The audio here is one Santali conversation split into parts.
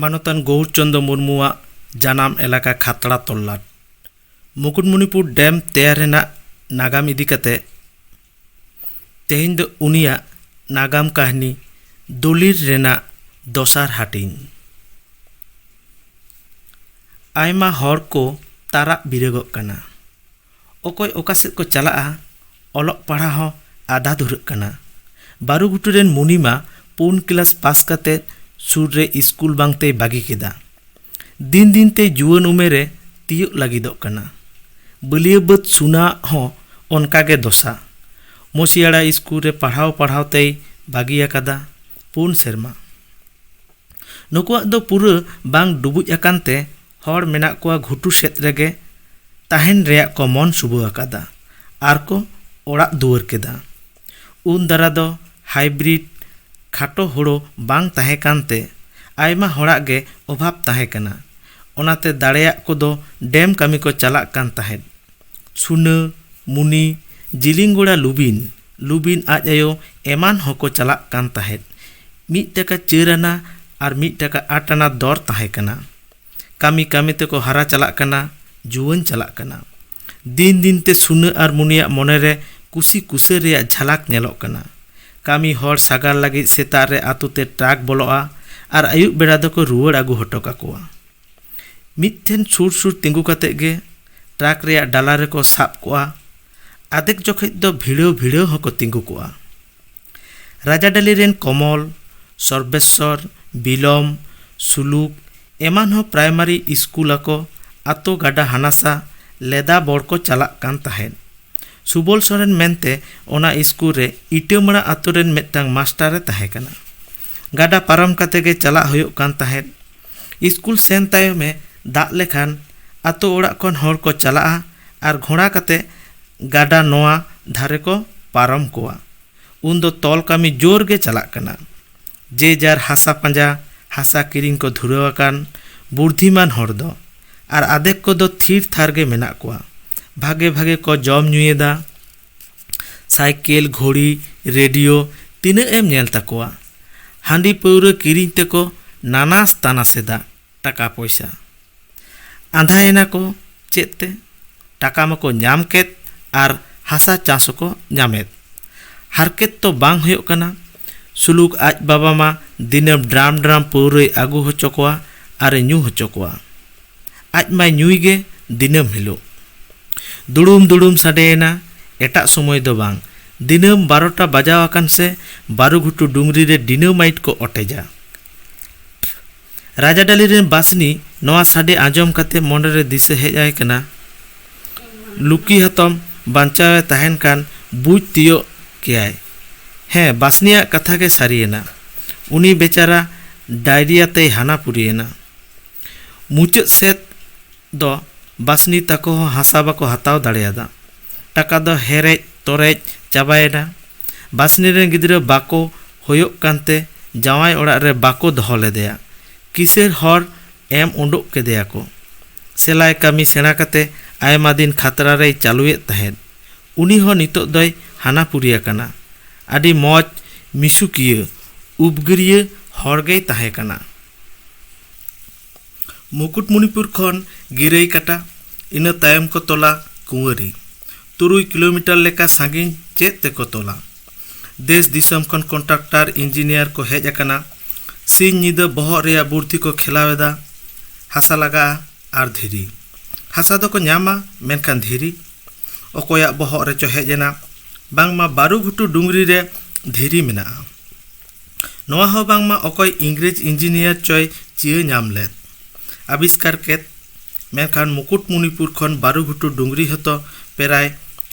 ᱢᱟᱱᱚᱛᱟᱱ ᱜᱳᱣᱩᱨ ᱪᱚᱱᱫᱚ ᱢᱩᱨᱢᱩᱣᱟᱜ ᱡᱟᱱᱟᱢ ᱮᱞᱟᱠᱟ ᱠᱷᱟᱛᱲᱟ ᱛᱚᱞᱞᱟᱴ ᱢᱩᱠᱩᱴᱢᱩᱱᱤᱯᱩᱨ ᱰᱮᱢ ᱛᱮᱭᱟᱨ ᱨᱮᱱᱟᱜ ᱱᱟᱜᱟᱢ ᱤᱫᱤ ᱠᱟᱛᱮ ᱛᱮᱦᱮᱧ ᱫᱚ ᱩᱱᱤᱭᱟᱜ ᱱᱟᱜᱟᱢ ᱠᱟᱹᱦᱱᱤ ᱫᱚᱞᱤᱞ ᱨᱮᱱᱟᱜ ᱫᱚᱥᱟᱨ ᱦᱟᱹᱴᱤᱧ ᱟᱭᱢᱟ ᱦᱚᱲ ᱠᱚ ᱛᱟᱨᱟᱜ ᱵᱤᱨᱟᱹᱜᱚᱜ ᱠᱟᱱᱟ ᱚᱠᱚᱭ ᱚᱠᱟ ᱥᱮᱫ ᱠᱚ ᱪᱟᱞᱟᱜᱼᱟ ᱚᱞᱚᱜ ᱯᱟᱲᱦᱟᱣ ᱦᱚᱸ ᱟᱫᱷᱟ ᱫᱷᱩᱨᱟᱹᱜ ᱠᱟᱱᱟ ᱵᱟᱹᱨᱩ ᱜᱷᱩᱴᱩ ᱨᱮᱱ ᱢᱩᱱᱤ ᱢᱟ ᱯᱩᱱ ᱠᱞᱟᱥ ᱯᱟᱥ ᱠᱟᱛᱮ ᱥᱩᱨ ᱨᱮ ᱤᱥᱠᱩᱞ ᱵᱟᱝ ᱛᱮᱭ ᱵᱟᱹᱜᱤ ᱠᱮᱫᱟ ᱫᱤᱱ ᱫᱤᱱ ᱛᱮ ᱡᱩᱣᱟᱹᱱ ᱩᱢᱮᱨ ᱮ ᱛᱤᱭᱳᱜ ᱞᱟᱹᱜᱤᱫᱚᱜ ᱠᱟᱱᱟ ᱵᱟᱹᱞᱭᱟᱹ ᱵᱟᱹᱫᱽ ᱥᱩᱱᱟ ᱟᱜ ᱦᱚᱸ ᱚᱱᱠᱟ ᱜᱮ ᱫᱚᱥᱟ ᱢᱚᱥᱤᱭᱟᱲᱟ ᱤᱥᱠᱩᱞ ᱨᱮ ᱯᱟᱲᱦᱟᱣ ᱯᱟᱲᱦᱟᱣ ᱛᱮᱭ ᱵᱟᱹᱜᱤ ᱟᱠᱟᱫᱟ ᱯᱩᱱ ᱥᱮᱨᱢᱟ ᱱᱩᱠᱩᱣᱟᱜ ᱫᱚ ᱯᱩᱨᱟᱹ ᱵᱟᱝ ᱰᱩᱵᱩᱡ ᱟᱠᱟᱱ ᱛᱮ ᱦᱚᱲ ᱢᱮᱱᱟᱜ ᱠᱚᱣᱟ ᱜᱷᱩᱴᱩ ᱥᱮᱫ ᱨᱮᱜᱮ ᱛᱟᱦᱮᱱ ᱨᱮᱭᱟᱜ ᱠᱚ ᱢᱚᱱ ᱥᱩᱵᱟᱹ ᱟᱠᱟᱫᱟ ᱟᱨ ᱠᱚ ᱚᱲᱟᱜ ᱫᱩᱣᱟᱹᱨ ᱠᱮᱫᱟ ᱩᱱ ᱫᱟᱨᱟ ᱫᱚ ᱦᱟᱭᱵᱨᱤᱰ ᱠᱷᱟᱴᱚ ᱦᱳᱲᱳ ᱵᱟᱝ ᱛᱟᱦᱮᱸ ᱠᱟᱱᱛᱮ ᱟᱭᱢᱟ ᱦᱚᱲᱟᱜ ᱜᱮ ᱚᱵᱷᱟᱵᱽ ᱛᱟᱦᱮᱸ ᱠᱟᱱᱟ ᱚᱱᱟᱛᱮ ᱫᱟᱲᱮᱭᱟᱜ ᱠᱚᱫᱚ ᱰᱮᱢ ᱠᱟᱹᱢᱤ ᱠᱚ ᱪᱟᱞᱟᱜ ᱠᱟᱱ ᱛᱟᱦᱮᱸᱫ ᱥᱩᱱᱟᱹ ᱢᱩᱱᱤ ᱡᱤᱞᱤᱝᱜᱚᱲᱟ ᱞᱩᱵᱤᱱ ᱞᱩᱵᱤᱱ ᱟᱡ ᱟᱭᱳ ᱮᱢᱟᱱ ᱦᱚᱸᱠᱚ ᱪᱟᱞᱟᱜ ᱠᱟᱱ ᱛᱟᱦᱮᱸᱫ ᱢᱤᱫ ᱴᱟᱠᱟ ᱪᱟᱹᱨ ᱟᱱᱟ ᱟᱨ ᱢᱤᱫ ᱴᱟᱠᱟ ᱟᱴ ᱟᱱᱟ ᱫᱚᱨ ᱛᱟᱦᱮᱸ ᱠᱟᱱᱟ ᱠᱟᱹᱢᱤ ᱠᱟᱹᱢᱤ ᱛᱮᱠᱚ ᱦᱟᱨᱟ ᱪᱟᱞᱟᱜ ᱠᱟᱱᱟ ᱡᱩᱣᱟᱹᱱ ᱪᱟᱞᱟᱜ ᱠᱟᱱᱟ ᱫᱤᱱ ᱫᱤᱱ ᱛᱮ ᱥᱩᱱᱟᱹ ᱟᱨ ᱢᱩᱱᱤᱭᱟᱜ ᱢᱚᱱᱮ ᱨᱮ ᱠᱩᱥᱤ ᱠᱩᱥᱟᱹ ᱨᱮᱭᱟᱜ ᱡᱷᱟᱞᱟᱠ ᱧᱮᱞᱚᱜ ᱠᱟᱱᱟ ᱠᱟᱹᱢᱤ ᱦᱚᱲ ᱥᱟᱜᱟᱲ ᱞᱟᱹᱜᱤᱫ ᱥᱮᱛᱟᱜ ᱨᱮ ᱟᱹᱛᱩ ᱛᱮ ᱴᱨᱟᱠ ᱵᱚᱞᱚᱜᱼᱟ ᱟᱨ ᱟᱹᱭᱩᱵ ᱵᱮᱲᱟ ᱫᱚᱠᱚ ᱨᱩᱣᱟᱹᱲ ᱟᱹᱜᱩ ᱦᱚᱴᱚ ᱠᱟᱠᱚᱣᱟ ᱢᱤᱫ ᱴᱷᱮᱱ ᱥᱩᱨ ᱥᱩᱨ ᱛᱤᱸᱜᱩ ᱠᱟᱛᱮ ᱜᱮ ᱴᱨᱟᱠ ᱨᱮᱭᱟᱜ ᱰᱟᱞᱟ ᱨᱮᱠᱚ ᱥᱟᱵ ᱠᱚᱜᱼᱟ ᱟᱫᱷᱮᱠ ᱡᱚᱠᱷᱮᱡ ᱫᱚ ᱵᱷᱤᱲᱟᱹᱣ ᱵᱷᱤᱲᱟᱹᱣ ᱦᱚᱸᱠᱚ ᱛᱤᱸᱜᱩ ᱠᱚᱜᱼᱟ ᱨᱟᱡᱟᱰᱟᱹᱞᱤ ᱨᱮᱱ ᱠᱚᱢᱚᱞ, ᱥᱚᱨᱵᱮᱥᱥᱚᱨ, ᱵᱤᱞᱚᱢ, ᱥᱩᱞᱩᱠ ᱮᱢᱟᱱ ᱦᱚᱸ ᱯᱨᱟᱭᱢᱟᱨᱤ ᱤᱥᱠᱩᱞ ᱟᱠᱚ ᱟᱛᱳ ᱜᱟᱰᱟ ᱦᱟᱱᱟᱥᱟ ᱞᱮᱫᱟ ᱵᱚᱲ ᱠᱚ ᱪᱟᱞᱟᱜ ᱠᱟᱱ ᱛᱟᱦᱮᱸᱫ᱾ ᱥᱩᱵᱚᱞ ᱥᱚᱨᱮᱱ ᱢᱮᱱᱛᱮ ᱚᱱᱟ ᱤᱥᱠᱩᱞ ᱨᱮ ᱤᱴᱟᱹᱢᱟᱬᱟ ᱟᱛᱳ ᱨᱮᱱ ᱢᱤᱫᱴᱟᱹᱝ ᱢᱟᱥᱴᱟᱨ ᱮ ᱛᱟᱦᱮᱸ ᱠᱟᱱᱟ᱾ ᱜᱟᱰᱟ ᱯᱟᱨᱚᱢ ᱠᱟᱛᱮ ᱜᱮ ᱪᱟᱞᱟᱜ ᱦᱩᱭᱩᱜ ᱠᱟᱱ ᱛᱟᱦᱮᱸᱫ᱾ ᱤᱥᱠᱩᱞ ᱥᱮᱱ ᱛᱟᱭᱚᱢ ᱮ ᱫᱟᱜ ᱞᱮᱠᱷᱟᱱ ᱟᱛᱳ ᱚᱲᱟᱜ ᱠᱷᱚᱱ ᱦᱚᱲ ᱠᱚ ᱪᱟᱞᱟᱜᱼᱟ ᱟᱨ ᱜᱷᱚᱬᱟ ᱠᱟᱛᱮ ᱜᱟᱰᱟ ᱱᱚᱣᱟ ᱫᱷᱟᱨᱮ ᱠᱚ ᱯᱟᱨᱚᱢ ᱠᱚᱣᱟ᱾ ᱩᱱ ᱫᱚ ᱛᱚᱞ ᱠᱟᱹᱢᱤ ᱡᱳᱨ ᱜᱮ ᱪᱟᱞᱟᱜ ᱠᱟᱱᱟ᱾ ᱡᱮ ᱡᱟᱨ ᱦᱟᱥᱟ ᱯᱟᱸᱡᱟ, ᱦᱟᱥᱟ ᱠᱤᱨᱤᱧ ᱠᱚ ᱫᱷᱩᱨᱟᱹᱣ ᱟᱠᱟᱱ ᱵᱩᱨᱫᱷᱤᱢᱟᱱ ᱦᱚᱲ ᱫᱚ᱾ ᱟᱨ ᱟᱫᱷᱮᱠ ᱠᱚ ᱫᱚ ᱛᱷᱤᱨ ᱛᱷᱟᱨ ᱜᱮ ᱢᱮᱱᱟᱜ ᱠᱚᱣᱟ᱾ ᱵᱷᱟᱜᱮ ᱵᱷᱟᱜᱮ ᱠᱚ ᱡᱚᱢ ᱧᱩᱭᱮᱫᱟ᱾ ᱥᱟᱭᱠᱮᱞ, ᱜᱷᱚᱲᱤ, ᱨᱮᱰᱤᱭᱳ ᱛᱤᱱᱟᱹᱜ ᱮᱢ ᱧᱮᱞ ᱛᱟᱠᱚᱣᱟ᱾ ᱦᱟᱺᱰᱤ ᱯᱟᱹᱣᱨᱟᱹ ᱠᱤᱨᱤᱧ ᱛᱮᱠᱚ ᱱᱟᱱᱟᱥ ᱛᱟᱱᱟᱥ ᱮᱫᱟ᱾ ᱴᱟᱠᱟ ᱯᱚᱭᱥᱟ ᱟᱸᱫᱷᱟ ᱮᱱᱟ ᱠᱚ ᱪᱮᱫ ᱛᱮ ᱴᱟᱠᱟ ᱢᱟᱠᱚ ᱧᱟᱢ ᱠᱮᱫ ᱟᱨ ᱦᱟᱥᱟ ᱪᱟᱥ ᱦᱚᱸᱠᱚ ᱧᱟᱢᱮᱫ ᱦᱟᱨᱠᱮᱛ ᱛᱚ ᱵᱟᱝ ᱦᱩᱭᱩᱜ ᱠᱟᱱᱟ ᱥᱩᱞᱩᱠ ᱟᱡ ᱵᱟᱵᱟ ᱢᱟ ᱫᱤᱱᱟᱹᱢ ᱰᱨᱟᱢ ᱰᱨᱟᱢ ᱯᱟᱹᱣᱨᱟᱹᱭ ᱟᱹᱜᱩ ᱦᱚᱪᱚ ᱠᱚᱣᱟ ᱟᱨᱮ ᱧᱩ ᱦᱚᱪᱚ ᱠᱚᱣᱟ ᱟᱡ ᱢᱟᱭ ᱧᱩᱭ ᱜᱮ ᱫᱤᱱᱟᱹᱢ ᱦᱤᱞᱳᱜ ᱫᱩᱲᱩᱢ ᱫᱩᱲᱩᱢ ᱥᱟᱰᱮᱭᱮᱱᱟ ᱮᱴᱟᱜ ᱥᱚᱢᱚᱭ ᱫᱚ ᱵᱟᱝ ᱫᱤᱱᱟᱹᱢ ᱵᱟᱨᱚᱴᱟ ᱵᱟᱡᱟᱣ ᱟᱠᱟᱱ ᱥᱮ ᱵᱟᱹᱨᱩᱜᱷᱩᱴᱩ ᱰᱩᱝᱨᱤ ᱨᱮ ᱰᱤᱱᱟᱹᱢᱟᱭᱤᱴ ᱠᱚ ᱚᱴᱮᱡᱟ ᱨᱟᱡᱟ ᱰᱟᱞᱤ ᱨᱮᱱ ᱵᱟᱥᱱᱤ ᱱᱚᱣᱟ ᱥᱟᱰᱮ ᱟᱸᱡᱚᱢ ᱠᱟᱛᱮ ᱢᱚᱱᱮ ᱨᱮ ᱫᱤᱥᱟᱹ ᱦᱮᱡ ᱟᱭ ᱠᱟᱱᱟ ᱞᱩᱠᱤ ᱦᱟᱛᱚᱢ ᱵᱟᱧᱪᱟᱣ ᱮ ᱛᱟᱦᱮᱱ ᱠᱟᱱ ᱵᱩᱡᱽ ᱛᱤᱭᱚᱜ ᱠᱮᱭᱟᱭ᱾ ᱦᱮᱸ ᱵᱟᱥᱱᱤᱭᱟᱜ ᱠᱟᱛᱷᱟ ᱜᱮ ᱥᱟᱹᱨᱤ ᱮᱱᱟ᱾ ᱩᱱᱤ ᱵᱮᱪᱟᱨᱟ ᱰᱟᱭᱨᱤᱭᱟ ᱛᱮᱭ ᱦᱟᱱᱟ ᱯᱩᱨᱤ ᱮᱱᱟ᱾ ᱢᱩᱪᱟᱹᱫ ᱥᱮᱫ ᱫᱚ ᱵᱟᱥᱱᱤ ᱛᱟᱠᱚ ᱦᱚᱸ ᱦᱟᱥᱟ ᱵᱟᱠᱚ ᱦᱟᱛᱟᱣ ᱫᱟᱲᱮᱭᱟᱫᱟ᱾ ᱴᱟᱠᱟ ᱫᱚ ᱦᱮᱨᱮᱡ ᱛᱚᱨᱮᱡ ᱪᱟᱵᱟᱭᱮᱱᱟ᱾ ᱵᱟᱥᱱᱤ ᱨᱮᱱ ᱜᱤᱫᱽᱨᱟᱹ ᱵᱟᱠᱚ ᱦᱳᱭᱳᱜ ᱠᱟᱱᱛᱮ ᱡᱟᱶᱟᱭ ᱚᱲᱟᱜ ᱨᱮ ᱵᱟᱠᱚ ᱫᱚᱦᱚ ᱞᱮᱫᱮᱭᱟ᱾ ᱠᱤᱥᱟᱹᱬ ᱦᱚᱲ ᱮᱢ ᱳᱰᱳᱠ ᱠᱮᱫᱮᱭᱟ ᱠᱚ᱾ ᱥᱮᱞᱟᱭ ᱠᱟᱹᱢᱤ ᱥᱮᱬᱟ ᱠᱟᱛᱮ ᱟᱭᱢᱟ ᱫᱤᱱ ᱠᱷᱟᱛᱨᱟ ᱨᱮᱭ ᱪᱟᱞᱩᱭᱮᱫ ᱛᱟᱦᱮᱸᱫ᱾ ᱩᱱᱤ ᱦᱚᱸ ᱱᱤᱛᱚᱜ ᱫᱚᱭ ᱦᱟᱱᱟᱯᱩᱨᱤ ᱟᱠᱟᱱᱟ᱾ ᱟᱹᱰᱤ ᱢᱚᱡᱽ ᱢᱤᱥᱩᱠᱤᱭᱟᱹ, ᱩᱵᱽᱜᱟᱹᱨᱤᱭᱟᱹ ᱦᱚᱲ ᱜᱮᱭ ᱛᱟᱦᱮᱸ ᱠᱟᱱᱟ᱾ ᱢᱩᱠᱩᱴᱢᱩᱱᱤᱯᱩᱨ ᱠᱷᱚᱱ ᱜᱤᱨᱟᱹᱭ ᱠᱟᱴᱟ ᱤᱱᱟᱹ ᱛᱟᱭᱚᱢ ᱠᱚ ᱛᱚᱞᱟ ᱠᱩᱶᱟᱹᱨᱤ ᱛᱩᱨᱩᱭ ᱠᱤᱞᱳᱢᱤᱴᱟᱨ ᱞᱮᱠᱟ ᱥᱟᱺᱜᱤᱧ ᱪᱮᱫ ᱛᱮᱠᱚ ᱛᱚᱞᱟ ᱫᱮᱥ ᱫᱤᱥᱚᱢ ᱠᱷᱚᱱ ᱠᱚᱱᱴᱟᱠᱴᱟᱨ ᱤᱧᱡᱤᱱᱤᱭᱟᱨ ᱠᱚ ᱦᱮᱡ ᱟᱠᱟᱱᱟ ᱥᱤᱧ ᱧᱤᱫᱟᱹ ᱵᱚᱦᱚᱜ ᱨᱮᱭᱟᱜ ᱵᱩᱨᱫᱷᱤ ᱠᱚ ᱠᱷᱮᱞᱟᱣ ᱮᱫᱟ ᱦᱟᱥᱟ ᱞᱟᱜᱟᱜᱼᱟ ᱟᱨ ᱫᱷᱤᱨᱤ ᱦᱟᱥᱟ ᱫᱚᱠᱚ ᱧᱟᱢᱟ ᱢᱮᱱᱠᱷᱟᱱ ᱫᱷᱤᱨᱤ ᱚᱠᱚᱭᱟᱜ ᱵᱚᱦᱚᱜ ᱨᱮᱪᱚ ᱦᱮᱡ ᱮᱱᱟ ᱵᱟᱝᱢᱟ ᱵᱟᱹᱨᱩ ᱜᱷᱩᱴᱩ ᱰᱩᱝᱨᱤ ᱨᱮ ᱫᱷᱤᱨᱤ ᱢᱮᱱᱟᱜᱼᱟ ᱱᱚᱶᱟ ᱦᱚᱸ ᱵᱟᱝᱢᱟ ᱚᱠᱚᱭ ᱤᱝᱨᱮᱡᱽ ᱤᱧᱡᱤᱱᱤᱭᱟᱨ ᱪᱚᱭ ᱪᱤᱭᱟᱹ ᱧᱟᱢ ᱞᱮᱫ ᱟᱵᱤᱥᱠᱟᱨ ᱠᱮᱫ ᱢᱮᱱᱠᱷᱟᱱ ᱢᱩᱠᱩᱴᱢᱩᱱᱤᱯᱩᱨ ᱠᱷᱚᱱ ᱵᱟᱨᱩ ᱜᱷᱩᱴᱩ ᱰᱩᱝᱨᱤ ᱦᱚᱸᱛᱚ ᱯᱨᱟᱭ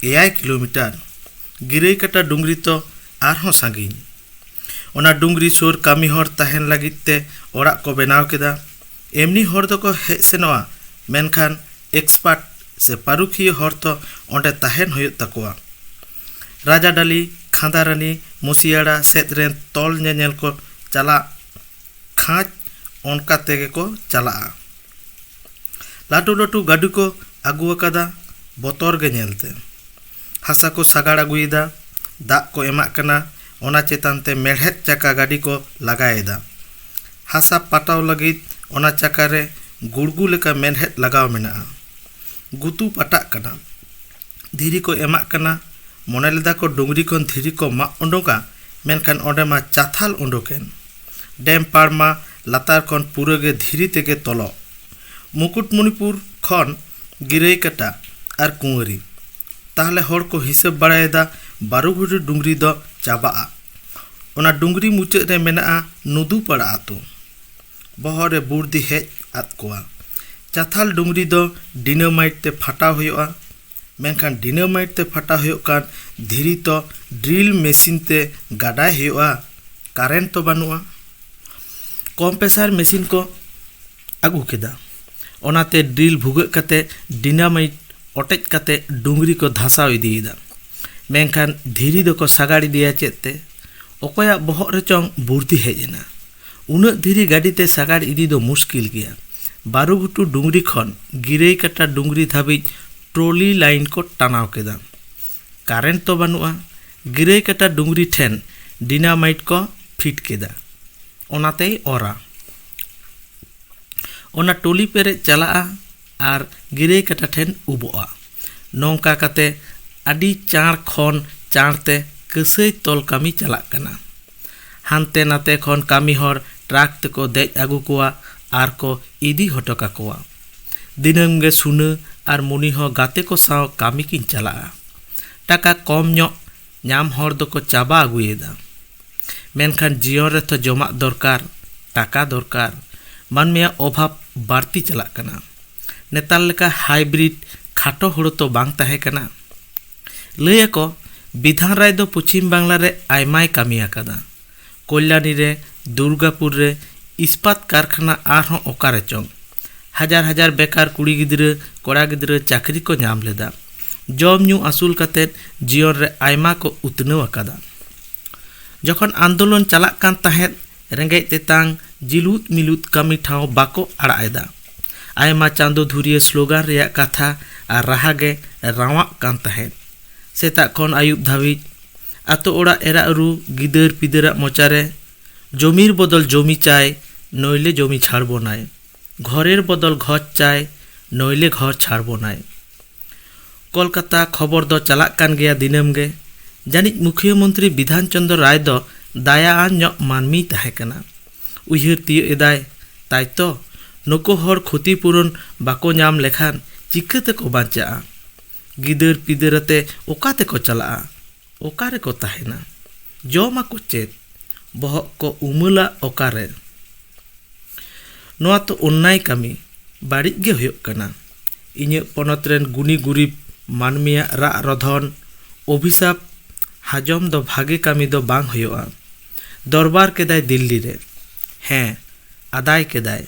ᱮᱭᱟᱭ ᱠᱤᱞᱳᱢᱤᱴᱟᱨ ᱜᱤᱨᱟᱹᱭ ᱠᱟᱴᱟ ᱰᱩᱝᱨᱤ ᱛᱚ ᱟᱨᱦᱚᱸ ᱥᱟᱺᱜᱤᱧ ᱚᱱᱟ ᱰᱩᱝᱨᱤ ᱥᱩᱨ ᱠᱟᱹᱢᱤ ᱦᱚᱲ ᱛᱟᱦᱮᱱ ᱞᱟᱹᱜᱤᱫ ᱛᱮ ᱚᱲᱟᱜ ᱠᱚ ᱵᱮᱱᱟᱣ ᱠᱮᱫᱟ ᱮᱢᱱᱤ ᱦᱚᱲ ᱫᱚᱠᱚ ᱦᱮᱡ ᱥᱮᱱᱚᱜᱼᱟ ᱢᱮᱱᱠᱷᱟᱱ ᱮᱠᱥᱯᱟᱨᱴ ᱥᱮ ᱯᱟᱹᱨᱩᱠᱷᱤᱭᱟᱹ ᱦᱚᱲ ᱛᱚ ᱚᱸᱰᱮ ᱛᱟᱦᱮᱱ ᱦᱩᱭᱩᱜ ᱛᱟᱠᱚᱣᱟ ᱨᱟᱡᱟᱰᱟᱞᱤ ᱠᱷᱟᱸᱫᱟᱨᱟᱱᱤ ᱢᱩᱥᱤᱭᱟᱲᱟ ᱥᱮᱫ ᱨᱮᱱ ᱛᱚᱞ ᱧᱮᱧᱮᱞ ᱠᱚ ᱪᱟᱞᱟᱜ ᱠᱷᱟᱡ ᱚᱱᱠᱟ ᱛᱮᱜᱮ ᱠᱚ ᱪᱟᱞᱟᱜᱼᱟ ᱞᱟᱹᱴᱩ ᱞᱟᱹᱴᱩ ᱜᱟᱹᱰᱤ ᱠᱚ ᱟᱹᱜᱩ ᱟᱠᱟᱫᱟ ᱵᱚᱛᱚᱨ ᱜᱮ ᱧᱮᱞᱛᱮ ᱦᱟᱥᱟ ᱠᱚ ᱥᱟᱜᱟᱲ ᱟᱹᱜᱩᱭᱮᱫᱟ ᱫᱟᱜ ᱠᱚ ᱮᱢᱟᱜ ᱠᱟᱱᱟ ᱚᱱᱟ ᱪᱮᱛᱟᱱ ᱛᱮ ᱢᱮᱬᱦᱮᱫ ᱪᱟᱠᱟ ᱜᱟᱹᱰᱤ ᱠᱚ ᱞᱟᱜᱟᱭᱮᱫᱟ ᱦᱟᱥᱟ ᱯᱟᱴᱟᱣ ᱞᱟᱹᱜᱤᱫ ᱚᱱᱟ ᱪᱟᱠᱟᱨᱮ ᱜᱩᱲᱜᱩ ᱞᱮᱠᱟ ᱢᱮᱬᱦᱮᱫ ᱞᱟᱜᱟᱣ ᱢᱮᱱᱟᱜᱼᱟ ᱜᱩᱛᱩ ᱯᱟᱴᱟᱜ ᱠᱟᱱᱟ ᱫᱷᱤᱨᱤ ᱠᱚ ᱮᱢᱟᱜ ᱠᱟᱱᱟ ᱢᱚᱱᱮ ᱞᱮᱫᱟ ᱠᱚ ᱰᱩᱝᱨᱤ ᱠᱷᱚᱱ ᱫᱷᱤᱨᱤ ᱠᱚ ᱢᱟᱜ ᱩᱰᱩᱠᱟ ᱢᱮᱱᱠᱷᱟᱱ ᱚᱸᱰᱮ ᱢᱟ ᱪᱟᱛᱷᱟᱞ ᱩᱰᱩᱠ ᱮᱱ ᱰᱮᱢ ᱯᱟᱲ ᱢᱟ ᱞᱟᱛᱟᱨ ᱠᱷᱚᱱ ᱯᱩᱨᱟᱹ ᱜᱮ ᱫᱷᱤᱨᱤ ᱛᱮᱜᱮ ᱛᱚᱞᱚᱜ ᱢᱩᱠᱩᱴᱢᱚᱱᱤᱯᱩᱨ ᱠᱷᱚᱱ ᱜᱤᱨᱟᱹᱭ ᱠᱟᱴᱟ ᱟᱨ ᱠᱩᱶᱟᱹᱨᱤ ᱛᱟᱦᱚᱞᱮ ᱦᱚᱲ ᱠᱚ ᱦᱤᱥᱟᱹᱵ ᱵᱟᱲᱟᱭᱮᱫᱟ ᱵᱟᱨᱩ ᱜᱷᱩᱴᱩ ᱰᱩᱝᱨᱤ ᱫᱚ ᱪᱟᱵᱟᱜᱼᱟ ᱚᱱᱟ ᱰᱩᱝᱨᱤ ᱢᱩᱪᱟᱹᱫ ᱨᱮ ᱢᱮᱱᱟᱜᱼᱟ ᱱᱩᱫᱩᱯᱟᱲᱟ ᱟᱹᱛᱩ ᱵᱚᱦᱚᱜ ᱨᱮ ᱵᱩᱨᱫᱤ ᱦᱮᱡ ᱟᱫ ᱠᱚᱣᱟ ᱪᱟᱛᱷᱟᱞ ᱰᱩᱝᱨᱤ ᱫᱚ ᱰᱤᱱᱟᱢᱟᱭᱤᱴ ᱛᱮ ᱯᱷᱟᱴᱟᱣ ᱦᱩᱭᱩᱜᱼᱟ ᱢᱮᱱᱠᱷᱟᱱ ᱰᱤᱱᱟᱢᱟᱭᱤᱴ ᱛᱮ ᱯᱷᱟᱴᱟᱣ ᱦᱩᱭᱩᱜ ᱠᱟᱱ ᱫᱷᱤᱨᱤ ᱛᱚ ᱰᱨᱤᱞ ᱢᱮᱥᱤᱱ ᱛᱮ ᱜᱟᱰᱟᱭ ᱦᱩᱭᱩᱜᱼᱟ ᱠᱟᱨᱮᱱᱴ ᱛᱚ ᱵᱟᱹᱱᱩᱜᱼᱟ ᱠᱚᱢᱯᱮᱥᱟᱨ ᱢᱮᱥᱤᱱ ᱠᱚ ᱟᱹᱜᱩ ᱠᱮᱫᱟ ᱚᱱᱟᱛᱮ ᱰᱨᱤᱞ ᱵᱷᱩᱜᱟᱹᱜ ᱠᱟᱛᱮ ᱰᱤᱱᱟᱢᱟᱭᱤᱴ ᱚᱴᱮᱡ ᱠᱟᱛᱮ ᱰᱩᱝᱨᱤ ᱠᱚ ᱫᱷᱟᱥᱟᱣ ᱤᱫᱤᱭᱮᱫᱟ ᱢᱮᱱᱠᱷᱟᱱ ᱫᱷᱤᱨᱤ ᱫᱚᱠᱚ ᱥᱟᱜᱟᱲ ᱤᱫᱤᱭᱟ ᱪᱮᱫ ᱛᱮ ᱚᱠᱚᱭᱟᱜ ᱵᱚᱦᱚᱜ ᱨᱮᱪᱚᱝ ᱵᱩᱨᱫᱷᱤ ᱦᱮᱡ ᱮᱱᱟ ᱩᱱᱟᱹᱜ ᱫᱷᱤᱨᱤ ᱜᱟᱹᱰᱤ ᱛᱮ ᱥᱟᱜᱟᱲ ᱤᱫᱤ ᱫᱚ ᱢᱩᱥᱠᱤᱞ ᱜᱮᱭᱟ᱾ ᱵᱟᱨᱩᱜᱷᱩᱴᱩ ᱰᱩᱝᱨᱤ ᱠᱷᱚᱱ ᱜᱤᱨᱟᱹᱭ ᱠᱟᱴᱟ ᱰᱩᱝᱨᱤ ᱫᱷᱟᱹᱵᱤᱡ ᱴᱨᱚᱞᱤ ᱞᱟᱭᱤᱱ ᱠᱚ ᱴᱟᱱᱟᱣ ᱠᱮᱫᱟ᱾ ᱠᱟᱨᱮᱱᱴ ᱛᱚ ᱵᱟᱹᱱᱩᱜᱼᱟ᱾ ᱜᱤᱨᱟᱹᱭ ᱠᱟᱴᱟ ᱰᱩᱝᱨᱤ ᱴᱷᱮᱱ ᱰᱤᱱᱟᱢᱟᱭᱤᱴ ᱠᱚ ᱯᱷᱤᱴ ᱠᱮᱫᱟ᱾ ᱚᱱᱟ ᱛᱮᱭ ᱚᱨᱟ᱾ ᱚᱱᱟ ᱴᱚᱞᱤ ᱯᱮᱨᱮᱡ ᱪᱟᱞᱟᱜᱼᱟ ᱟᱨ ᱜᱤᱨᱟᱹᱭ ᱠᱟᱴᱟ ᱴᱷᱮᱱ ᱩᱵᱚᱜᱼᱟ᱾ ᱱᱚᱝᱠᱟ ᱠᱟᱛᱮ ᱟᱹᱰᱤ ᱪᱟᱬ ᱠᱷᱚᱱ ᱪᱟᱬ ᱛᱮ ᱠᱟᱹᱥᱟᱹᱭ ᱛᱚᱞ ᱠᱟᱹᱢᱤ ᱪᱟᱞᱟᱜ ᱠᱟᱱᱟ᱾ ᱦᱟᱱᱛᱮ ᱱᱟᱛᱮ ᱠᱷᱚᱱ ᱠᱟᱹᱢᱤ ᱦᱚᱲ ᱴᱨᱟᱠ ᱛᱮᱠᱚ ᱫᱮᱡ ᱟᱹᱜᱩ ᱠᱚᱣᱟ ᱟᱨ ᱠᱚ ᱤᱫᱤ ᱦᱚᱴᱚ ᱠᱟᱠᱚᱣᱟ᱾ ᱫᱤᱱᱟᱹᱢ ᱜᱮ ᱥᱩᱱᱟᱹ ᱟᱨ ᱢᱩᱱᱤ ᱦᱚᱸ ᱜᱟᱛᱮ ᱠᱚ ᱥᱟᱶ ᱠᱟᱹᱢᱤ ᱠᱤᱱ ᱪᱟᱞᱟᱜᱼᱟ᱾ ᱴᱟᱠᱟ ᱠᱚᱢ ᱧᱚᱜ ᱧᱟᱢ ᱦᱚᱲ ᱫᱚᱠᱚ ᱪᱟᱵᱟ ᱟᱹᱜᱩᱭᱮᱫᱟ᱾ ᱢᱮᱱᱠᱷᱟᱱ ᱡᱤᱭᱚᱱ ᱨᱮ ᱛᱷᱚ ᱡᱚᱢᱟᱜ ᱫᱚᱨᱠᱟᱨ, ᱴᱟᱠᱟ ᱫᱚᱨᱠᱟᱨ᱾ ᱢᱟᱹᱱᱢᱤᱭᱟᱜ ᱚᱵᱷᱟᱵᱽ ᱵᱟᱹᱲᱛᱤ ᱪᱟᱞᱟᱜ ᱠᱟᱱᱟ᱾ ᱱᱮᱛᱟᱨ ᱞᱮᱠᱟ ᱦᱟᱭᱵᱨᱤᱰ ᱠᱷᱟᱴᱚ ᱦᱳᱲᱳ ᱛᱚ ᱵᱟᱝ ᱛᱟᱦᱮᱸ ᱠᱟᱱᱟ᱾ ᱞᱟᱹᱭ ᱟᱠᱚ ᱵᱤᱫᱷᱟᱱ ᱨᱟᱭ ᱫᱚ ᱯᱚᱪᱷᱤᱢ ᱵᱟᱝᱞᱟ ᱨᱮ ᱟᱭᱢᱟᱭ ᱠᱟᱹᱢᱤ ᱟᱠᱟᱫᱟ᱾ ᱠᱚᱞᱭᱟᱱᱤ ᱨᱮ, ᱫᱩᱨᱜᱟᱯᱩᱨ ᱨᱮ ᱤᱥᱯᱟᱛ ᱠᱟᱨᱠᱷᱟᱱᱟ ᱟᱨᱦᱚᱸ ᱚᱠᱟ ᱨᱮᱪᱚᱝ᱾ ᱦᱟᱡᱟᱨ ᱦᱟᱡᱟᱨ ᱵᱮᱠᱟᱨ ᱠᱩᱲᱤ ᱜᱤᱫᱽᱨᱟᱹ, ᱠᱚᱲᱟ ᱜᱤᱫᱽᱨᱟᱹ ᱪᱟᱹᱠᱨᱤ ᱠᱚ ᱧᱟᱢ ᱞᱮᱫᱟ᱾ ᱡᱚᱢ ᱧᱩ ᱟᱹᱥᱩᱞ ᱠᱟᱛᱮ ᱡᱤᱭᱚᱱ ᱨᱮ ᱟᱭᱢᱟ ᱠᱚ ᱩᱛᱱᱟᱹᱣ ᱟᱠᱟᱫᱟ᱾ ᱡᱚᱠᱷᱚᱱ ᱟᱱᱫᱳᱞᱚᱱ ᱪᱟᱞᱟᱜ ᱠᱟᱱ ᱛᱟᱦᱮᱸᱫ, ᱨᱮᱸᱜᱮᱡ ᱛᱮᱛᱟᱝ, ᱡᱤᱞᱩᱫ ᱢᱤᱞᱩᱫ ᱠᱟᱹᱢᱤ ᱴᱷᱟᱶ ᱵᱟᱠᱚ ᱟᱲᱟᱜ ᱮᱫᱟ᱾ ᱟᱭᱢᱟ ᱪᱟᱸᱫᱚ ᱫᱷᱩᱨᱤᱭᱟᱹ ᱥᱞᱳᱜᱟᱱ ᱨᱮᱭᱟᱜ ᱠᱟᱛᱷᱟ ᱟᱨ ᱨᱟᱦᱟ ᱜᱮ ᱨᱟᱶᱟᱜ ᱠᱟᱱ ᱛᱟᱦᱮᱸᱫ᱾ ᱥᱮᱛᱟᱜ ᱠᱷᱚᱱ ᱟᱹᱭᱩᱵ ᱫᱷᱟᱹᱵᱤᱡ᱾ ᱟᱛᱳ ᱚᱲᱟᱜ ᱮᱨᱟ ᱩᱨᱩ ᱜᱤᱫᱟᱹᱨ ᱯᱤᱫᱟᱹᱨᱟᱜ ᱢᱚᱪᱟᱨᱮ ᱡᱚᱢᱤᱨ ᱵᱚᱫᱚᱞ ᱡᱚᱢᱤ ᱪᱟᱭ ᱱᱚᱭᱞᱮ ᱡᱚᱢᱤ ᱪᱷᱟᱲ ᱵᱚᱱᱟᱭ ᱜᱷᱚᱨᱮᱨ ᱵᱚᱫᱚᱞ ᱜᱷᱚᱨ ᱪᱟᱭ ᱱᱚᱭᱞᱮ ᱜᱷᱚᱨ ᱪᱷᱟᱲ ᱵᱚᱱᱟᱭ ᱠᱚᱞᱠᱟᱛᱟ ᱠᱷᱚᱵᱚᱨ ᱫᱚ ᱪᱟᱞᱟᱜ ᱠᱟᱱ ᱜᱮᱭᱟ ᱫᱤᱱᱟᱹᱢ ᱜᱮ ᱡᱟᱹᱱᱤᱡ ᱢᱩᱠᱷᱤᱭᱟᱹ ᱢᱚᱱᱛᱨᱤ ᱵᱤᱫᱷᱟᱱ ᱪᱚᱱᱫᱨᱚ ᱨᱟᱭ ᱫᱚ ᱫᱟᱭᱟ ᱟᱱ ᱧᱚᱜ ᱢᱟᱹᱱᱢᱤᱭ ᱛᱟᱦᱮᱸ ᱠᱟᱱᱟ ᱩᱭᱦᱟᱹᱨ ᱛᱤᱭᱟᱹᱜ ᱮᱫᱟᱭ ᱛᱟᱭ ᱛᱚ ᱱᱩᱠᱩ ᱦᱚᱲ ᱠᱷᱚᱛᱤ ᱯᱩᱨᱚᱱ ᱵᱟᱠᱚ ᱧᱟᱢ ᱞᱮᱠᱷᱟᱱ ᱪᱤᱠᱟᱹ ᱛᱮᱠᱚ ᱵᱟᱧᱪᱟᱜᱼᱟ ᱜᱤᱫᱟᱹᱨ ᱯᱤᱫᱟᱹᱨ ᱟᱛᱮ ᱚᱠᱟ ᱛᱮᱠᱚ ᱪᱟᱞᱟᱜᱼᱟ ᱚᱠᱟ ᱨᱮᱠᱚ ᱛᱟᱦᱮᱱᱟ ᱡᱚᱢ ᱟᱠᱚ ᱪᱮᱫ ᱵᱚᱦᱚᱜ ᱠᱚ ᱩᱢᱟᱹᱞᱟ ᱚᱠᱟ ᱨᱮ ᱱᱚᱣᱟ ᱛᱚ ᱚᱱᱱᱟᱭ ᱠᱟᱹᱢᱤ ᱵᱟᱹᱲᱤᱡ ᱜᱮ ᱦᱩᱭᱩᱜ ᱠᱟᱱᱟ ᱤᱧᱟᱹᱜ ᱯᱚᱱᱚᱛ ᱨᱮᱱ ᱜᱩᱱᱤ ᱜᱩᱨᱤᱵᱽ ᱢᱟᱹᱱᱢᱤᱭᱟᱜ ᱨᱟᱜ ᱨᱚᱫᱷᱚᱱ ᱚᱵᱷᱤᱥᱟᱯ ᱦᱟᱡᱚᱢ ᱫᱚ ᱵᱷᱟᱜᱮ ᱠᱟᱹᱢᱤ ᱫᱚ ᱵᱟᱝ ᱦᱩᱭᱩᱜᱼᱟ ᱫᱚᱨᱵᱟᱨ ᱠᱮᱫᱟᱭ ᱫᱤᱞᱞᱤ ᱨᱮ ᱦᱮᱸ ᱟᱫᱟᱭ ᱠᱮᱫᱟᱭ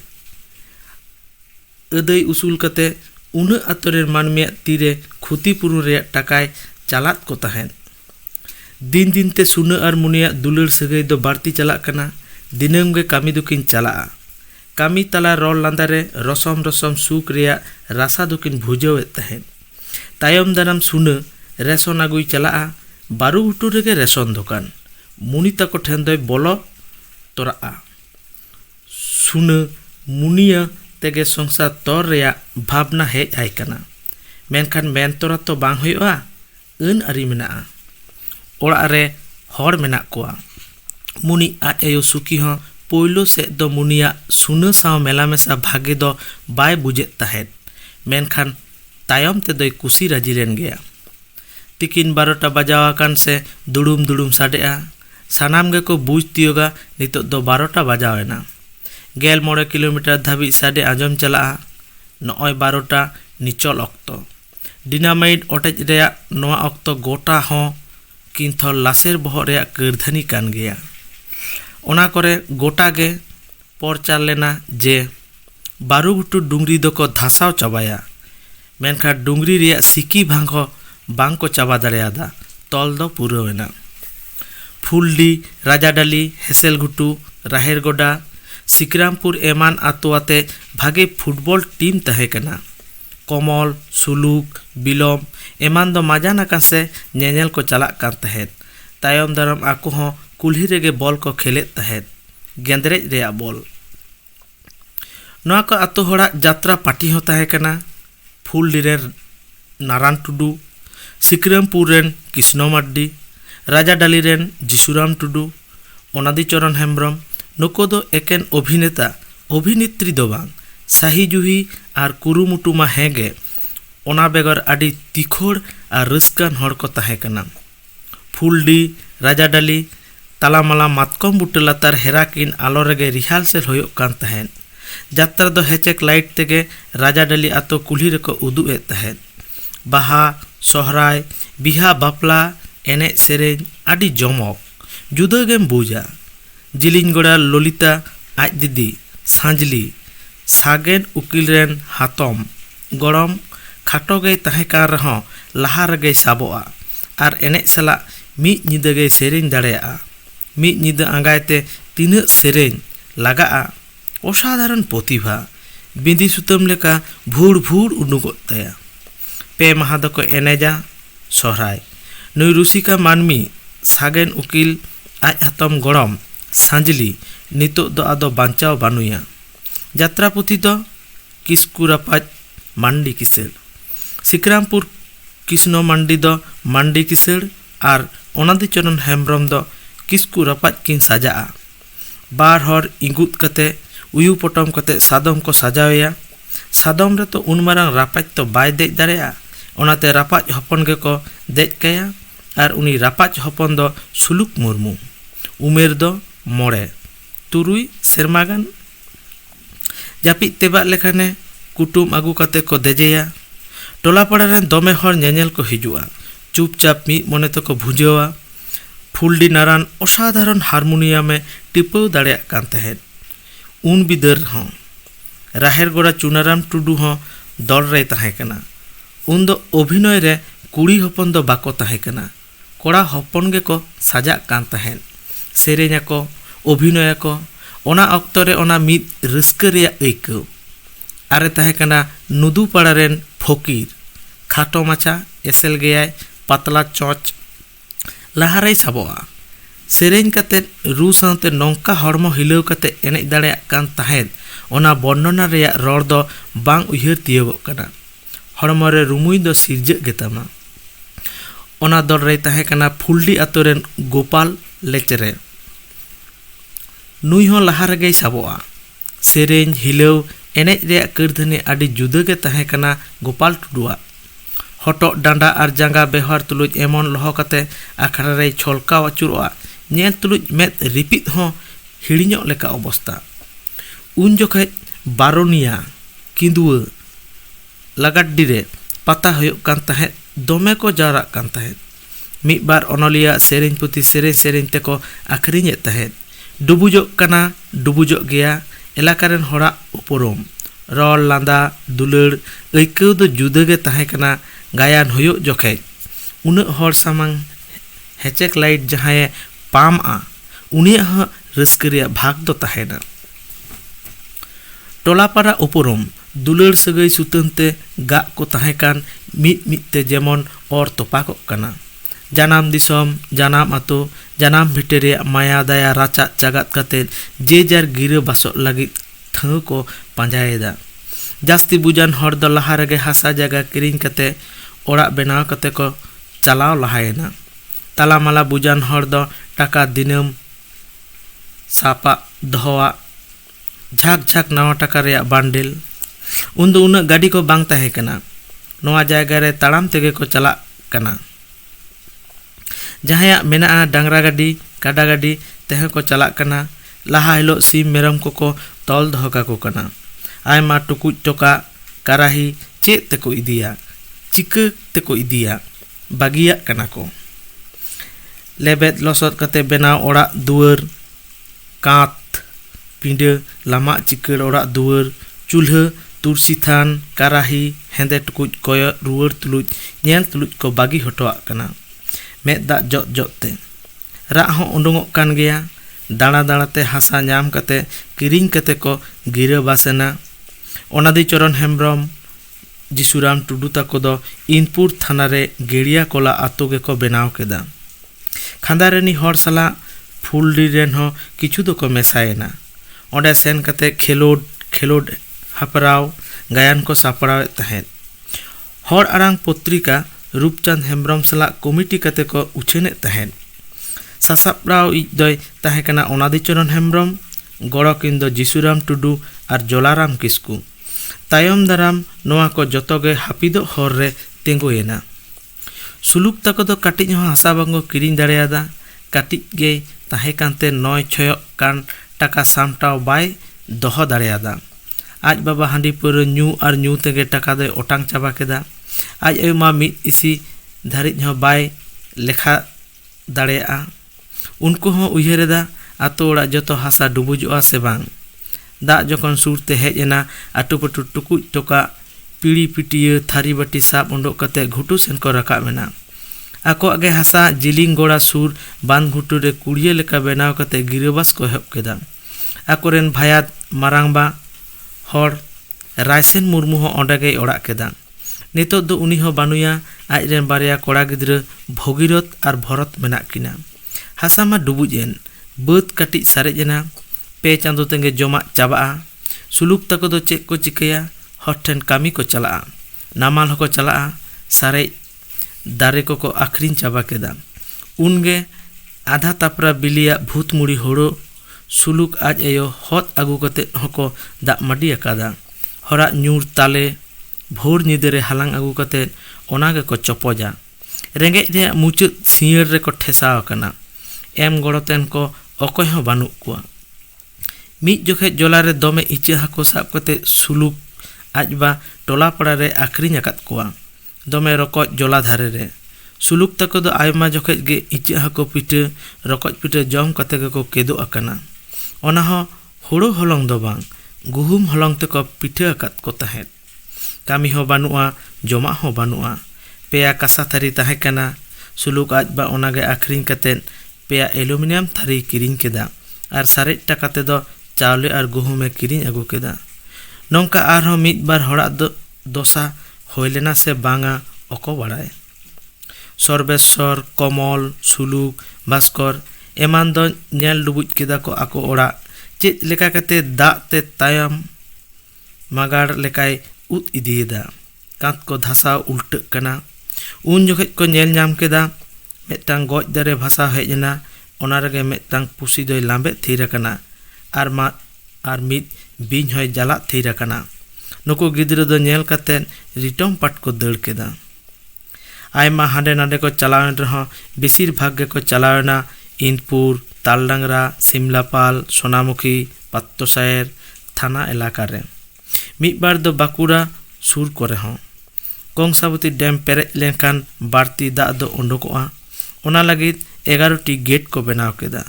ᱟᱹᱫᱟᱹᱭ ᱩᱥᱩᱞ ᱠᱟᱛᱮ ᱩᱱᱟᱹᱜ ᱟᱛᱳ ᱨᱮᱱ ᱢᱟᱹᱱᱢᱤᱭᱟᱜ ᱛᱤ ᱨᱮ ᱠᱷᱩᱛᱤ ᱯᱩᱨᱩᱱ ᱨᱮᱭᱟᱜ ᱴᱟᱠᱟᱭ ᱪᱟᱞᱟᱫ ᱠᱚ ᱛᱟᱦᱮᱸᱫ᱾ ᱫᱤᱱ ᱫᱤᱱ ᱛᱮ ᱥᱩᱱᱟᱹ ᱟᱨ ᱢᱩᱱᱤᱭᱟᱜ ᱫᱩᱞᱟᱹᱲ ᱥᱟᱹᱜᱟᱹᱭ ᱫᱚ ᱵᱟᱹᱲᱛᱤ ᱪᱟᱞᱟᱜ ᱠᱟᱱᱟ᱾ ᱫᱤᱱᱟᱹᱢ ᱜᱮ ᱠᱟᱹᱢᱤ ᱫᱚᱠᱤᱱ ᱪᱟᱞᱟᱜᱼᱟ᱾ ᱠᱟᱹᱢᱤ ᱛᱟᱞᱟ ᱨᱚᱲ ᱞᱟᱸᱫᱟ ᱨᱮ ᱨᱚᱥᱚᱢ ᱨᱚᱥᱚᱢ ᱥᱩᱠ ᱨᱮᱭᱟᱜ ᱨᱟᱥᱟ ᱫᱚᱠᱤᱱ ᱵᱷᱩᱡᱟᱹᱣ ᱮᱫ ᱛᱟᱦᱮᱸᱫ᱾ ᱛᱟᱭᱚᱢ ᱫᱟᱨᱟᱢ ᱥᱩᱱᱟᱹ ᱨᱮᱥᱚᱱ ᱟᱹᱜᱩᱭ ᱪᱟᱞᱟᱜᱼᱟ᱾ ᱵᱟᱹᱨᱩᱜᱷᱩᱴᱩ ᱨᱮᱜᱮ ᱨᱮᱥᱚᱱ ᱫᱚᱠᱟᱱ᱾ ᱢᱩᱱᱤ ᱛᱟᱠᱚ ᱴᱷᱮᱱ ᱫᱚᱭ ᱵᱚᱞᱚ ᱛᱚᱨᱟᱜᱼᱟ᱾ ᱥᱩᱱᱟᱹ ᱢᱩᱱᱤᱭᱟᱹ ᱛᱮᱜᱮ ᱥᱚᱝᱥᱟᱨ ᱛᱚᱞ ᱨᱮᱭᱟᱜ ᱵᱷᱟᱵᱽᱱᱟ ᱦᱮᱡ ᱟᱭ ᱠᱟᱱᱟ᱾ ᱢᱮᱱᱠᱷᱟᱱ ᱢᱮᱱ ᱛᱚᱨᱟ ᱛᱚ ᱵᱟᱝ ᱦᱩᱭᱩᱜᱼᱟ᱾ ᱟᱹᱱ ᱟᱹᱨᱤ ᱢᱮᱱᱟᱜᱼᱟ᱾ ᱚᱲᱟᱜ ᱨᱮ ᱦᱚᱲ ᱢᱮᱱᱟᱜ ᱠᱚᱣᱟ᱾ ᱢᱩᱱᱤ ᱟᱡ ᱟᱭᱳ ᱥᱩᱠᱤ ᱦᱚᱸ ᱯᱳᱭᱞᱳ ᱥᱮᱫ ᱫᱚ ᱢᱩᱱᱤᱭᱟᱜ ᱥᱩᱱᱟᱹ ᱥᱟᱶ ᱢᱮᱞᱟ ᱢᱮᱥᱟ ᱵᱷᱟᱜᱮ ᱫᱚ ᱵᱟᱭ ᱵᱩᱡᱮᱫ ᱛᱟᱦᱮᱸᱫ᱾ ᱢᱮᱱᱠᱷᱟᱱ ᱛᱟᱭᱚᱢ ᱛᱮᱫᱚᱭ ᱠᱩᱥᱤ ᱨᱟᱹᱡᱤ ᱞᱮᱱ ᱜᱮᱭᱟ᱾ ᱛᱤᱠᱤᱱ ᱵᱟᱨᱚᱴᱟ ᱵᱟᱡᱟᱣ ᱟᱠᱟᱱ ᱥᱮ ᱫᱩᱲᱩᱢ ᱫᱩᱲᱩᱢ ᱥᱟᱰᱮᱜᱼᱟ᱾ ᱥᱟᱱᱟᱢ ᱜᱮᱠᱚ ᱵᱩᱡᱽ ᱛᱤᱭᱳᱜᱟ ᱱᱤᱛᱚᱜ ᱫᱚ ᱵᱟᱨᱚᱴᱟ ᱵᱟᱡᱟᱣ ᱮᱱᱟ᱾ ᱜᱮᱞ ᱢᱚᱬᱮ ᱠᱤᱞᱳᱢᱤᱴᱟᱨ ᱫᱷᱟᱹᱵᱤᱡ ᱥᱟᱰᱮ ᱟᱸᱡᱚᱢ ᱪᱟᱞᱟᱜᱼᱟ᱾ ᱱᱚᱜᱼᱚᱭ ᱵᱟᱨᱚᱴᱟ ᱱᱤᱪᱚᱞ ᱚᱠᱛᱚ᱾ ᱰᱤᱱᱟᱢᱟᱭᱤᱴ ᱚᱴᱮᱡ ᱨᱮᱭᱟᱜ ᱱᱚᱶᱟ ᱚᱠᱛᱚ ᱜᱚᱴᱟ ᱦᱚᱸ ᱠᱤᱱᱛᱷᱚᱨ ᱞᱟᱥᱮᱨ ᱵᱚᱦᱚᱜ ᱨᱮᱭᱟᱜ ᱠᱟᱹᱨᱫᱷᱟᱹᱱᱤ ᱠᱟᱱ ᱜᱮᱭᱟ᱾ ᱚᱱᱟ ᱠᱚᱨᱮ ᱜᱚᱴᱟ ᱜᱮ ᱯᱚᱨᱪᱟᱨ ᱞᱮᱱᱟ ᱡᱮ ᱵᱟᱨᱩᱜᱷᱩᱴᱩ ᱰᱩᱝᱨᱤ ᱫᱚᱠᱚ ᱫᱷᱟᱥᱟᱣ ᱪᱟᱵᱟᱭᱟ᱾ ᱢᱮᱱᱠᱷᱟᱱ ᱰᱩᱝᱨᱤ ᱨᱮᱭᱟᱜ ᱥᱤᱠᱤ ᱵᱷᱟᱝ ᱦᱚᱸ ᱵᱟᱝ ᱠᱚ ᱪᱟᱵᱟ ᱫᱟᱲᱮ ᱟᱫᱟ᱾ ᱛᱚᱞ ᱫᱚ ᱯᱩᱨᱟᱹᱣ ᱮᱱᱟ᱾ ᱯᱷᱩᱞᱰᱤ, ᱨᱟᱡᱟᱰᱟᱞᱤ, ᱦᱮᱥᱮᱞᱜᱷᱩᱴᱩ, ᱨᱟᱦᱮᱨ ᱜᱚᱰᱟ, ᱥᱤᱠᱨᱟᱢᱯᱩᱨ ᱮᱢᱟᱱ ᱟᱛᱳ ᱟᱛᱮ ᱵᱷᱟᱜᱮ ᱯᱷᱩᱴᱵᱚᱞ ᱴᱤᱢ ᱛᱟᱦᱮᱸ ᱠᱟᱱᱟ᱾ ᱠᱚᱢᱚᱞ, ᱥᱩᱞᱩᱠ, ᱵᱤᱞᱚᱢ ᱮᱢᱟᱱ ᱫᱚ ᱢᱟᱡᱟᱱ ᱟᱠᱟᱱ ᱥᱮ ᱧᱮᱧᱮᱞ ᱠᱚ ᱪᱟᱞᱟᱜ ᱠᱟᱱ ᱛᱟᱦᱮᱸᱫ᱾ ᱛᱟᱭᱚᱢ ᱫᱟᱨᱟᱢ ᱟᱠᱚ ᱦᱚᱸ ᱠᱩᱞᱦᱤ ᱨᱮᱜᱮ ᱵᱚᱞ ᱠᱚ ᱠᱷᱮᱞᱮᱫ ᱛᱟᱦᱮᱸᱫ᱾ ᱜᱮᱸᱫᱽᱨᱮᱡ ᱨᱮᱭᱟᱜ ᱵᱚᱞ᱾ ᱱᱚᱣᱟ ᱠᱚ ᱟᱛᱳ ᱦᱚᱲᱟᱜ ᱡᱟᱛᱨᱟ ᱯᱟᱴᱤ ᱦᱚᱸ ᱛᱟᱦᱮᱸ ᱠᱟᱱᱟ ᱯᱷᱩᱞᱰᱤ ᱨᱮᱱ ᱱᱟᱨᱟᱱ ᱴᱩᱰᱩ ᱥᱤᱠᱨᱟᱹᱢᱯᱩᱨ ᱨᱮᱱ ᱠᱤᱥᱱᱚ ᱢᱟᱨᱰᱤ ᱨᱟᱡᱟᱰᱟᱞᱤ ᱨᱮᱱ ᱡᱤᱥᱩᱨᱟᱢ ᱴᱩᱰᱩ ᱚᱱᱟᱫᱤ ᱪᱚᱨᱚᱱ ᱦᱮᱢᱵᱨᱚᱢ ᱱᱩᱠᱩ ᱫᱚ ᱮᱠᱮᱱ ᱚᱵᱷᱤᱱᱮᱛᱟ ᱚᱵᱷᱤᱱᱮᱛᱨᱤ ᱫᱚ ᱵᱟᱝ ᱥᱟᱦᱤ ᱡᱩᱦᱤ ᱟᱨ ᱠᱩᱨᱩᱢᱩᱴᱩ ᱢᱟ ᱦᱮᱸᱜᱮ ᱚᱱᱟ ᱵᱮᱜᱚᱨ ᱟᱹᱰᱤ ᱛᱤᱠᱷᱚᱲ ᱟᱨ ᱨᱟᱹᱥᱠᱟᱹᱣᱟᱱ ᱦᱚᱲ ᱠᱚ ᱛᱟᱦᱮᱸ ᱠᱟᱱᱟ ᱯᱷᱩᱞᱰᱤ, ᱨᱟᱡᱟᱰᱟᱞᱤ, ᱛᱟᱞᱟᱢᱟᱞᱟ ᱢᱟᱛᱠᱚᱢ ᱵᱩᱴᱟᱹ ᱞᱟᱛᱟᱨ ᱦᱮᱨᱟ ᱠᱤᱱ ᱟᱞᱚ ᱨᱮᱜᱮ ᱨᱤᱦᱟᱞᱥᱮᱞ ᱦᱳᱭᱳᱜ ᱠᱟᱱ ᱛᱟᱦᱮᱸᱫ᱾ ᱡᱟᱛᱨᱟ ᱫᱚ ᱦᱮᱪᱮᱠ ᱞᱟᱭᱤᱴ ᱛᱮᱜᱮ ᱨᱟᱡᱟᱰᱟᱞᱤ ᱟᱛᱳ ᱠᱩᱞᱦᱤ ᱨᱮᱠᱚ ᱩᱫᱩᱜ ᱮᱫ ᱛᱟᱦᱮᱸᱫ᱾ ᱵᱟᱦᱟ, ᱥᱚᱦᱨᱟᱭ, ᱵᱤᱦᱟ ᱵᱟᱯᱞᱟ ᱮᱱᱮᱡ ᱥᱮᱨᱮᱧ ᱟᱹᱰᱤ ᱡᱚᱢᱚᱠ᱾ ᱡᱩᱫᱟᱹ ᱜᱮᱢ ᱵᱩᱡᱟ᱾ ᱡᱤᱞᱤᱧᱜᱚᱲᱟ ᱞᱚᱞᱤᱛᱟ ᱟᱡ ᱫᱤᱫᱤ ᱥᱟᱸᱡᱽᱞᱤ ᱥᱟᱜᱮᱱ ᱩᱠᱤᱞ ᱨᱮᱱ ᱦᱟᱛᱚᱢ ᱜᱚᱲᱚᱢ ᱠᱷᱟᱴᱚ ᱜᱮᱭ ᱛᱟᱦᱮᱸ ᱠᱟᱱ ᱨᱮᱦᱚᱸ ᱞᱟᱦᱟ ᱨᱮᱜᱮᱭ ᱥᱟᱵᱚᱜᱼᱟ ᱟᱨ ᱮᱱᱮᱡ ᱥᱟᱞᱟᱜ ᱢᱤᱫ ᱧᱤᱫᱟᱹ ᱜᱮᱭ ᱥᱮᱨᱮᱧ ᱫᱟᱲᱮᱭᱟᱜᱼᱟ ᱢᱤᱫ ᱧᱤᱫᱟᱹ ᱟᱸᱜᱟᱭ ᱛᱮ ᱛᱤᱱᱟᱹᱜ ᱥᱮᱨᱮᱧ ᱞᱟᱜᱟᱜᱼᱟ ᱚᱥᱟᱫᱷᱟᱨᱚᱱ ᱯᱨᱚᱛᱤᱵᱷᱟ ᱵᱤᱸᱫᱤ ᱥᱩᱛᱟᱹᱢ ᱞᱮᱠᱟ ᱵᱷᱩᱲ ᱵᱷᱩᱲ ᱩᱰᱩᱠᱚᱜ ᱛᱟᱭᱟ ᱯᱮ ᱢᱟᱦᱟ ᱫᱚᱠᱚ ᱮᱱᱮᱡᱟ ᱥᱚᱦᱨᱟᱭ ᱱᱩᱭ ᱨᱩᱥᱤᱠᱟ ᱢᱟᱹᱱᱢᱤ ᱥᱟᱜᱮᱱ ᱩᱠᱤᱞ ᱟᱡ ᱦᱟᱛᱚᱢ ᱜᱚᱲᱚᱢ ᱥᱟᱹᱡᱽᱞᱤ ᱱᱤᱛᱚᱜ ᱫᱚ ᱟᱫᱚ ᱵᱟᱧᱪᱟᱣ ᱵᱟᱹᱱᱩᱭᱟ ᱡᱟᱛᱨᱟ ᱯᱩᱛᱷᱤ ᱫᱚ ᱠᱤᱥᱠᱩ ᱨᱟᱯᱟᱡᱽ ᱢᱟᱱᱰᱤ ᱠᱤᱥᱟᱹᱬ ᱥᱤᱠᱨᱟᱢᱯᱩᱨ ᱠᱨᱤᱥᱱᱚ ᱢᱟᱱᱰᱤ ᱫᱚ ᱢᱟᱱᱰᱤ ᱠᱤᱥᱟᱹᱬ ᱟᱨ ᱚᱱᱟᱫᱷᱩ ᱪᱚᱨᱚᱱ ᱦᱮᱢᱵᱨᱚᱢ ᱫᱚ ᱠᱤᱥᱠᱩ ᱨᱟᱯᱟᱡᱽ ᱠᱤᱱ ᱥᱟᱡᱟᱜᱼᱟ ᱵᱟᱨ ᱦᱚᱲ ᱤᱸᱜᱩᱫ ᱠᱟᱛᱮ ᱩᱭᱩ ᱯᱚᱴᱚᱢ ᱠᱟᱛᱮ ᱥᱟᱫᱚᱢ ᱠᱚ ᱥᱟᱡᱟᱣ ᱮᱭᱟ ᱥᱟᱫᱚᱢ ᱨᱮᱛᱚ ᱩᱱ ᱢᱟᱨᱟᱝ ᱨᱟᱯᱟᱡᱽ ᱛᱚ ᱵᱟᱭ ᱫᱮᱡ ᱫᱟᱲᱮᱭᱟᱜᱼᱟ᱾ ᱚᱱᱟᱛᱮ ᱨᱟᱯᱟᱡᱽ ᱦᱚᱯᱚᱱ ᱜᱮᱠᱚ ᱫᱮᱡ ᱠᱟᱭᱟ᱾ ᱟᱨ ᱩᱱᱤ ᱨᱟᱯᱟᱡᱽ ᱦᱚᱯᱚᱱ ᱫᱚ ᱥᱩᱞᱩᱠ ᱢᱩᱨᱢᱩ᱾ ᱩᱢᱮᱨ ᱫᱚ ᱢᱚᱬᱮ, ᱛᱩᱨᱩᱭ ᱥᱮᱨᱢᱟ ᱜᱟᱱ᱾ ᱡᱟᱹᱯᱤᱫ ᱛᱮᱵᱟᱫ ᱞᱮᱠᱷᱟᱱᱮ ᱠᱩᱴᱩᱢ ᱟᱹᱜᱩ ᱠᱟᱛᱮ ᱠᱚ ᱫᱮᱡᱮᱭᱟ᱾ ᱴᱚᱞᱟ ᱯᱟᱲᱟ ᱨᱮᱱ ᱫᱚᱢᱮ ᱦᱚᱲ ᱧᱮᱧᱮᱞ ᱠᱚ ᱦᱤᱡᱩᱜᱼᱟ᱾ ᱪᱩᱯᱪᱟᱯ ᱢᱤᱫ ᱢᱚᱱᱮ ᱛᱮᱠᱚ ᱵᱷᱩᱡᱟᱹᱣᱟ᱾ ᱯᱷᱩᱞᱰᱤ ᱱᱟᱨᱟᱱ ᱚᱥᱟᱫᱷᱟᱨᱚᱱ ᱦᱟᱨᱢᱩᱱᱤᱭᱟᱢᱮ ᱴᱤᱯᱟᱹᱣ ᱫᱟᱲᱮᱭᱟᱜ ᱠᱟᱱ ᱛᱟᱦᱮᱸᱫ᱾ ᱩᱱ ᱵᱤᱫᱟᱹᱞ ᱨᱮᱦᱚᱸ ᱨᱟᱦᱮᱨ ᱜᱚᱲᱟ ᱪᱩᱱᱟᱨᱟᱢ ᱴᱩᱰᱩ ᱦᱚᱸ ᱫᱚᱞ ᱨᱮᱭ ᱛᱟᱦᱮᱸ ᱠᱟᱱᱟ᱾ ᱩᱱ ᱫᱚ ᱚᱵᱷᱤᱱᱚᱭ ᱨᱮ ᱠᱩᱲᱤ ᱦᱚᱯᱚᱱ ᱫᱚ ᱵᱟᱠᱚ ᱛᱟᱦᱮᱸ ᱠᱟᱱᱟ᱾ ᱠᱚᱲᱟ ᱦᱚᱯᱚᱱ ᱜᱮᱠᱚ ᱥᱟᱡᱟᱜ ᱠᱟᱱ ᱛᱟᱦᱮᱸᱫ᱾ ᱥᱮᱨᱮᱧ ᱟᱠᱚ, ᱚᱵᱷᱤᱱᱚᱭ ᱟᱠᱚ᱾ ᱚᱱᱟ ᱚᱠᱛᱚ ᱨᱮ ᱚᱱᱟ ᱢᱤᱫ ᱨᱟᱹᱥᱠᱟᱹ ᱨᱮᱭᱟᱜ ᱟᱹᱭᱠᱟᱹᱣ᱾ ᱟᱨ ᱮ ᱛᱟᱦᱮᱸ ᱠᱟᱱᱟ ᱱᱩᱫᱩ ᱯᱟᱲᱟ ᱨᱮᱱ ᱯᱷᱚᱠᱤᱨ᱾ ᱠᱷᱟᱴᱚ ᱢᱟᱪᱷᱟ, ᱮᱥᱮᱞ ᱜᱮᱭᱟᱭ, ᱯᱟᱛᱞᱟ ᱪᱚᱸᱪ᱾ ᱞᱟᱦᱟ ᱨᱮᱭ ᱥᱟᱵᱚᱜᱼᱟ᱾ ᱥᱮᱨᱮᱧ ᱠᱟᱛᱮ ᱨᱩ ᱥᱟᱶᱛᱮ ᱱᱚᱝᱠᱟ ᱦᱚᱲᱢᱚ ᱦᱤᱞᱟᱹᱣ ᱠᱟᱛᱮ ᱮᱱᱮᱡ ᱫᱟᱲᱮᱭᱟᱜ ᱠᱟᱱ ᱛᱟᱦᱮᱸᱫ ᱚᱱᱟ ᱵᱚᱨᱱᱚᱱᱟ ᱨᱮᱭᱟᱜ ᱨᱚᱲ ᱫᱚ ᱵᱟᱝ ᱩᱭᱦᱟᱹᱨ ᱛᱤᱭᱟᱹᱜᱚᱜ ᱠᱟᱱᱟ᱾ ᱦᱚᱲᱢᱚ ᱨᱮ ᱨᱩᱢᱩᱭ ᱫᱚ ᱥᱤᱨᱡᱟᱹᱜ ᱜᱮᱛᱟᱢᱟ᱾ ᱚᱱᱟ ᱫᱚᱞ ᱨᱮᱭ ᱛᱟᱦᱮᱸ ᱠᱟᱱᱟ ᱯᱷᱩᱞᱰᱤ ᱟᱹᱛᱩ ᱨᱮᱱ ᱜᱳᱯᱟᱞ ᱞᱮᱪᱨᱮ᱾ ᱱᱩᱭ ᱦᱚᱸ ᱞᱟᱦᱟ ᱨᱮᱜᱮᱭ ᱥᱟᱵᱚᱜᱼᱟ᱾ ᱥᱮᱨᱮᱧ, ᱦᱤᱞᱟᱹᱣ, ᱮᱱᱮᱡ ᱨᱮᱭᱟᱜ ᱠᱟᱹᱨᱫᱷᱟᱹᱱᱤ ᱟᱹᱰᱤ ᱡᱩᱫᱟᱹ ᱜᱮ ᱛᱟᱦᱮᱸ ᱠᱟᱱᱟ ᱜᱚᱯᱟᱞ ᱴᱩᱰᱩ ᱟᱜ᱾ ᱦᱚᱴᱚᱜ, ᱰᱟᱸᱰᱟ ᱟᱨ ᱡᱟᱸᱜᱟ ᱵᱮᱣᱦᱟᱨ ᱛᱩᱞᱩᱡ ᱮᱢᱚᱱ ᱞᱚᱦᱚ ᱠᱟᱛᱮ ᱟᱠᱷᱲᱟ ᱨᱮᱭ ᱪᱷᱚᱞᱠᱟᱣ ᱟᱹᱪᱩᱨᱚᱜᱼᱟ, ᱧᱮᱞ ᱛᱩᱞᱩᱡ ᱢᱮᱫ ᱨᱤᱯᱤᱫ ᱦᱚᱸ ᱦᱤᱲᱤᱧᱚᱜ ᱞᱮᱠᱟ ᱚᱵᱚᱥᱛᱟ᱾ ᱩᱱ ᱡᱚᱠᱷᱮᱡ ᱵᱟᱨᱚᱱᱤᱭᱟ, ᱠᱤᱸᱫᱩᱣᱟᱹ, ᱞᱟᱜᱟᱰᱰᱤ ᱨᱮ ᱯᱟᱛᱟ ᱦᱩᱭᱩᱜ ᱠᱟᱱ ᱛᱟᱦᱮᱸᱫ ᱫᱚᱢᱮ ᱠᱚ ᱡᱟᱣᱨᱟᱜ ᱠᱟᱱ ᱛᱟᱦᱮᱸᱫ᱾ ᱢᱤᱫ ᱵᱟᱨ ᱚᱱᱚᱞᱤᱭᱟᱹᱣᱟᱜ ᱥᱮᱨᱮᱧ ᱯᱩᱛᱷᱤ ᱥᱮᱨᱮᱧ ᱥᱮᱨᱮᱧ ᱛᱮᱠᱚ ᱟᱹᱠᱷᱨᱤᱧᱮᱫ ᱛᱟᱦᱮᱸᱫ᱾ ᱰᱩᱵᱩᱡᱚᱜ ᱠᱟᱱᱟ ᱰᱩᱵᱩᱡᱚᱜ ᱜᱮᱭᱟ ᱮᱞᱟᱠᱟ ᱨᱮᱱ ᱦᱚᱲᱟᱜ ᱩᱯᱨᱩᱢ᱾ ᱨᱚᱲ, ᱞᱟᱸᱫᱟ, ᱫᱩᱞᱟᱹᱲ, ᱟᱹᱭᱠᱟᱹᱣ ᱫᱚ ᱡᱩᱫᱟᱹ ᱜᱮ ᱛᱟᱦᱮᱸ ᱠᱟᱱᱟ ᱜᱟᱭᱟᱱ ᱦᱩᱭᱩᱜ ᱡᱚᱠᱷᱮᱡ᱾ ᱩᱱᱟᱹᱜ ᱦᱚᱲ ᱥᱟᱢᱟᱝ ᱦᱮᱪᱮᱠ ᱞᱟᱭᱤᱴ ᱡᱟᱦᱟᱸᱭᱮ ᱯᱟᱢᱼᱟ ᱩᱱᱤᱭᱟᱜ ᱦᱚᱸ ᱨᱟᱹᱥᱠᱟᱹ ᱨᱮᱭᱟᱜ ᱵᱷᱟᱜᱽ ᱫᱚ ᱛᱟᱦᱮᱸᱱᱟ᱾ ᱴᱚᱞᱟ ᱯᱟᱲᱟ ᱩᱯᱨᱩᱢ, ᱫᱩᱞᱟᱹᱲ ᱥᱟᱹᱜᱟᱹᱭ ᱥᱩᱛᱟᱹᱢ ᱛᱮ ᱜᱟᱜ ᱠᱚ ᱛᱟᱦᱮᱸ ᱠᱟᱱ ᱢᱤᱫ ᱢᱤᱫ ᱛᱮ ᱡᱮᱢᱚᱱ ᱚᱨ ᱛᱚᱯᱟᱜᱚᱜ ᱠᱟᱱᱟ᱾ ᱡᱟᱱᱟᱢ ᱫᱤᱥᱚᱢ, ᱡᱟᱱᱟᱢ ᱟᱛᱳ, ᱡᱟᱱᱟᱢ ᱵᱷᱤᱴᱟᱹ ᱨᱮᱭᱟᱜ ᱢᱟᱭᱟ ᱫᱟᱭᱟ ᱨᱟᱪᱟᱫ ᱪᱟᱜᱟᱫ ᱠᱟᱛᱮ ᱡᱮ ᱡᱟᱨ ᱜᱤᱨᱟᱹ ᱵᱟᱥᱚᱜ ᱞᱟᱹᱜᱤᱫ ᱴᱷᱟᱹᱣ ᱠᱚ ᱯᱟᱸᱡᱟ ᱮᱫᱟ᱾ ᱡᱟᱹᱥᱛᱤ ᱵᱩᱡᱟᱱ ᱦᱚᱲ ᱫᱚ ᱞᱟᱦᱟ ᱨᱮᱜᱮ ᱦᱟᱥᱟ ᱡᱟᱭᱜᱟ ᱠᱤᱨᱤᱧ ᱠᱟᱛᱮ ᱚᱲᱟᱜ ᱵᱮᱱᱟᱣ ᱠᱟᱛᱮ ᱠᱚ ᱪᱟᱞᱟᱣ ᱞᱟᱦᱟ ᱮᱱᱟ᱾ ᱛᱟᱞᱟ ᱢᱟᱞᱟ ᱵᱩᱡᱟᱱ ᱦᱚᱲ ᱫᱚ ᱴᱟᱠᱟ ᱫᱤᱱᱟᱹᱢ ᱥᱟᱯᱟᱜ ᱫᱚᱦᱚᱣᱟᱜ᱾ ᱡᱷᱟᱠ ᱡᱷᱟᱠ ᱱᱟᱣᱟ ᱴᱟᱠᱟ ᱨᱮᱭᱟᱜ ᱵᱟᱱᱰᱤᱞ᱾ ᱩᱱ ᱫᱚ ᱩᱱᱟᱹᱜ ᱜᱟᱹᱰᱤ ᱠᱚ ᱵᱟᱝ ᱛᱟᱦᱮᱸ ᱠᱟᱱᱟ᱾ ᱱᱚᱣᱟ ᱡᱟᱭᱜᱟ ᱨᱮ ᱛᱟᱲᱟᱢ ᱛᱮᱜᱮ ᱠᱚ ᱪᱟᱞᱟᱜ ᱠᱟᱱᱟ᱾ ᱡᱟᱦᱟᱸᱭᱟᱜ ᱢᱮᱱᱟᱜᱼᱟ ᱰᱟᱝᱨᱟ ᱜᱟᱹᱰᱤ, ᱠᱟᱰᱟ ᱜᱟᱹᱰᱤ ᱛᱮᱦᱚᱸ ᱠᱚ ᱪᱟᱞᱟᱜ ᱠᱟᱱᱟ᱾ ᱞᱟᱦᱟ ᱦᱤᱞᱚᱜ ᱥᱤᱢ ᱢᱮᱨᱚᱢ ᱠᱚᱠᱚ ᱛᱚᱞ ᱫᱚᱦᱚ ᱠᱟᱠᱚ ᱠᱟᱱᱟ᱾ ᱟᱭᱢᱟ ᱴᱩᱠᱩᱡ ᱴᱚᱠᱟᱜ, ᱠᱟᱨᱟᱦᱤ ᱪᱮᱫ ᱛᱮᱠᱚ ᱤᱫᱤᱭᱟ? ᱪᱤᱠᱟᱹ ᱛᱮᱠᱚ ᱤᱫᱤᱭᱟ? ᱵᱟᱹᱜᱤᱭᱟᱜ ᱠᱟᱱᱟ ᱠᱚ᱾ ᱞᱮᱵᱮᱫ ᱞᱚᱥᱚᱫ ᱠᱟᱛᱮ ᱵᱮᱱᱟᱣ ᱚᱲᱟᱜ ᱫᱩᱣᱟᱹᱨ, ᱠᱟᱸᱛ, ᱯᱤᱸᱰᱟᱹ, ᱞᱟᱢᱟᱜ ᱪᱤᱠᱟᱹᱲ ᱚᱲᱟᱜ ᱫᱩᱣᱟᱹᱨ, ᱪᱩᱞᱦᱟᱹ, ᱛᱩᱲᱥᱤ ᱛᱷᱟᱱ, ᱠᱟᱨᱟᱦᱤ, ᱦᱮᱸᱫᱮ ᱴᱩᱠᱩᱡ ᱠᱚᱭᱚᱜ ᱨᱩᱣᱟᱹᱲ ᱛᱩᱞᱩᱡ ᱧᱮᱞ ᱛᱩᱞᱩᱡ ᱠᱚ ᱵᱟᱹᱜᱤ ᱦᱚᱴᱚᱣᱟᱜ ᱠᱟᱱᱟ᱾ ᱢᱮᱫ ᱫᱟᱜ ᱡᱚᱫ ᱡᱚᱫ ᱛᱮ᱾ ᱨᱟᱜ ᱦᱚᱸ ᱩᱰᱩᱝᱚᱜ ᱠᱟᱱ ᱜᱮᱭᱟ᱾ ᱫᱟᱬᱟ ᱫᱟᱬᱟ ᱛᱮ ᱦᱟᱥᱟ ᱧᱟᱢ ᱠᱟᱛᱮ ᱠᱤᱨᱤᱧ ᱠᱟᱛᱮ ᱠᱚ ᱜᱤᱨᱟᱹᱵᱟᱥ ᱮᱱᱟ᱾ ᱚᱱᱟᱫᱤ ᱪᱚᱨᱚᱱ ᱦᱮᱢᱵᱽᱨᱚᱢ, ᱡᱤᱥᱩᱨᱟᱢ ᱴᱩᱰᱩ ᱛᱟᱠᱚ ᱫᱚ ᱤᱱᱯᱩᱨ ᱛᱷᱟᱱᱟ ᱨᱮ ᱜᱮᱲᱤᱭᱟ ᱠᱚᱞᱟ ᱟᱛᱳ ᱜᱮᱠᱚ ᱵᱮᱱᱟᱣ ᱠᱮᱫᱟ᱾ ᱠᱷᱟᱸᱫᱟᱨᱟᱹᱱᱤ ᱦᱚᱲ ᱥᱟᱞᱟᱜ ᱯᱷᱩᱞᱰᱤ ᱨᱮᱱ ᱦᱚᱸ ᱠᱤᱪᱷᱩ ᱫᱚᱠᱚ ᱢᱮᱥᱟ ᱮᱱᱟ᱾ ᱚᱸᱰᱮ ᱥᱮᱱ ᱠᱟᱛᱮ ᱠᱷᱮᱞᱳᱰ, ᱠᱷᱮᱞᱳᱰ ᱦᱮᱯᱨᱟᱣ, ᱜᱟᱭᱟᱱ ᱠᱚ ᱥᱟᱯᱲᱟᱣ ᱮᱫ ᱛᱟᱦᱮᱸᱫ᱾ ᱦᱚᱲ ᱟᱲᱟᱝ ᱯᱚᱛᱨᱤᱠᱟ ᱨᱩᱯᱪᱟᱸᱫᱽ ᱦᱮᱢᱵᱽᱨᱚᱢ ᱥᱟᱞᱟᱜ ᱠᱚᱢᱤᱴᱤ ᱠᱟᱛᱮ ᱠᱚ ᱩᱪᱷᱟᱹᱱ ᱮᱫ ᱛᱟᱦᱮᱸᱫ᱾ ᱥᱟᱥᱟᱯᱲᱟᱣ ᱤᱡ ᱫᱚᱭ ᱛᱟᱦᱮᱸ ᱠᱟᱱᱟ ᱚᱱᱟᱫᱤ ᱪᱚᱨᱚᱱ ᱦᱮᱢᱵᱽᱨᱚᱢ, ᱜᱚᱲᱚ ᱠᱤᱱ ᱫᱚ ᱡᱤᱥᱩᱨᱟᱢ ᱴᱩᱰᱩ ᱟᱨ ᱡᱚᱞᱟᱨᱟᱢ ᱠᱤᱥᱠᱩ᱾ ᱛᱟᱭᱚᱢ ᱫᱟᱨᱟᱢ ᱱᱚᱣᱟ ᱠᱚ ᱡᱚᱛᱚ ᱜᱮ ᱦᱟᱹᱯᱤᱫᱚᱜ ᱦᱚᱨ ᱨᱮ ᱛᱤᱸᱜᱩ ᱮᱱᱟ᱾ ᱥᱩᱞᱩᱠ ᱛᱟᱠᱚ ᱫᱚ ᱠᱟᱹᱴᱤᱡ ᱦᱚᱸ ᱦᱟᱥᱟ ᱵᱟᱝᱠᱚ ᱠᱤᱨᱤᱧ ᱫᱟᱲᱮᱭᱟᱫᱟ᱾ ᱠᱟᱹᱴᱤᱡ ᱜᱮᱭ ᱛᱟᱦᱮᱸ ᱠᱟᱱᱛᱮ ᱱᱚᱭ ᱪᱷᱚᱭᱚᱜ ᱠᱟᱱ ᱴᱟᱠᱟ ᱥᱟᱢᱴᱟᱣ ᱵᱟᱭ ᱫᱚᱦᱚ ᱫᱟᱲᱮᱭᱟᱫᱟ᱾ ᱟᱡ ᱵᱟᱵᱟ ᱦᱟᱺᱰᱤ ᱯᱟᱹᱣᱨᱟᱹ ᱧᱩ ᱟᱨ ᱧᱩ ᱛᱮᱜᱮ ᱴᱟᱠᱟ ᱫᱚᱭ ᱚᱴᱟᱝ ᱪᱟᱵᱟ ᱠᱮᱫᱟ᱾ ᱟᱡ ᱟᱭᱳ ᱢᱟ ᱢᱤᱫ ᱤᱥᱤ ᱫᱷᱟᱹᱨᱤᱡ ᱦᱚᱸ ᱵᱟᱭ ᱞᱮᱠᱷᱟ ᱫᱟᱲᱮᱭᱟᱜᱼᱟ ᱩᱱᱠᱩ ᱦᱚᱸ ᱩᱭᱦᱟᱹᱨ ᱮᱫᱟ ᱟᱛᱳ ᱚᱲᱟᱜ ᱡᱚᱛᱚ ᱦᱟᱥᱟ ᱰᱩᱵᱩᱡᱚᱜᱼᱟ ᱥᱮ ᱵᱟᱝ ᱫᱟᱜ ᱡᱚᱠᱷᱚᱱ ᱥᱩᱨ ᱛᱮ ᱦᱮᱡ ᱮᱱᱟ ᱟᱹᱴᱩ ᱯᱟᱹᱴᱩ ᱴᱩᱠᱩᱡ ᱴᱚᱠᱟᱜ ᱯᱤᱲᱤ ᱯᱤᱴᱭᱟᱹ ᱛᱷᱟᱹᱨᱤ ᱵᱟᱹᱴᱤ ᱥᱟᱵ ᱩᱰᱩᱠ ᱠᱟᱛᱮ ᱜᱷᱩᱴᱩ ᱥᱮᱱ ᱠᱚ ᱨᱟᱠᱟᱵ ᱮᱱᱟ ᱟᱠᱚᱣᱟᱜ ᱜᱮ ᱦᱟᱥᱟ ᱡᱤᱞᱤᱧ ᱜᱚᱲᱟ ᱥᱩᱨ ᱵᱟᱸᱫᱽ ᱜᱷᱩᱴᱩ ᱨᱮ ᱠᱩᱲᱤᱭᱟᱹ ᱞᱮᱠᱟ ᱵᱮᱱᱟᱣ ᱠᱟᱛᱮ ᱜᱤᱨᱟᱹᱵᱟᱥ ᱠᱚ ᱮᱦᱚᱵ ᱠᱮᱫᱟ ᱟᱠᱚ ᱨᱮᱱ ᱵᱷᱟᱭᱟᱛ ᱢᱟᱨᱟᱝᱵᱟ ᱦᱚᱲ ᱨᱟᱭᱥᱮᱱ ᱢᱩᱨᱢᱩ ᱦᱚᱸ ᱚᱸᱰᱮ ᱜᱮᱭ ᱚᱲᱟᱜ ᱠᱮᱫᱟ ᱱᱤᱛᱚᱜ ᱫᱚ ᱩᱱᱤ ᱦᱚᱸ ᱵᱟᱹᱱᱩᱭᱟ ᱟᱡ ᱨᱮᱱ ᱵᱟᱨᱭᱟ ᱠᱚᱲᱟ ᱜᱤᱫᱽᱨᱟᱹ ᱵᱷᱚᱜᱤᱨᱚᱛ ᱟᱨ ᱵᱷᱚᱨᱚᱛ ᱢᱮᱱᱟᱜ ᱠᱤᱱᱟ᱾ ᱦᱟᱥᱟ ᱢᱟ ᱰᱩᱵᱩᱡ ᱮᱱ᱾ ᱵᱟᱹᱫᱽ ᱠᱟᱹᱴᱤᱡ ᱥᱟᱨᱮᱡ ᱮᱱᱟ᱾ ᱯᱮ ᱪᱟᱸᱫᱚ ᱛᱮᱜᱮ ᱡᱚᱢᱟᱜ ᱪᱟᱵᱟᱜᱼᱟ᱾ ᱥᱩᱞᱩᱠ ᱛᱟᱠᱚ ᱫᱚ ᱪᱮᱫ ᱠᱚ ᱪᱤᱠᱟᱹᱭᱟ ᱦᱚᱲ ᱴᱷᱮᱱ ᱠᱟᱹᱢᱤ ᱠᱚ ᱪᱟᱞᱟᱜᱼᱟ᱾ ᱱᱟᱢᱟᱞ ᱦᱚᱸᱠᱚ ᱪᱟᱞᱟᱜᱼᱟ᱾ ᱥᱟᱨᱮᱡ ᱫᱟᱨᱮ ᱠᱚᱠᱚ ᱟᱹᱠᱷᱨᱤᱧ ᱪᱟᱵᱟ ᱠᱮᱫᱟ᱾ ᱩᱱ ᱜᱮ ᱟᱫᱷᱟ ᱛᱟᱯᱨᱟ ᱵᱤᱞᱤᱭᱟᱜ ᱵᱷᱩᱛ ᱢᱩᱲᱤ ᱦᱳᱲᱳ ᱥᱩᱞᱩᱠ ᱟᱡ ᱟᱭᱳ ᱦᱚᱫ ᱟᱹᱜᱩ ᱠᱟᱛᱮ ᱦᱚᱸᱠᱚ ᱫᱟᱜ ᱢᱟᱹᱰᱤ ᱟᱠᱟᱫᱟ᱾ ᱦᱚᱲᱟᱜ ᱧᱩᱨ ᱛᱟᱞᱮ ᱵᱷᱳᱨ ᱧᱤᱫᱟᱹ ᱨᱮ ᱦᱟᱞᱟᱝ ᱟᱹᱜᱩ ᱠᱟᱛᱮ ᱚᱱᱟ ᱜᱮᱠᱚ ᱪᱚᱯᱚᱡᱟ᱾ ᱨᱮᱸᱜᱮᱡ ᱨᱮᱭᱟᱜ ᱢᱩᱪᱟᱹᱫ ᱥᱤᱭᱟᱹᱲ ᱨᱮᱠᱚ ᱴᱷᱮᱥᱟᱣ ᱟᱠᱟᱱᱟ᱾ ᱮᱢ ᱜᱚᱲᱚ ᱛᱮᱱ ᱠᱚ ᱚᱠᱚᱭ ᱦᱚᱸ ᱵᱟᱹᱱᱩᱜ ᱠᱚᱣᱟ᱾ ᱢᱤᱫ ᱡᱚᱠᱷᱮᱡ ᱡᱚᱞᱟ ᱨᱮ ᱫᱚᱢᱮ ᱤᱪᱟᱹᱜ ᱦᱟᱹᱠᱩ ᱥᱟᱵ ᱠᱟᱛᱮ ᱥᱩᱞᱩᱠ ᱟᱡ ᱵᱟ ᱴᱚᱞᱟ ᱯᱟᱲᱟ ᱨᱮᱭ ᱟᱹᱠᱷᱨᱤᱧ ᱟᱠᱟᱫ ᱠᱚᱣᱟ᱾ ᱫᱚᱢᱮ ᱨᱚᱠᱚᱡ ᱡᱚᱞᱟ ᱫᱷᱟᱨᱮ ᱨᱮ᱾ ᱥᱩᱞᱩᱠ ᱛᱟᱠᱚ ᱫᱚ ᱟᱭᱢᱟ ᱡᱚᱠᱷᱮᱡ ᱜᱮ ᱤᱪᱟᱹᱜ ᱦᱟᱹᱠᱩ ᱯᱤᱴᱷᱟᱹ, ᱨᱚᱠᱚᱡ ᱯᱤᱴᱷᱟᱹ ᱡᱚᱢ ᱠᱟᱛᱮ ᱜᱮᱠᱚ ᱠᱮᱫᱚᱜ ᱟᱠᱟᱱᱟ᱾ ᱚᱱᱟ ᱦᱚᱸ᱾ ᱦᱩᱲᱩ ᱦᱚᱞᱚᱝ ᱫᱚ ᱵᱟᱝ, ᱜᱩᱦᱩᱢ ᱦᱚᱞᱚᱝ ᱛᱮᱠᱚ ᱯᱤᱴᱷᱟᱹ ᱟᱠᱟᱫ ᱠᱚ ᱛᱟᱦᱮᱸᱫ᱾ ᱠᱟᱹᱢᱤ ᱦᱚᱸ ᱵᱟᱹᱱᱩᱜᱼᱟ, ᱡᱚᱢᱟᱜ ᱦᱚᱸ ᱵᱟᱹᱱᱩᱜᱼᱟ᱾ ᱯᱮᱭᱟ ᱠᱟᱥᱟ ᱛᱷᱟᱹᱨᱤ ᱛᱟᱦᱮᱸ ᱠᱟᱱᱟ᱾ ᱥᱩᱞᱩᱠ ᱟᱡ ᱵᱟ ᱚᱱᱟ ᱜᱮ ᱟᱹᱠᱷᱨᱤᱧ ᱠᱟᱛᱮ ᱯᱮᱭᱟ ᱮᱞᱩᱢᱤᱱᱤᱭᱟᱢ ᱛᱷᱟᱹᱨᱤᱭ ᱠᱤᱨᱤᱧ ᱠᱮᱫᱟ ᱟᱨ ᱥᱟᱨᱮᱡ ᱴᱟᱠᱟ ᱛᱮᱫᱚ ᱪᱟᱣᱞᱮ ᱟᱨ ᱜᱩᱦᱩᱢ ᱮ ᱠᱤᱨᱤᱧ ᱟᱹᱜᱩ ᱠᱮᱫᱟ᱾ ᱱᱚᱝᱠᱟ ᱟᱨᱦᱚᱸ ᱢᱤᱫ ᱵᱟᱨ ᱦᱚᱲᱟᱜ ᱫᱚᱥᱟ ᱦᱳᱭ ᱞᱮᱱᱟ ᱥᱮ ᱵᱟᱝᱼᱟ ᱚᱠᱚ ᱵᱟᱲᱟᱭ᱾ ᱥᱚᱨᱵᱮᱥᱥᱚᱨ, ᱠᱚᱢᱚᱞ, ᱥᱩᱞᱩᱠ, ᱵᱷᱟᱥᱠᱚᱨ ᱮᱢᱟᱱ ᱫᱚ ᱧᱮᱞ ᱰᱩᱵᱩᱡ ᱠᱮᱫᱟ ᱠᱚ ᱟᱠᱚ ᱚᱲᱟᱜ᱾ ᱪᱮᱫ ᱞᱮᱠᱟ ᱠᱟᱛᱮ ᱫᱟᱜ ᱛᱮ ᱛᱟᱭᱚᱢ ᱢᱟᱜᱟᱲ ᱞᱮᱠᱟᱭ ᱩᱫ ᱤᱫᱤᱭᱮᱫᱟ᱾ ᱠᱟᱸᱛ ᱠᱚ ᱫᱷᱟᱥᱟᱣ ᱩᱞᱴᱟᱹᱜ ᱠᱟᱱᱟ᱾ ᱩᱱ ᱡᱚᱠᱷᱮᱡ ᱠᱚ ᱧᱮᱞ ᱧᱟᱢ ᱠᱮᱫᱟ ᱢᱤᱫᱴᱟᱹᱝ ᱜᱚᱡ ᱫᱟᱨᱮ ᱵᱷᱟᱥᱟᱣ ᱦᱮᱡ ᱮᱱᱟ᱾ ᱚᱱᱟ ᱨᱮᱜᱮ ᱢᱤᱫᱴᱟᱹᱝ ᱯᱩᱥᱤ ᱫᱚᱭ ᱞᱟᱸᱵᱮᱫ ᱛᱷᱤᱨ ᱟᱠᱟᱱᱟ ᱟᱨ ᱢᱟ ᱟᱨ ᱢᱤᱫ ᱵᱤᱧ ᱦᱚᱸᱭ ᱡᱟᱞᱟᱫ ᱛᱷᱤᱨ ᱟᱠᱟᱱᱟ᱾ ᱱᱩᱠᱩ ᱜᱤᱫᱽᱨᱟᱹ ᱫᱚ ᱧᱮᱞ ᱠᱟᱛᱮ ᱨᱤᱴᱚᱢ ᱯᱟᱴ ᱠᱚ ᱫᱟᱹᱲ ᱠᱮᱫᱟ᱾ ᱟᱭᱢᱟ ᱦᱟᱸᱰᱮ ᱱᱟᱸᱰᱮ ᱠᱚ ᱪᱟᱞᱟᱣᱮᱱ ᱨᱮᱦᱚᱸ ᱵᱮᱥᱤᱨ ᱵᱷᱟᱜᱽ ᱜᱮᱠᱚ ᱪᱟᱞᱟᱣᱮᱱᱟ ᱤᱸᱫᱽᱯᱩᱨ ᱛᱟᱞᱰᱟᱝᱨᱟ ᱥᱤᱢᱞᱟᱯᱟᱞ ᱥᱳᱱᱟᱢᱩᱠᱷᱤ ᱯᱟᱛᱛᱚ ᱥᱟᱭᱮᱨ ᱛᱷᱟᱱᱟ ᱮᱞᱟᱠᱟ ᱨᱮ ᱢᱤᱫ ᱵᱟᱨ ᱫᱚ ᱵᱟᱸᱠᱩᱲᱟ ᱥᱩᱨ ᱠᱚᱨᱮ ᱦᱚᱸ ᱠᱚᱝᱥᱟᱵᱚᱛᱤ ᱰᱮᱢ ᱯᱮᱨᱮᱡ ᱞᱮᱱᱠᱷᱟᱱ ᱵᱟᱹᱲᱛᱤ ᱫᱟᱜ ᱫᱚ ᱩᱰᱩᱠᱚᱜᱼᱟ ᱚᱱᱟ ᱞᱟᱹᱜᱤᱫ ᱮᱜᱟᱨᱳᱴᱤ ᱜᱮᱴ ᱠᱚ ᱵᱮᱱᱟᱣ ᱠᱮᱫᱟ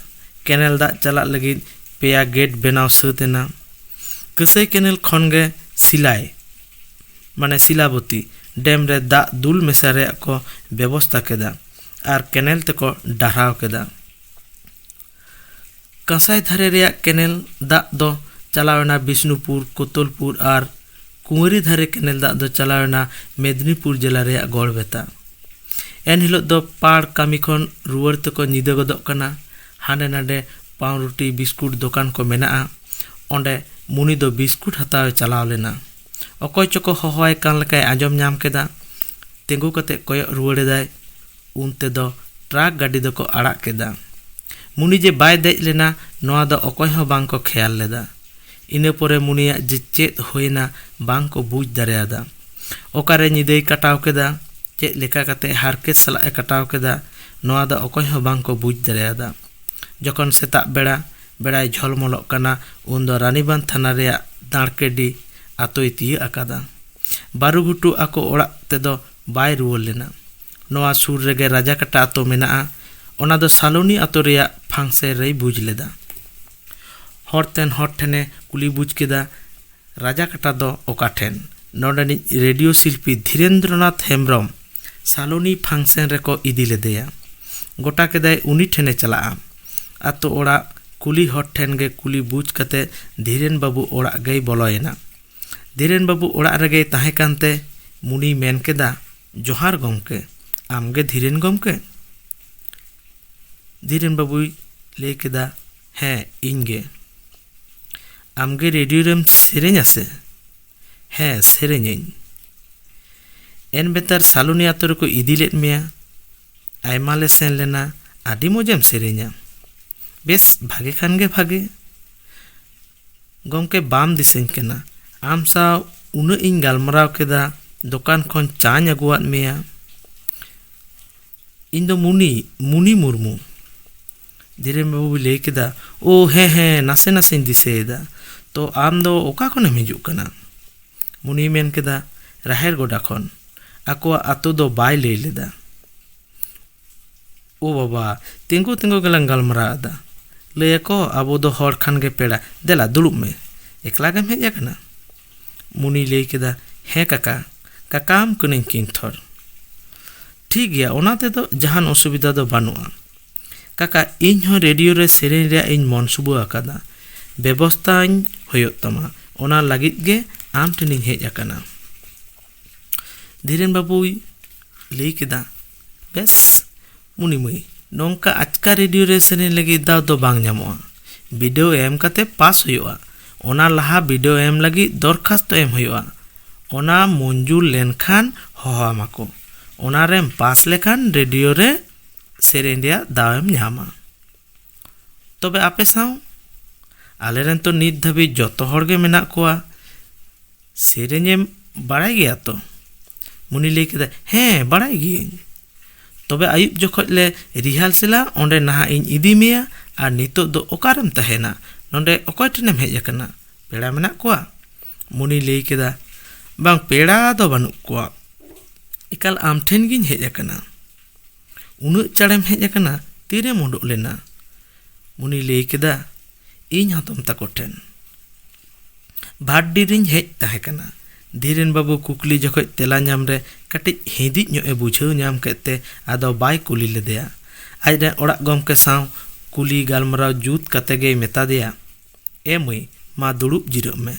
ᱠᱮᱱᱮᱞ ᱫᱟᱜ ᱪᱟᱞᱟᱜ ᱞᱟᱹᱜᱤᱫ ᱯᱮᱭᱟ ᱜᱮᱴ ᱵᱮᱱᱟᱣ ᱥᱟᱹᱛ ᱮᱱᱟ ᱠᱟᱹᱥᱟᱹᱭ ᱠᱮᱱᱮᱞ ᱠᱷᱚᱱ ᱜᱮ ᱥᱤᱞᱟᱭ ᱢᱟᱱᱮ ᱥᱤᱞᱟᱵᱚᱛᱤ, ᱰᱮᱢ ᱨᱮ ᱫᱟᱜ ᱫᱩᱞ ᱢᱮᱥᱟ ᱨᱮᱭᱟᱜ ᱠᱚ ᱵᱮᱵᱚᱥᱛᱟ ᱠᱮᱫᱟ ᱟᱨ ᱠᱮᱱᱮᱞ ᱛᱮᱠᱚ ᱰᱟᱨᱦᱟᱣ ᱠᱮᱫᱟ᱾ ᱠᱟᱸᱥᱟᱭ ᱫᱷᱟᱨᱮ ᱨᱮᱭᱟᱜ ᱠᱮᱱᱮᱞ ᱫᱟᱜ ᱫᱚ ᱪᱟᱞᱟᱣ ᱮᱱᱟ ᱵᱤᱥᱱᱩᱯᱩᱨ, ᱠᱳᱛᱚᱞᱯᱩᱨ ᱟᱨ ᱠᱩᱶᱟᱹᱨᱤ ᱫᱷᱟᱨᱮ ᱠᱮᱱᱮᱞ ᱫᱟᱜ ᱫᱚ ᱪᱟᱞᱟᱣ ᱮᱱᱟ ᱢᱮᱫᱤᱱᱤᱯᱩᱨ ᱡᱮᱞᱟ ᱨᱮᱭᱟᱜ ᱜᱚᱲᱵᱮᱛᱟ᱾ ᱮᱱᱦᱤᱞᱚᱜ ᱫᱚ ᱯᱟᱲ ᱠᱟᱹᱢᱤ ᱠᱷᱚᱱ ᱨᱩᱣᱟᱹᱲ ᱛᱮᱠᱚ ᱧᱤᱫᱟᱹ ᱜᱚᱫᱚᱜ ᱠᱟᱱᱟ ᱦᱟᱸᱰᱮ ᱱᱟᱸᱰᱮ ᱯᱟᱣᱨᱩᱴᱤ ᱵᱤᱥᱠᱩᱴ ᱫᱚᱠᱟᱱ ᱠᱚ ᱢᱮᱱᱟᱜᱼᱟ ᱚᱸᱰᱮ ᱢᱩᱱᱤ ᱫᱚ ᱵᱤᱥᱠᱩᱴ ᱦᱟᱛᱟᱣᱮ ᱪᱟᱞᱟᱣ ᱞᱮᱱᱟ ᱚᱠᱚᱭ ᱪᱚᱠᱚ ᱦᱚᱦᱚᱣᱟᱭ ᱠᱟᱱ ᱞᱮᱠᱟᱭ ᱟᱸᱡᱚᱢ ᱧᱟᱢ ᱠᱮᱫᱟ ᱛᱤᱸᱜᱩ ᱠᱟᱛᱮ ᱠᱚᱭᱚᱜ ᱨᱩᱣᱟᱹᱲ ᱮᱫᱟᱭ ᱩᱱ ᱛᱮᱫᱚ ᱴᱨᱟᱠ ᱜᱟᱹᱰᱤ ᱫᱚᱠᱚ ᱟᱲᱟᱜ ᱠᱮᱫᱟ ᱢᱩᱱᱤ ᱡᱮ ᱵᱟᱭ ᱫᱮᱡ ᱞᱮᱱᱟ ᱱᱚᱣᱟ ᱫᱚ ᱚᱠᱚᱭ ᱦᱚᱸ ᱵᱟᱝ ᱠᱚ ᱠᱷᱮᱭᱟᱞ ᱞᱮᱫᱟ ᱤᱱᱟᱹ ᱯᱚᱨᱮ ᱢᱩᱱᱤᱭᱟᱜ ᱡᱮ ᱪᱮᱫ ᱦᱩᱭᱮᱱᱟ ᱵᱟᱝ ᱠᱚ ᱵᱩᱡᱽ ᱫᱟᱲᱮᱭᱟᱫᱟ ᱚᱠᱟᱨᱮ ᱧᱤᱫᱟᱹᱭ ᱠᱟᱴᱟᱣ ᱠᱮᱫᱟ ᱪᱮᱫ ᱞᱮᱠᱟ ᱠᱟᱛᱮ ᱦᱟᱨᱠᱮᱛ ᱥᱟᱞᱟᱜ ᱮ ᱠᱟᱴᱟᱣ ᱠᱮᱫᱟ ᱱᱚᱣᱟ ᱫᱚ ᱚᱠᱚᱭ ᱦᱚᱸ ᱵᱟᱝ ᱠᱚ ᱵᱩᱡᱽ ᱫᱟᱲᱮᱭᱟᱫᱟ᱾ ᱡᱚᱠᱷᱚᱱ ᱥᱮᱛᱟᱜ ᱵᱮᱲᱟ ᱵᱮᱲᱟᱭ ᱡᱷᱚᱞᱢᱚᱞᱚᱜ ᱠᱟᱱᱟ ᱩᱱ ᱫᱚ ᱨᱟᱱᱤᱵᱟᱸᱫᱽ ᱛᱷᱟᱱᱟ ᱨᱮᱭᱟᱜ ᱫᱟᱬᱠᱮᱰᱤ ᱟᱛᱳᱭ ᱛᱤᱭᱟᱹᱜ ᱟᱠᱟᱫᱟ᱾ ᱵᱟᱹᱨᱩᱜᱷᱩᱴᱩ ᱟᱠᱚ ᱚᱲᱟᱜ ᱛᱮᱫᱚ ᱵᱟᱭ ᱨᱩᱣᱟᱹᱲ ᱞᱮᱱᱟ᱾ ᱱᱚᱣᱟ ᱥᱩᱨ ᱨᱮᱜᱮ ᱨᱟᱡᱟᱠᱟᱴᱟ ᱟᱛᱳ ᱢᱮᱱᱟᱜᱼᱟ᱾ ᱚᱱᱟ ᱫᱚ ᱥᱟᱞᱚᱱᱤ ᱟᱛᱳ ᱨᱮᱭᱟᱜ ᱯᱷᱟᱝᱥᱮ ᱨᱮᱭ ᱵᱩᱡᱽ ᱞᱮᱫᱟ᱾ ᱦᱚᱨ ᱛᱮᱱ ᱦᱚᱲ ᱴᱷᱮᱱ ᱮ ᱠᱩᱞᱤ ᱵᱩᱡᱽ ᱠᱮᱫᱟ᱾ ᱨᱟᱡᱟᱠᱟᱴᱟ ᱫᱚ ᱚᱠᱟ ᱴᱷᱮᱱ? ᱱᱚᱰᱮᱱᱤᱡ ᱨᱮᱰᱤᱭᱳ ᱥᱤᱞᱯᱤ ᱫᱷᱤᱨᱮᱱᱫᱨᱚᱱᱟᱛᱷ ᱦᱮᱢᱵᱽᱨᱚᱢ ᱥᱟᱞᱚᱱᱤ ᱯᱷᱟᱝᱥᱮᱱ ᱨᱮᱠᱚ ᱤᱫᱤ ᱞᱮᱫᱮᱭᱟ᱾ ᱜᱚᱴᱟ ᱠᱮᱫᱟᱭ ᱩᱱᱤ ᱴᱷᱮᱱᱮ ᱪᱟᱞᱟᱜᱼᱟ᱾ ᱟᱛᱳ ᱚᱲᱟᱜ ᱠᱩᱞᱤ ᱦᱚᱲ ᱴᱷᱮᱱ ᱜᱮ ᱠᱩᱞᱤ ᱵᱩᱡᱽ ᱠᱟᱛᱮ ᱫᱷᱤᱨᱮᱱ ᱵᱟᱹᱵᱩ ᱚᱲᱟᱜ ᱜᱮᱭ ᱵᱚᱞᱚᱭᱮᱱᱟ᱾ ᱫᱷᱤᱨᱮᱱ ᱵᱟᱹᱵᱩ ᱚᱲᱟᱜ ᱨᱮᱜᱮᱭ ᱛᱟᱦᱮᱸ ᱠᱟᱱ ᱛᱮ ᱢᱩᱱᱤᱭ ᱢᱮᱱ ᱠᱮᱫᱟ, ᱡᱚᱦᱟᱨ ᱜᱚᱢᱠᱮ, ᱟᱢ ᱜᱮ ᱫᱷᱤᱨᱮᱱ ᱜᱚᱢᱠᱮ? ᱫᱷᱤᱨᱮᱱ ᱵᱟᱹᱵᱩᱭ ᱞᱟᱹᱭ ᱠᱮᱫᱟ, ᱦᱮᱸ, ᱤᱧ ᱜᱮ᱾ ᱟᱢᱜᱮ ᱨᱮᱰᱤᱭᱳ ᱨᱮᱢ ᱥᱮᱨᱮᱧᱟ ᱥᱮ ᱦᱮᱸ ᱥᱮᱨᱮᱧᱟᱹᱧ ᱮᱱ ᱵᱮᱛᱟᱨ ᱥᱟᱞᱩᱱᱤ ᱟᱛᱳ ᱨᱮᱠᱚ ᱤᱫᱤ ᱞᱮᱫ ᱢᱮᱭᱟ ᱟᱭᱢᱟ ᱞᱮ ᱥᱮᱱ ᱞᱮᱱᱟ ᱟᱹᱰᱤ ᱢᱚᱡᱮᱢ ᱥᱮᱨᱮᱧᱟ ᱵᱮᱥ ᱵᱷᱟᱜᱮ ᱠᱷᱟᱱ ᱜᱮ ᱵᱷᱟᱜᱮ ᱜᱚᱢᱠᱮ ᱵᱟᱢ ᱫᱤᱥᱟᱹᱧ ᱠᱟᱱᱟ ᱟᱢ ᱥᱟᱶ ᱩᱱᱟᱹᱜ ᱤᱧ ᱜᱟᱞᱢᱟᱨᱟᱣ ᱠᱮᱫᱟ ᱫᱚᱠᱟᱱ ᱠᱷᱚᱱ ᱪᱟᱧ ᱟᱹᱜᱩᱣᱟᱫ ᱢᱮᱭᱟ ᱤᱧ ᱫᱚ ᱢᱩᱱᱤ ᱢᱩᱱᱤ ᱢᱩᱨᱢᱩ ᱫᱷᱤᱨᱮᱱ ᱵᱟᱹᱵᱩᱭ ᱞᱟᱹᱭ ᱠᱮᱫᱟ ᱳ ᱦᱮᱸ ᱦᱮᱸ ᱱᱟᱥᱮ ᱱᱟᱥᱮᱧ ᱫᱤᱥᱟᱹᱭᱮᱫᱟ ᱛᱚ ᱟᱢ ᱫᱚ ᱚᱠᱟ ᱠᱷᱚᱱᱮᱢ ᱦᱤᱡᱩᱜ ᱠᱟᱱᱟ ᱢᱩᱱᱤᱭ ᱢᱮᱱ ᱠᱮᱫᱟ ᱨᱟᱦᱮᱲ ᱜᱚᱰᱟ ᱠᱷᱚᱱ ᱟᱠᱚᱣᱟᱜ ᱟᱛᱳ ᱫᱚ ᱵᱟᱭ ᱞᱟᱹᱭ ᱞᱮᱫᱟ ᱳ ᱵᱟᱵᱟ ᱛᱤᱸᱜᱩ ᱛᱤᱸᱜᱩ ᱜᱮᱞᱟᱝ ᱜᱟᱞᱢᱟᱨᱟᱣ ᱮᱫᱟ ᱞᱟᱹᱭ ᱟᱠᱚ ᱟᱵᱚ ᱫᱚ ᱦᱚᱲ ᱠᱷᱟᱱ ᱜᱮ ᱯᱮᱲᱟ ᱫᱮᱞᱟ ᱫᱩᱲᱩᱵ ᱢᱮ ᱮᱠᱞᱟ ᱜᱮᱢ ᱦᱮᱡ ᱟᱠᱟᱱᱟ ᱢᱩᱱᱤᱭ ᱞᱟᱹᱭ ᱠᱮᱫᱟ ᱦᱮᱸ ᱠᱟᱠᱟ ᱠᱟᱠᱟᱣᱟᱢ ᱠᱟᱹᱱᱟᱹᱧ ᱠᱤᱱᱛᱷᱚᱨ ᱴᱷᱤᱠ ᱜᱮᱭᱟ ᱚᱱᱟ ᱛᱮᱫᱚ ᱡᱟᱦᱟᱱ ᱚᱥᱩᱵᱤᱫᱷᱟ ᱫᱚ ᱵᱟᱹᱱᱩᱜᱼᱟ ᱠᱟᱠᱟ ᱤᱧ ᱦᱚᱸ ᱨᱮᱰᱤᱭᱳ ᱨᱮ ᱥᱮᱨᱮᱧ ᱨᱮᱭᱟᱜ ᱤᱧ ᱢᱚᱱᱥᱩᱵᱟᱹ ᱟᱠᱟᱫᱟ ᱵᱮᱵᱚᱥᱛᱷᱟ ᱟᱹᱧ ᱦᱩᱭᱩᱜ ᱛᱟᱢᱟ ᱚᱱᱟ ᱞᱟᱹᱜᱤᱫ ᱜᱮ ᱟᱢ ᱴᱷᱮᱱᱤᱧ ᱦᱮᱡ ᱟᱠᱟᱱᱟ ᱫᱷᱤᱨᱮᱱ ᱵᱟᱹᱵᱩᱭ ᱞᱟᱹᱭ ᱠᱮᱫᱟ ᱵᱮᱥ ᱢᱩᱱᱤ ᱢᱟᱹᱭ ᱱᱚᱝᱠᱟ ᱟᱪᱠᱟ ᱨᱮᱰᱤᱭᱳ ᱨᱮ ᱥᱮᱨᱮᱧ ᱞᱟᱹᱜᱤᱫ ᱫᱟᱣ ᱫᱚ ᱵᱟᱝ ᱧᱟᱢᱚᱜᱼᱟ ᱵᱤᱰᱟᱹᱣ ᱮᱢ ᱠᱟᱛᱮ ᱯᱟᱥ ᱦᱩᱭᱩᱜᱼᱟ ᱚᱱᱟ ᱞᱟᱦᱟ ᱵᱤᱰᱟᱹᱣ ᱮᱢ ᱞᱟᱹᱜᱤᱫ ᱫᱚᱨᱠᱷᱟᱥᱛᱚ ᱮᱢ ᱦᱩᱭᱩᱜᱼᱟ ᱚᱱᱟ ᱢᱚᱧᱡᱩᱨ ᱞᱮᱱᱠᱷᱟᱱ ᱦᱚᱦᱚ ᱟᱢᱟ ᱠᱚ ᱚᱱᱟ ᱨᱮᱢ ᱯᱟᱥ ᱞᱮᱠᱷᱟᱱ ᱨᱮᱰᱤᱭᱳ ᱨᱮ ᱥᱮᱨᱮᱧ ᱨᱮᱭᱟᱜ ᱫᱟᱣ ᱮᱢ ᱧᱟᱢᱟ ᱛᱚᱵᱮ ᱟᱯᱮ ᱥᱟᱶ ᱟᱞᱮ ᱨᱮᱱ ᱛᱚ ᱱᱤᱛ ᱫᱷᱟᱹᱵᱤᱡ ᱡᱚᱛᱚ ᱦᱚᱲ ᱜᱮ ᱢᱮᱱᱟᱜ ᱠᱚᱣᱟ ᱥᱮᱨᱮᱧᱮᱢ ᱵᱟᱲᱟᱭ ᱜᱮᱭᱟ ᱛᱚ ᱢᱩᱱᱤ ᱞᱟᱹᱭ ᱠᱮᱫᱟ ᱦᱮᱸ ᱵᱟᱲᱟᱭ ᱜᱤᱭᱟᱹᱧ ᱛᱚᱵᱮ ᱟᱹᱭᱩᱵ ᱡᱚᱠᱷᱚᱡ ᱞᱮ ᱨᱤᱦᱟᱨᱥᱮᱞᱟ ᱚᱸᱰᱮ ᱱᱟᱦᱟᱜ ᱤᱧ ᱤᱫᱤ ᱢᱮᱭᱟ ᱟᱨ ᱱᱤᱛᱚᱜ ᱫᱚ ᱚᱠᱟᱨᱮᱢ ᱛᱟᱦᱮᱱᱟ ᱱᱚᱰᱮ ᱚᱠᱚᱭ ᱴᱷᱮᱱᱮᱢ ᱦᱮᱡ ᱟᱠᱟᱱᱟ ᱯᱮᱲᱟ ᱢᱮᱱᱟᱜ ᱠᱚᱣᱟ ᱢᱩᱱᱤ ᱞᱟᱹᱭ ᱠᱮᱫᱟ ᱵᱟᱝ ᱯᱮᱲᱟ ᱫᱚ ᱵᱟᱹᱱᱩᱜ ᱠᱚᱣᱟ ᱮᱠᱟᱞ ᱟᱢ ᱴᱷᱮᱱ ᱜᱤᱧ ᱦᱮᱡ ᱟᱠᱟᱱᱟ ᱩᱱᱟᱹᱜ ᱪᱟᱲᱮᱢ ᱦᱮᱡ ᱟᱠᱟᱱᱟ ᱛᱤᱨᱮᱢ ᱩᱰᱩᱠ ᱞᱮᱱᱟ ᱩᱱᱤ ᱞᱟᱹᱭ ᱠᱮᱫᱟ ᱤᱧ ᱦᱟᱛᱚᱢ ᱛᱟᱠᱚ ᱴᱷᱮᱱ ᱵᱷᱟᱴᱰᱤ ᱨᱤᱧ ᱦᱮᱡ ᱛᱟᱦᱮᱸ ᱠᱟᱱᱟ ᱫᱷᱤᱨᱮᱱ ᱵᱟᱹᱵᱩ ᱠᱩᱠᱞᱤ ᱡᱚᱠᱷᱚᱡ ᱛᱮᱞᱟ ᱧᱟᱢ ᱨᱮ ᱠᱟᱹᱴᱤᱡ ᱦᱤᱸᱫᱤᱡ ᱧᱚᱜ ᱮ ᱵᱩᱡᱷᱟᱹᱣ ᱧᱟᱢ ᱠᱮᱫ ᱛᱮ ᱟᱫᱚ ᱵᱟᱭ ᱠᱩᱞᱤ ᱞᱮᱫᱮᱭᱟ ᱟᱡ ᱨᱮᱱ ᱚᱲᱟᱜ ᱜᱚᱢᱠᱮ ᱥᱟᱶ ᱠᱩᱞᱤ ᱜᱟᱞᱢᱟᱨᱟᱣ ᱡᱩᱛ ᱠᱟᱛᱮ ᱜᱮᱭ ᱢᱮᱛᱟ ᱫᱮᱭᱟ ᱮ ᱢᱟᱹᱭ, ᱢᱟ ᱫᱩᱲᱩᱵ ᱡᱤᱨᱟᱹᱜ ᱢᱮ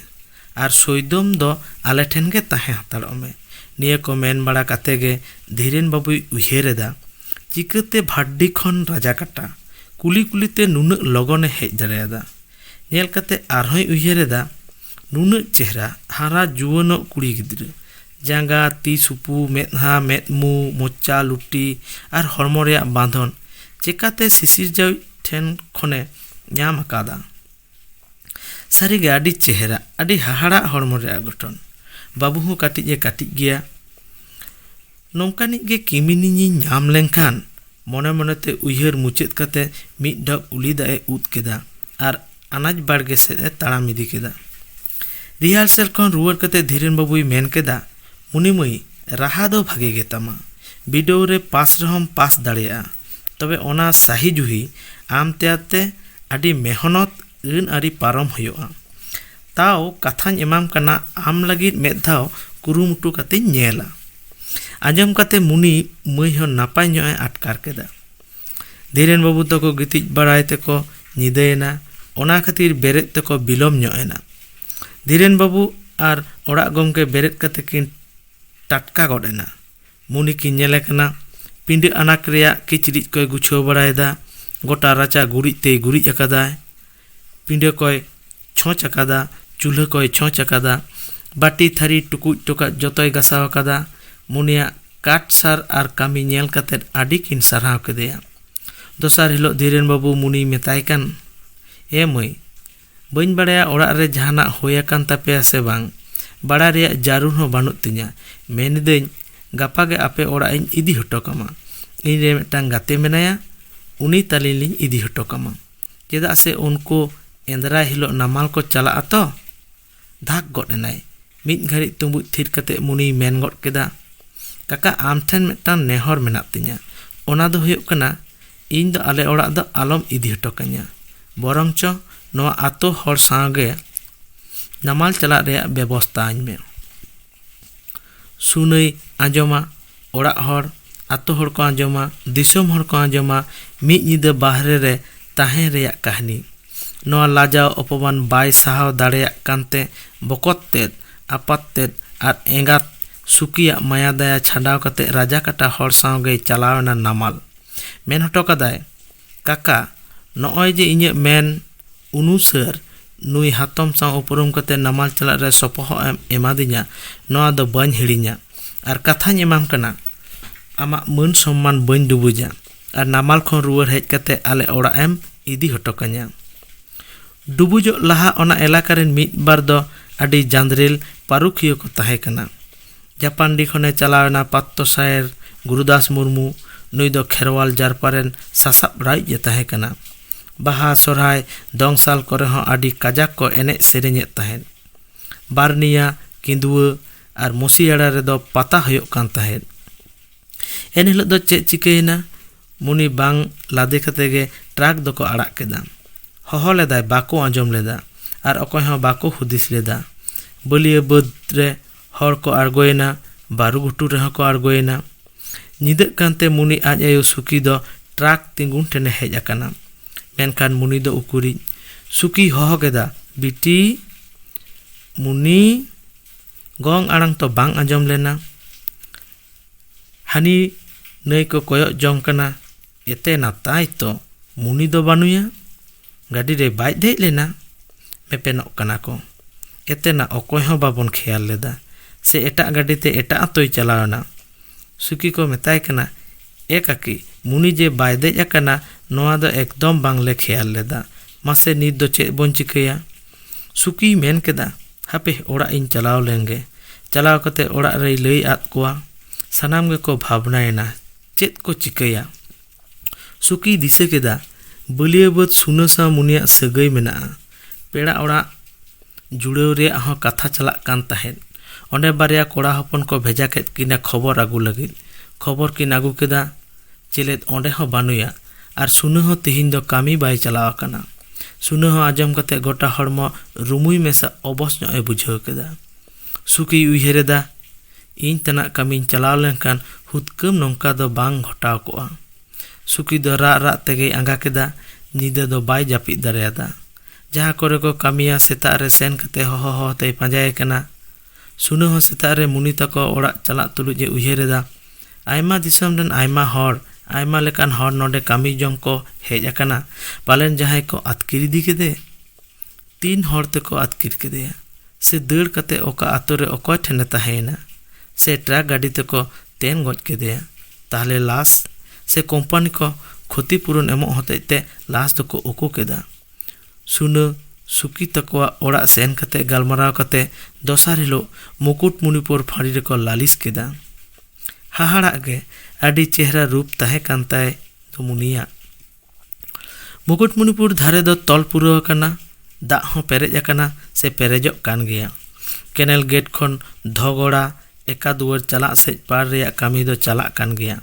ᱟᱨ ᱥᱚᱭᱫᱚᱢ ᱫᱚ ᱟᱞᱮ ᱴᱷᱮᱱ ᱜᱮ ᱛᱟᱦᱮᱸ ᱦᱟᱛᱟᱲᱚᱜ ᱢᱮ᱾ ᱱᱤᱭᱟᱹ ᱠᱚ ᱢᱮᱱ ᱵᱟᱲᱟ ᱠᱟᱛᱮ ᱜᱮ ᱫᱷᱤᱨᱮᱱ ᱵᱟᱹᱵᱩᱭ ᱩᱭᱦᱟᱹᱨ ᱮᱫᱟ, ᱪᱤᱠᱟᱹᱛᱮ ᱵᱷᱟᱰᱰᱤ ᱠᱷᱚᱱ ᱨᱟᱡᱟᱠᱟᱴᱟ ᱠᱩᱞᱤ ᱠᱩᱞᱤ ᱛᱮ ᱱᱩᱱᱟᱹᱜ ᱞᱚᱜᱚᱱ ᱮ ᱦᱮᱡ ᱫᱟᱲᱮᱭᱟᱫᱟ᱾ ᱧᱮᱞ ᱠᱟᱛᱮ ᱟᱨᱦᱚᱸᱭ ᱩᱭᱦᱟᱹᱨ ᱮᱫᱟ, ᱱᱩᱱᱟᱹᱜ ᱪᱮᱦᱨᱟ, ᱦᱟᱨᱟ ᱡᱩᱣᱟᱹᱱᱚᱜ ᱠᱩᱲᱤ ᱜᱤᱫᱽᱨᱟᱹ᱾ ᱡᱟᱸᱜᱟ, ᱛᱤ ᱥᱩᱯᱩ, ᱢᱮᱫᱦᱟ, ᱢᱮᱫ ᱢᱩ, ᱢᱚᱪᱟ, ᱞᱩᱴᱤ ᱟᱨ ᱦᱚᱲᱢᱚ ᱨᱮᱭᱟᱜ ᱵᱟᱸᱫᱷᱚᱱ ᱪᱮᱠᱟᱛᱮ ᱥᱤᱥᱤᱨᱡᱟᱣᱤᱡ ᱴᱷᱮᱱ ᱠᱷᱚᱱᱮ ᱧᱟᱢ ᱟᱠᱟᱫᱟ ᱥᱟᱹᱨᱤᱜᱮ ᱟᱹᱰᱤ ᱪᱮᱦᱨᱟ ᱟᱹᱰᱤ ᱦᱟᱦᱟᱲᱟᱜ ᱦᱚᱲᱢᱚ ᱨᱮᱭᱟᱜ ᱜᱚᱴᱷᱚᱱ ᱵᱟᱹᱵᱩ ᱦᱚᱸ ᱠᱟᱹᱴᱤᱡ ᱮ ᱠᱟᱹᱴᱤᱡ ᱜᱮᱭᱟ ᱱᱚᱝᱠᱟᱱᱤᱡ ᱜᱮ ᱠᱤᱢᱤᱱᱤᱧ ᱧᱟᱢ ᱞᱮᱱᱠᱷᱟᱱ ᱢᱚᱱᱮ ᱢᱚᱱᱮᱛᱮ ᱩᱭᱦᱟᱹᱨ ᱢᱩᱪᱟᱹᱫ ᱠᱟᱛᱮ ᱢᱤᱫ ᱰᱷᱚᱠ ᱩᱞᱤ ᱫᱟᱜ ᱮ ᱩᱫ ᱠᱮᱫᱟ ᱟᱨ ᱟᱱᱟᱡᱽ ᱵᱟᱲᱜᱮ ᱥᱮᱫ ᱮ ᱛᱟᱲᱟᱢ ᱤᱫᱤ ᱠᱮᱫᱟ ᱨᱤᱦᱟᱨᱥᱮᱞ ᱠᱷᱚᱱ ᱨᱩᱣᱟᱹᱲ ᱠᱟᱛᱮ ᱫᱷᱤᱨᱮᱱ ᱵᱟᱹᱵᱩᱭ ᱢᱮᱱ ᱠᱮᱫᱟ ᱩᱱᱤ ᱢᱟᱹᱭ ᱨᱟᱦᱟ ᱫᱚ ᱵᱷᱟᱜᱮ ᱜᱮᱛᱟᱢᱟ᱾ ᱵᱤᱰᱟᱹᱣ ᱨᱮ ᱯᱟᱥ ᱨᱮᱦᱚᱸᱢ ᱯᱟᱥ ᱫᱟᱲᱮᱭᱟᱜᱼᱟ᱾ ᱛᱚᱵᱮ ᱚᱱᱟ ᱥᱟᱦᱤ ᱡᱩᱦᱤ ᱟᱢ ᱛᱮᱭᱟᱨ ᱛᱮ ᱟᱹᱰᱤ ᱢᱮᱦᱚᱱᱚᱛ ᱟᱹᱱ ᱟᱹᱨᱤ ᱯᱟᱨᱚᱢ ᱦᱳᱭᱳᱜᱼᱟ᱾ ᱛᱟᱣ ᱠᱟᱛᱷᱟᱧ ᱮᱢᱟᱢ ᱠᱟᱱᱟ ᱟᱢ ᱞᱟᱹᱜᱤᱫ ᱢᱮᱫ ᱫᱷᱟᱣ ᱠᱩᱨᱩᱢᱩᱴᱩ ᱠᱟᱛᱮᱧ ᱧᱮᱞᱟ᱾ ᱟᱸᱡᱚᱢ ᱠᱟᱛᱮ ᱢᱩᱱᱤ ᱢᱟᱹᱭ ᱦᱚᱸ ᱱᱟᱯᱟᱭ ᱧᱚᱜ ᱮ ᱟᱴᱠᱟᱨ ᱠᱮᱫᱟ᱾ ᱫᱷᱤᱨᱮᱱ ᱵᱟᱹᱵᱩ ᱛᱟᱠᱚ ᱜᱤᱛᱤᱡ ᱵᱟᱲᱟᱭ ᱛᱮᱠᱚ ᱧᱤᱫᱟᱹᱭᱮᱱᱟ ᱚᱱᱟ ᱠᱷᱟᱹᱛᱤᱨ ᱵᱮᱨᱮᱫ ᱛᱮᱠᱚ ᱵᱤᱞᱚᱢ ᱧᱚᱜ ᱮᱱᱟ ᱫᱷᱤᱨᱮᱱ ᱵᱟᱹᱵᱩ ᱟᱨ ᱚᱲᱟᱜ ᱜᱚᱢᱠᱮ ᱵᱮᱨᱮᱫ ᱠᱟᱛᱮ ᱠᱤᱱ ᱴᱟᱴᱠᱟ ᱜᱚᱫ ᱮᱱᱟ ᱢᱩᱱᱤ ᱠᱤᱱ ᱧᱮᱞᱮ ᱠᱟᱱᱟ ᱯᱤᱰᱟᱹ ᱟᱱᱟᱴ ᱨᱮᱭᱟᱜ ᱠᱤᱪᱨᱤᱡ ᱠᱚᱭ ᱜᱩᱪᱷᱟᱹᱣ ᱵᱟᱲᱟᱭᱮᱫᱟ ᱜᱚᱴᱟ ᱨᱟᱪᱟ ᱜᱩᱨᱤᱡ ᱛᱮᱭ ᱜᱩᱨᱤᱡ ᱟᱠᱟᱫᱟᱭ ᱯᱤᱸᱰᱟᱹ ᱠᱚᱭ ᱪᱷᱚᱸᱪ ᱟᱠᱟᱫᱟ ᱪᱩᱞᱦᱟᱹ ᱠᱚᱭ ᱪᱷᱚᱸᱪ ᱟᱠᱟᱫᱟ ᱵᱟᱹᱴᱤ ᱛᱷᱟᱹᱨᱤ ᱴᱩᱠᱩᱡ ᱴᱚᱠᱟᱡ ᱡᱚᱛᱚᱭ ᱜᱟᱥᱟᱣ ᱟᱠᱟᱫᱟ ᱢᱩᱱᱤᱭᱟᱜ ᱠᱟᱴ ᱥᱟᱨ ᱟᱨ ᱠᱟᱹᱢᱤ ᱧᱮᱞ ᱠᱟᱛᱮ ᱟᱹᱰᱤ ᱠᱤᱱ ᱥᱟᱨᱦᱟᱣ ᱠᱮᱫᱮᱭᱟ ᱫᱚᱥᱟᱨ ᱦᱤᱞᱳᱜ ᱫᱷᱤᱨᱮᱱ ᱵᱟᱹᱵᱩ ᱢᱩᱱᱤᱭ ᱢᱮᱛᱟᱭ ᱠᱟᱱ ᱮ ᱢᱟᱹᱭ ᱵᱟᱹᱧ ᱵᱟᱲᱟᱭᱟ ᱚᱲᱟᱜ ᱨᱮ ᱡᱟᱦᱟᱱᱟᱜ ᱦᱩᱭ ᱟᱠᱟᱱ ᱛᱟᱯᱮᱭᱟ ᱥᱮ ᱵᱟᱝ ᱵᱟᱲᱟᱭ ᱨᱮᱭᱟᱜ ᱡᱟᱹᱨᱩᱲ ᱦᱚᱸ ᱵᱟᱹᱱᱩᱜ ᱛᱤᱧᱟᱹ ᱢᱮᱱ ᱮᱫᱟᱹᱧ ᱜᱟᱯᱟ ᱜᱮ ᱟᱯᱮ ᱚᱲᱟᱜ ᱤᱧ ᱤᱫᱤ ᱦᱚᱴᱚ ᱠᱟᱢᱟ ᱤᱧ ᱨᱮᱱ ᱢᱤᱫᱴᱟᱝ ᱜᱟᱛᱮ ᱢᱮᱱᱟᱭᱟ ᱩᱱᱤ ᱛᱟᱹᱞᱤᱧ ᱞᱤᱧ ᱤᱫᱤ ᱦᱚᱴᱚ ᱠᱟᱢᱟ ᱪᱮᱫᱟᱜ ᱥᱮ ᱩᱱᱠᱩ ᱮᱸᱫᱽᱨᱟᱭ ᱦᱤᱞᱳᱜ ᱱᱟᱢᱟᱞ ᱠᱚ ᱪᱟᱞᱟᱜ ᱟᱛᱚ ᱫᱷᱟᱠ ᱜᱚᱫ ᱮᱱᱟᱭ ᱢᱤᱫ ᱜᱷᱟᱹᱲᱤᱡ ᱛᱩᱸᱵᱩᱡ ᱛᱷᱤᱨ ᱠᱟᱛᱮ ᱢᱩᱱᱤᱭ ᱢᱮᱱ ᱜᱚᱫ ᱠᱮᱫᱟ ᱠᱟᱠᱟ ᱟᱢ ᱴᱷᱮᱱ ᱢᱤᱫᱴᱟᱝ ᱱᱮᱦᱚᱨ ᱢᱮᱱᱟᱜ ᱛᱤᱧᱟ ᱚᱱᱟ ᱫᱚ ᱦᱩᱭᱩᱜ ᱠᱟᱱᱟ ᱤᱧ ᱫᱚ ᱟᱞᱮ ᱚᱲᱟᱜ ᱫᱚ ᱟᱞᱚᱢ ᱤᱫᱤ ᱦᱚᱴᱚ ᱠᱟᱹᱧᱟ ᱵᱚᱨᱚᱝ ᱪᱚ ᱱᱚᱣᱟ ᱟᱛᱳ ᱦᱚᱲ ᱥᱟᱶᱜᱮ ᱱᱟᱢᱟᱞ ᱪᱟᱞᱟᱜ ᱨᱮᱭᱟᱜ ᱵᱮᱵᱚᱥᱛᱷᱟ ᱟᱹᱧ ᱢᱮ ᱥᱩᱱᱟᱹᱭ ᱟᱸᱡᱚᱢᱟ ᱚᱲᱟᱜ ᱦᱚᱲ ᱟᱛᱳ ᱦᱚᱲ ᱠᱚ ᱟᱸᱡᱚᱢᱟ ᱫᱤᱥᱚᱢ ᱦᱚᱲ ᱠᱚ ᱟᱸᱡᱚᱢᱟ ᱢᱤᱫ ᱧᱤᱫᱟᱹ ᱵᱟᱦᱨᱮ ᱨᱮ ᱛᱟᱦᱮᱸ ᱨᱮᱭᱟᱜ ᱠᱟᱹᱦᱱᱤ ᱱᱚᱣᱟ ᱞᱟᱡᱟᱣ ᱚᱯᱚᱢᱟᱱ ᱵᱟᱭ ᱥᱟᱦᱟᱣ ᱫᱟᱲᱮᱭᱟᱜ ᱠᱟᱱᱛᱮ ᱵᱚᱠᱚᱛ ᱛᱮᱫ ᱟᱯᱟᱛ ᱛᱮᱫ ᱟᱨ ᱮᱸᱜᱟᱛ ᱥᱩᱠᱤᱭᱟᱜ ᱢᱟᱭᱟ ᱫᱟᱭᱟ ᱪᱷᱟᱰᱟᱣ ᱠᱟᱛᱮ ᱨᱟᱡᱟ ᱠᱟᱴᱟ ᱦᱚᱲ ᱥᱟᱶ ᱜᱮᱭ ᱪᱟᱞᱟᱣ ᱮᱱᱟ ᱱᱟᱢᱟᱞ ᱢᱮᱱ ᱦᱚᱴᱚ ᱠᱟᱫᱟᱭ ᱠᱟᱠᱟ ᱱᱚᱜᱼᱚᱭ ᱡᱮ ᱤᱧᱟᱹᱜ ᱢᱮᱱ ᱩᱱᱩᱥᱟᱹᱨ ᱱᱩᱭ ᱦᱟᱛᱚᱢ ᱥᱟᱶ ᱩᱯᱨᱩᱢ ᱠᱟᱛᱮ ᱱᱟᱢᱟᱞ ᱪᱟᱞᱟᱜ ᱨᱮ ᱥᱚᱯᱚᱦᱚᱫ ᱮᱢ ᱮᱢᱟᱫᱤᱧᱟ ᱱᱚᱶᱟ ᱫᱚ ᱵᱟᱹᱧ ᱦᱤᱲᱤᱧᱟ ᱟᱨ ᱠᱟᱛᱷᱟᱧ ᱮᱢᱟᱢ ᱠᱟᱱᱟ ᱟᱢᱟᱜ ᱢᱟᱹᱱ ᱥᱚᱢᱢᱟᱱ ᱵᱟᱹᱧ ᱰᱩᱵᱩᱡᱟ ᱟᱨ ᱱᱟᱢᱟᱞ ᱠᱷᱚᱱ ᱨᱩᱣᱟᱹᱲ ᱦᱮᱡ ᱠᱟᱛᱮ ᱟᱞᱮ ᱚᱲᱟᱜ ᱮᱢ ᱤᱫᱤ ᱦᱚᱴᱚ ᱠᱟᱹᱧᱟ ᱰᱩᱵᱩᱡᱚᱜ ᱞᱟᱦᱟ ᱚᱱᱟ ᱮᱞᱟᱠᱟ ᱨᱮᱱ ᱢᱤᱫ ᱵᱟᱨ ᱫᱚ ᱟᱹᱰᱤ ᱡᱟᱸᱫᱽᱨᱮᱞ ᱯᱟᱹᱨᱩᱠᱷᱤᱭᱟᱹ ᱠᱚ ᱛᱟᱦᱮᱸ ᱠᱟᱱᱟ ᱡᱟᱯᱟᱱᱰᱤ ᱠᱷᱚᱱ ᱮ ᱪᱟᱞᱟᱣ ᱮᱱᱟ ᱯᱟᱛᱛᱚ ᱥᱟᱭᱮᱨ ᱜᱩᱨᱩᱫᱟᱥ ᱢᱩᱨᱢᱩ᱾ ᱱᱩᱭ ᱫᱚ ᱠᱷᱮᱨᱣᱟᱞ ᱡᱟᱨᱯᱟ ᱨᱮᱱ ᱥᱟᱥᱟᱯᱲᱟᱣᱤᱡ ᱮ ᱛᱟᱦᱮᱸ ᱠᱟᱱᱟ᱾ ᱵᱟᱦᱟ, ᱥᱚᱨᱦᱟᱭ, ᱫᱚᱝ ᱥᱟᱞ ᱠᱚᱨᱮ ᱦᱚᱸ ᱟᱹᱰᱤ ᱠᱟᱡᱟᱠ ᱠᱚ ᱮᱱᱮᱡ ᱥᱮᱨᱮᱧ ᱮᱫ ᱛᱟᱦᱮᱸᱫ᱾ ᱵᱟᱨᱱᱤᱭᱟ, ᱠᱤᱸᱫᱩᱣᱟᱹ ᱟᱨ ᱢᱩᱥᱤᱭᱟᱲᱟ ᱨᱮ ᱫᱚ ᱯᱟᱛᱟ ᱦᱳᱭᱳᱜ ᱠᱟᱱ ᱛᱟᱦᱮᱸᱫ᱾ ᱮᱱ ᱦᱤᱞᱳᱜ ᱫᱚ ᱪᱮᱫ ᱪᱤᱠᱟᱹᱭᱮᱱᱟ? ᱢᱩᱱᱤ ᱵᱟᱝ ᱞᱟᱫᱮ ᱠᱟᱛᱮ ᱜᱮ ᱴᱨᱟᱠ ᱫᱚᱠᱚ ᱟᱲᱟᱜ ᱠᱮᱫᱟ᱾ ᱦᱚᱦᱚ ᱞᱮᱫᱟᱭ ᱵᱟᱠᱚ ᱟᱸᱡᱚᱢ ᱞᱮᱫᱟ ᱟᱨ ᱚᱠᱚᱭ ᱦᱚᱸ ᱵᱟᱠᱚ ᱦᱩᱫᱤᱥ ᱞᱮᱫᱟ᱾ ᱵᱟᱹᱞᱤᱭᱟᱹ ᱵᱟᱹᱫᱽ ᱨᱮ ᱦᱚᱲ ᱠᱚ ᱟᱬᱜᱚᱭᱮᱱᱟ, ᱵᱟᱹᱨᱩ ᱜᱷᱩᱴᱩ ᱨᱮᱦᱚᱸ ᱠᱚ ᱟᱬᱜᱚᱭᱮᱱᱟ᱾ ᱧᱤᱫᱟᱹᱜ ᱠᱟᱱᱛᱮ ᱢᱩᱱᱤ ᱟᱡ ᱟᱭᱳ ᱥᱩᱠᱤ ᱫᱚ ᱴᱨᱟᱠ ᱛᱤᱸᱜᱩᱱ ᱴᱷᱮᱱᱮ ᱦᱮᱡ ᱟᱠᱟᱱᱟ᱾ ᱢᱮᱱᱠᱷᱟᱱ ᱢᱩᱱᱤ ᱫᱚ ᱩᱠᱩᱨᱤᱡ᱾ ᱥᱩᱠᱤᱭ ᱦᱚᱦᱚ ᱠᱮᱫᱟ, ᱵᱤᱴᱤ᱾ ᱢᱩᱱᱤ᱾ ᱜᱚᱝ ᱟᱲᱟᱝ ᱛᱚ ᱵᱟᱝ ᱟᱸᱡᱚᱢ ᱞᱮᱱᱟ᱾ ᱦᱟᱹᱱᱤ ᱱᱟᱹᱭ ᱠᱚ ᱠᱚᱭᱚᱜ ᱡᱚᱝ ᱠᱟᱱᱟ ᱮᱛᱮ ᱱᱟᱛᱟᱭ ᱛᱚ ᱢᱩᱱᱤ ᱫᱚ ᱵᱟᱹᱱᱩᱭᱟ ᱜᱟᱹᱰᱤ ᱨᱮ ᱵᱟᱭ ᱫᱮᱡ ᱞᱮᱱᱟ ᱢᱮᱯᱮᱱᱚᱜ ᱠᱟᱱᱟ ᱠᱚ ᱮᱛᱮᱱᱟ ᱚᱠᱚᱭ ᱦᱚᱸ ᱵᱟᱵᱚᱱ ᱠᱷᱮᱭᱟᱞ ᱞᱮᱫᱟ ᱥᱮ ᱮᱴᱟᱜ ᱜᱟᱹᱰᱤ ᱛᱮ ᱮᱴᱟᱜ ᱟᱛᱳᱭ ᱪᱟᱞᱟᱣ ᱮᱱᱟ ᱥᱩᱠᱤ ᱠᱚ ᱢᱮᱛᱟᱭ ᱠᱟᱱᱟ ᱮ ᱠᱟᱹᱠᱤ ᱢᱩᱱᱤ ᱡᱮ ᱵᱟᱭ ᱫᱮᱡ ᱟᱠᱟᱱᱟ ᱱᱚᱣᱟ ᱫᱚ ᱮᱠᱫᱚᱢ ᱵᱟᱝᱞᱮ ᱠᱷᱮᱭᱟᱞ ᱞᱮᱫᱟ ᱢᱟᱥᱮ ᱱᱤᱛ ᱫᱚ ᱪᱮᱫ ᱵᱚᱱ ᱪᱤᱠᱟᱹᱭᱟ ᱥᱩᱠᱤᱭ ᱢᱮᱱ ᱠᱮᱫᱟ ᱦᱟᱯᱮ ᱚᱲᱟᱜ ᱤᱧ ᱪᱟᱞᱟᱣ ᱞᱮᱱᱜᱮ ᱪᱟᱞᱟᱣ ᱠᱟᱛᱮ ᱚᱲᱟᱜ ᱨᱮᱭ ᱞᱟᱹᱭ ᱟᱫ ᱠᱚᱣᱟ ᱥᱟᱱᱟᱢ ᱜᱮᱠᱚ ᱵᱷᱟᱵᱽᱱᱟᱭᱮᱱᱟ ᱪᱮᱫ ᱠᱚ ᱪᱤᱠᱟᱹᱭᱟ ᱥᱩᱠᱤᱭ ᱫᱤᱥᱟᱹ ᱠᱮᱫᱟ ᱵᱟᱹᱞᱭᱟᱹ ᱵᱟᱹᱫᱽ ᱥᱩᱱᱟᱹ ᱥᱟᱶ ᱢᱩᱱᱤᱭᱟᱜ ᱥᱟᱹᱜᱟᱹᱭ ᱢᱮᱱᱟᱜᱼᱟ ᱯᱮᱲᱟ ᱚᱲᱟᱜ ᱡᱩᱲᱟᱹᱣ ᱨᱮᱭᱟᱜ ᱦᱚᱸ ᱠᱟᱛᱷᱟ ᱪᱟᱞᱟᱜ ᱠᱟᱱ ᱛᱟᱦᱮᱸᱫ ᱚᱸᱰᱮ ᱵᱟᱨᱭᱟ ᱠᱚᱲᱟ ᱦᱚᱯᱚᱱ ᱠᱚ ᱵᱷᱮᱡᱟ ᱠᱮᱫ ᱠᱤᱱᱟ ᱠᱷᱚᱵᱚᱨ ᱟᱹᱜᱩ ᱞᱟᱹᱜᱤᱫ ᱠᱷᱚᱵᱚᱨ ᱠᱤᱱ ᱟᱹᱜᱩ ᱠᱮᱫᱟ ᱪᱮᱞᱮᱫ ᱚᱸᱰᱮ ᱦᱚᱸ ᱵᱟᱹᱱᱩᱭᱟ ᱟᱨ ᱥᱩᱱᱟᱹ ᱦᱚᱸ ᱛᱤᱦᱤᱧ ᱫᱚ ᱠᱟᱹᱢᱤ ᱵᱟᱭ ᱪᱟᱞᱟᱣ ᱟᱠᱟᱱᱟ᱾ ᱥᱩᱱᱟᱹ ᱦᱚᱸ ᱟᱸᱡᱚᱢ ᱠᱟᱛᱮ ᱜᱚᱴᱟ ᱦᱚᱲᱢᱚ ᱨᱩᱢᱩᱭ ᱢᱮᱥᱟ ᱚᱵᱚᱥ ᱧᱚᱜ ᱮ ᱵᱩᱡᱷᱟᱹᱣ ᱠᱮᱫᱟ᱾ ᱥᱩᱠᱤᱭ ᱩᱭᱦᱟᱹᱨ ᱮᱫᱟ, ᱤᱧ ᱛᱟᱱᱟᱜ ᱠᱟᱹᱢᱤᱧ ᱪᱟᱞᱟᱣ ᱞᱮᱱᱠᱷᱟᱱ ᱦᱩᱫᱠᱟᱹᱢ ᱱᱚᱝᱠᱟ ᱫᱚ ᱵᱟᱝ ᱜᱷᱚᱴᱟᱣ ᱠᱚᱜᱼᱟ᱾ ᱥᱩᱠᱤ ᱫᱚ ᱨᱟᱜ ᱨᱟᱜ ᱛᱮᱜᱮᱭ ᱟᱸᱜᱟ ᱠᱮᱫᱟ᱾ ᱧᱤᱫᱟᱹ ᱫᱚ ᱵᱟᱭ ᱡᱟᱹᱯᱤᱫ ᱫᱟᱲᱮᱭᱟᱫᱟ᱾ ᱡᱟᱦᱟᱸ ᱠᱚᱨᱮ ᱠᱚ ᱠᱟᱹᱢᱤᱭᱟ ᱥᱮᱛᱟᱜ ᱨᱮ ᱥᱮᱱ ᱠᱟᱛᱮ ᱦᱚᱦᱚ ᱦᱚᱦᱚ ᱛᱮᱭ ᱯᱟᱸᱡᱟᱭᱮ ᱠᱟᱱᱟ᱾ ᱥᱩᱱᱟᱹ ᱦᱚᱸ ᱥᱮᱛᱟᱜ ᱨᱮ ᱢᱩᱱᱤ ᱛᱟᱠᱚ ᱚᱲᱟᱜ ᱪᱟᱞᱟᱜ ᱛᱩᱞᱩᱡ ᱮ ᱩᱭᱦᱟᱹᱨ ᱮᱫᱟ, ᱟᱭᱢᱟ ᱫᱤᱥᱚᱢ ᱨᱮᱱ ᱟᱭᱢᱟ ᱦᱚᱲ, ᱟᱭᱢᱟ ᱞᱮᱠᱟᱱ ᱦᱚᱲ ᱱᱚᱰᱮ ᱠᱟᱹᱢᱤ ᱡᱚᱝ ᱠᱚ ᱦᱮᱡ ᱟᱠᱟᱱᱟ᱾ ᱯᱟᱞᱮᱱ ᱡᱟᱦᱟᱸᱭ ᱠᱚ ᱟᱹᱛᱠᱤᱨ ᱤᱫᱤ ᱠᱮᱫᱮ᱾ ᱛᱤᱱ ᱦᱚᱲ ᱛᱮᱠᱚ ᱟᱹᱛᱠᱤᱨ ᱠᱮᱫᱮᱭᱟ? ᱥᱮ ᱫᱟᱹᱲ ᱠᱟᱛᱮ ᱚᱠᱟ ᱟᱹᱛᱩ ᱨᱮ ᱚᱠᱚᱭ ᱴᱷᱮᱱ ᱮ ᱛᱟᱦᱮᱸ ᱮᱱᱟ? ᱥᱮ ᱴᱨᱟᱠ ᱜᱟᱹᱰᱤ ᱛᱮᱠᱚ ᱛᱮᱱ ᱜᱚᱡ ᱠᱮᱫᱮᱭᱟ? ᱛᱟᱦᱞᱮ ᱞᱟᱥ? ᱥᱮ ᱠᱚᱢᱯᱟᱹᱱᱤ ᱠᱚ ᱠᱷᱚᱛᱤ ᱯᱩᱨᱩᱱ ᱮᱢᱚᱜ ᱦᱚᱛᱮᱡ ᱛᱮ ᱞᱟᱥ ᱫᱚᱠᱚ ᱩᱠᱩ ᱠᱮᱫᱟ? ᱥᱩᱱᱟᱹ ᱥᱩᱠᱤ ᱛᱟᱠᱚᱣᱟᱜ ᱚᱲᱟᱜ ᱥᱮᱱ ᱠᱟᱛᱮ ᱜᱟᱞᱢᱟᱨᱟᱣ ᱠᱟᱛᱮ ᱫᱚᱥᱟᱨ ᱦᱤᱞᱚᱜ ᱢᱩᱠᱩᱴᱢᱩᱱᱤᱯᱩᱨ ᱯᱷᱟᱹᱲᱤ ᱨᱮᱠᱚ ᱞᱟᱹᱞᱤᱥ ᱠᱮᱫᱟ᱾ ᱦᱟᱦᱟᱲᱟᱜ ᱜᱮ ᱟᱹᱰᱤ ᱪᱮᱦᱨᱟ ᱨᱩᱯ ᱛᱟᱦᱮᱸ ᱠᱟᱱ ᱛᱟᱭ ᱫᱚᱢᱩᱱᱤᱭᱟᱜ᱾ ᱢᱩᱠᱩᱴᱢᱩᱱᱤᱯᱩᱨ ᱫᱷᱟᱨᱮ ᱫᱚ ᱛᱚᱞ ᱯᱩᱨᱟᱹᱣ ᱟᱠᱟᱱᱟ, ᱫᱟᱜ ᱦᱚᱸ ᱯᱮᱨᱮᱡ ᱟᱠᱟᱱᱟ ᱥᱮ ᱯᱮᱨᱮᱡᱚᱜ ᱠᱟᱱ ᱜᱮᱭᱟ᱾ ᱠᱮᱱᱮᱞ ᱜᱮᱴ ᱠᱷᱚᱱ ᱫᱷᱚᱜᱚᱲᱟ ᱮᱠᱟ ᱫᱩᱣᱟᱹᱨ ᱪᱟᱞᱟᱜ ᱥᱮᱡ ᱯᱟᱲ ᱨᱮᱭᱟᱜ ᱠᱟᱹᱢᱤ ᱫᱚ ᱪᱟᱞᱟᱜ ᱠᱟᱱ ᱜᱮᱭᱟ᱾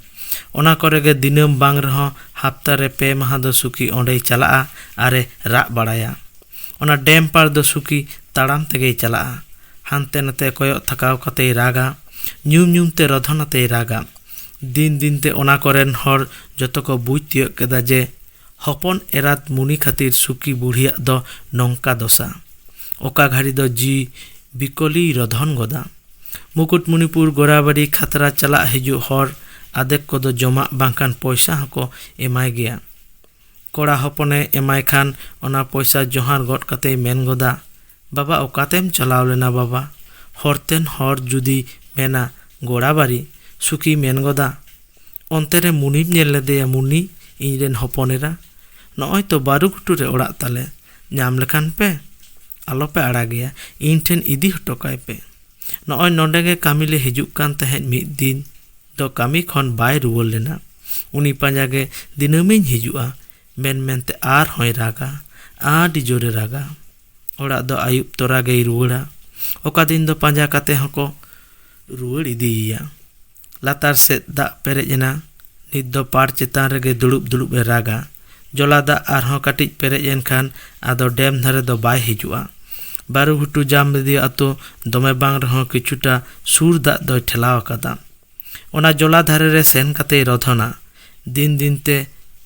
ᱚᱱᱟ ᱠᱚᱨᱮ ᱜᱮ ᱫᱤᱱᱟᱹᱢ ᱵᱟᱝ ᱨᱮᱦᱚᱸ ᱦᱟᱯᱛᱟ ᱨᱮ ᱯᱮ ᱢᱟᱦᱟᱸ ᱫᱚ ᱥᱩᱠᱤ ᱚᱸᱰᱮᱭ ᱪᱟᱞᱟᱜᱼᱟ ᱟᱨ ᱮ ᱨᱟᱜ ᱵᱟᱲᱟᱭᱟ᱾ ᱚᱱᱟ ᱰᱮᱢ ᱯᱟᱲ ᱫᱚ ᱥᱩᱠᱤ ᱛᱟᱲᱟᱢ ᱛᱮᱜᱮᱭ ᱪᱟᱞᱟᱜᱼᱟ᱾ ᱦᱟᱱᱛᱮ ᱱᱟᱛᱮ ᱠᱚᱭᱚᱜ ᱛᱷᱟᱠᱟᱣ ᱠᱟᱛᱮᱭ ᱨᱟᱜᱟ᱾ ᱧᱩᱢ ᱧᱩᱢ ᱛᱮ ᱨᱚᱫᱷᱚᱱ ᱟᱛᱮᱭ ᱨᱟᱜᱟ᱾ ᱫᱤᱱ ᱫᱤᱱ ᱛᱮ ᱚᱱᱟ ᱠᱚᱨᱮᱱ ᱦᱚᱲ ᱡᱚᱛᱚ ᱠᱚ ᱵᱩᱡᱽ ᱛᱤᱭᱟᱹᱜ ᱠᱮᱫᱟ ᱡᱮ ᱦᱚᱯᱚᱱ ᱮᱨᱟᱛ ᱢᱩᱱᱤ ᱠᱷᱟᱹᱛᱤᱨ ᱥᱩᱠᱤ ᱵᱩᱲᱦᱤᱭᱟᱜ ᱫᱚ ᱱᱚᱝᱠᱟ ᱫᱚᱥᱟ᱾ ᱚᱠᱟ ᱜᱷᱟᱹᱲᱤ ᱫᱚ ᱡᱤᱣᱤ ᱵᱤᱠᱚᱞᱤᱭ ᱨᱚᱫᱷᱚᱱ ᱜᱚᱫᱟ᱾ ᱢᱩᱠᱩᱴᱢᱩᱱᱤᱯᱩᱨ ᱜᱚᱨᱟᱵᱟᱹᱨᱤ ᱠᱷᱟᱛᱨᱟ ᱪᱟᱞᱟᱜ ᱦᱤᱡᱩᱜ ᱦᱚᱲ ᱟᱫᱷᱮᱠ ᱠᱚᱫᱚ ᱡᱚᱢᱟᱜ ᱵᱟᱝᱠᱷᱟᱱ ᱯᱚᱭᱥᱟ ᱦᱚᱸᱠᱚ ᱮᱢᱟᱭ ᱜᱮᱭᱟ᱾ ᱠᱚᱲᱟ ᱦᱚᱯᱚᱱᱮ ᱮᱢᱟᱭ ᱠᱷᱟᱱ ᱚᱱᱟ ᱯᱚᱭᱥᱟ ᱡᱚᱦᱟᱨ ᱜᱚᱫ ᱠᱟᱛᱮᱭ ᱢᱮᱱ ᱜᱚᱫᱟ, ᱵᱟᱵᱟ ᱚᱠᱟᱛᱮᱢ ᱪᱟᱞᱟᱣ ᱞᱮᱱᱟ ᱵᱟᱵᱟ? ᱦᱚᱨᱛᱮᱱ ᱦᱚᱲ ᱡᱩᱫᱤᱭ ᱢᱮᱱᱟ ᱜᱚᱲᱟᱵᱟᱨᱤ, ᱥᱩᱠᱤᱭ ᱢᱮᱱ ᱜᱚᱫᱟ, ᱚᱱᱛᱮ ᱨᱮ ᱢᱩᱱᱤᱢ ᱧᱮᱞ ᱞᱮᱫᱮᱭᱟ ᱢᱩᱱᱤ, ᱤᱧ ᱨᱮᱱ ᱦᱚᱯᱚᱱ ᱮᱨᱟ? ᱱᱚᱜᱼᱚᱭ ᱛᱚ ᱵᱟᱹᱨᱩ ᱜᱷᱩᱴᱩ ᱨᱮ ᱚᱲᱟᱜ ᱛᱟᱞᱮ, ᱧᱟᱢ ᱞᱮᱠᱷᱟᱱ ᱯᱮ᱾ ᱟᱞᱚ ᱯᱮ ᱟᱲᱟᱜᱮᱭᱟ, ᱤᱧ ᱴᱷᱮᱱ ᱤᱫᱤ ᱦᱚᱴᱚ ᱠᱟᱭ ᱯᱮ᱾ ᱱᱚᱜᱼᱚᱭ ᱱᱚᱸᱰᱮ ᱜᱮ ᱠᱟᱹᱢᱤ ᱞᱮ ᱦᱤᱡᱩᱜ ᱠᱟᱱ ᱛᱟᱦᱮᱸᱫ ᱢᱤᱫ ᱫᱤᱱ ᱫᱚ ᱠᱟᱹᱢᱤ ᱠᱷᱚᱱ ᱵᱟᱭ ᱨᱩᱣᱟᱹᱲ ᱞᱮᱱᱟ᱾ ᱩᱱᱤ ᱯᱟᱸᱡᱟ ᱜᱮ ᱫᱤᱱᱟᱹᱢᱤᱧ ᱦᱤᱡᱩᱜᱼᱟ᱾ ᱢᱮᱱ ᱢᱮᱱᱛᱮ ᱟᱨ ᱦᱚᱸᱭ ᱨᱟᱜᱟ᱾ ᱟᱹᱰᱤ ᱡᱳᱨᱮ ᱨᱟᱜᱟ᱾ ᱚᱲᱟᱜ ᱫᱚ ᱟᱹᱭᱩᱵ ᱛᱚᱨᱟ ᱜᱮᱭ ᱨᱩᱣᱟᱹᱲᱟ ᱚᱠᱟ ᱫᱤᱱ ᱫᱚ ᱯᱟᱸᱡᱟ ᱠᱟᱛᱮ ᱦᱚᱸᱠᱚ ᱨᱩᱣᱟᱹᱲ ᱤᱫᱤᱭᱮᱭᱟ ᱞᱟᱛᱟᱨ ᱥᱮᱫ ᱫᱟᱜ ᱯᱮᱨᱮᱡ ᱮᱱᱟ ᱱᱤᱛ ᱫᱚ ᱯᱟᱲ ᱪᱮᱛᱟᱱ ᱨᱮᱜᱮ ᱫᱩᱲᱩᱵ ᱫᱩᱲᱩᱵ ᱮ ᱨᱟᱜᱟ ᱡᱚᱞᱟ ᱫᱟᱜ ᱟᱨᱦᱚᱸ ᱠᱟᱹᱴᱤᱡ ᱯᱮᱨᱮᱡ ᱮᱱᱠᱷᱟᱱ ᱟᱫᱚ ᱰᱮᱢ ᱫᱷᱟᱨᱮ ᱫᱚ ᱵᱟᱭ ᱦᱤᱡᱩᱜᱼᱟ ᱵᱟᱹᱨᱩ ᱜᱷᱩᱴᱩ ᱡᱟᱢᱵᱮᱫᱤᱭᱟᱹ ᱟᱛᱳ ᱫᱚᱢᱮ ᱵᱟᱝ ᱨᱮᱦᱚᱸ ᱠᱤᱪᱷᱩᱴᱟ ᱥᱩᱨ ᱫᱟᱜ ᱫᱚᱭ ᱴᱷᱮᱞᱟᱣ ᱟᱠᱟᱫᱟ ᱚᱱᱟ ᱡᱚᱞᱟ ᱫᱷᱟᱨᱮ ᱨᱮ ᱥᱮᱱ ᱠᱟᱛᱮᱭ ᱨᱚᱫᱷᱚᱱᱟ ᱫᱤᱱ ᱫᱤᱱᱛᱮ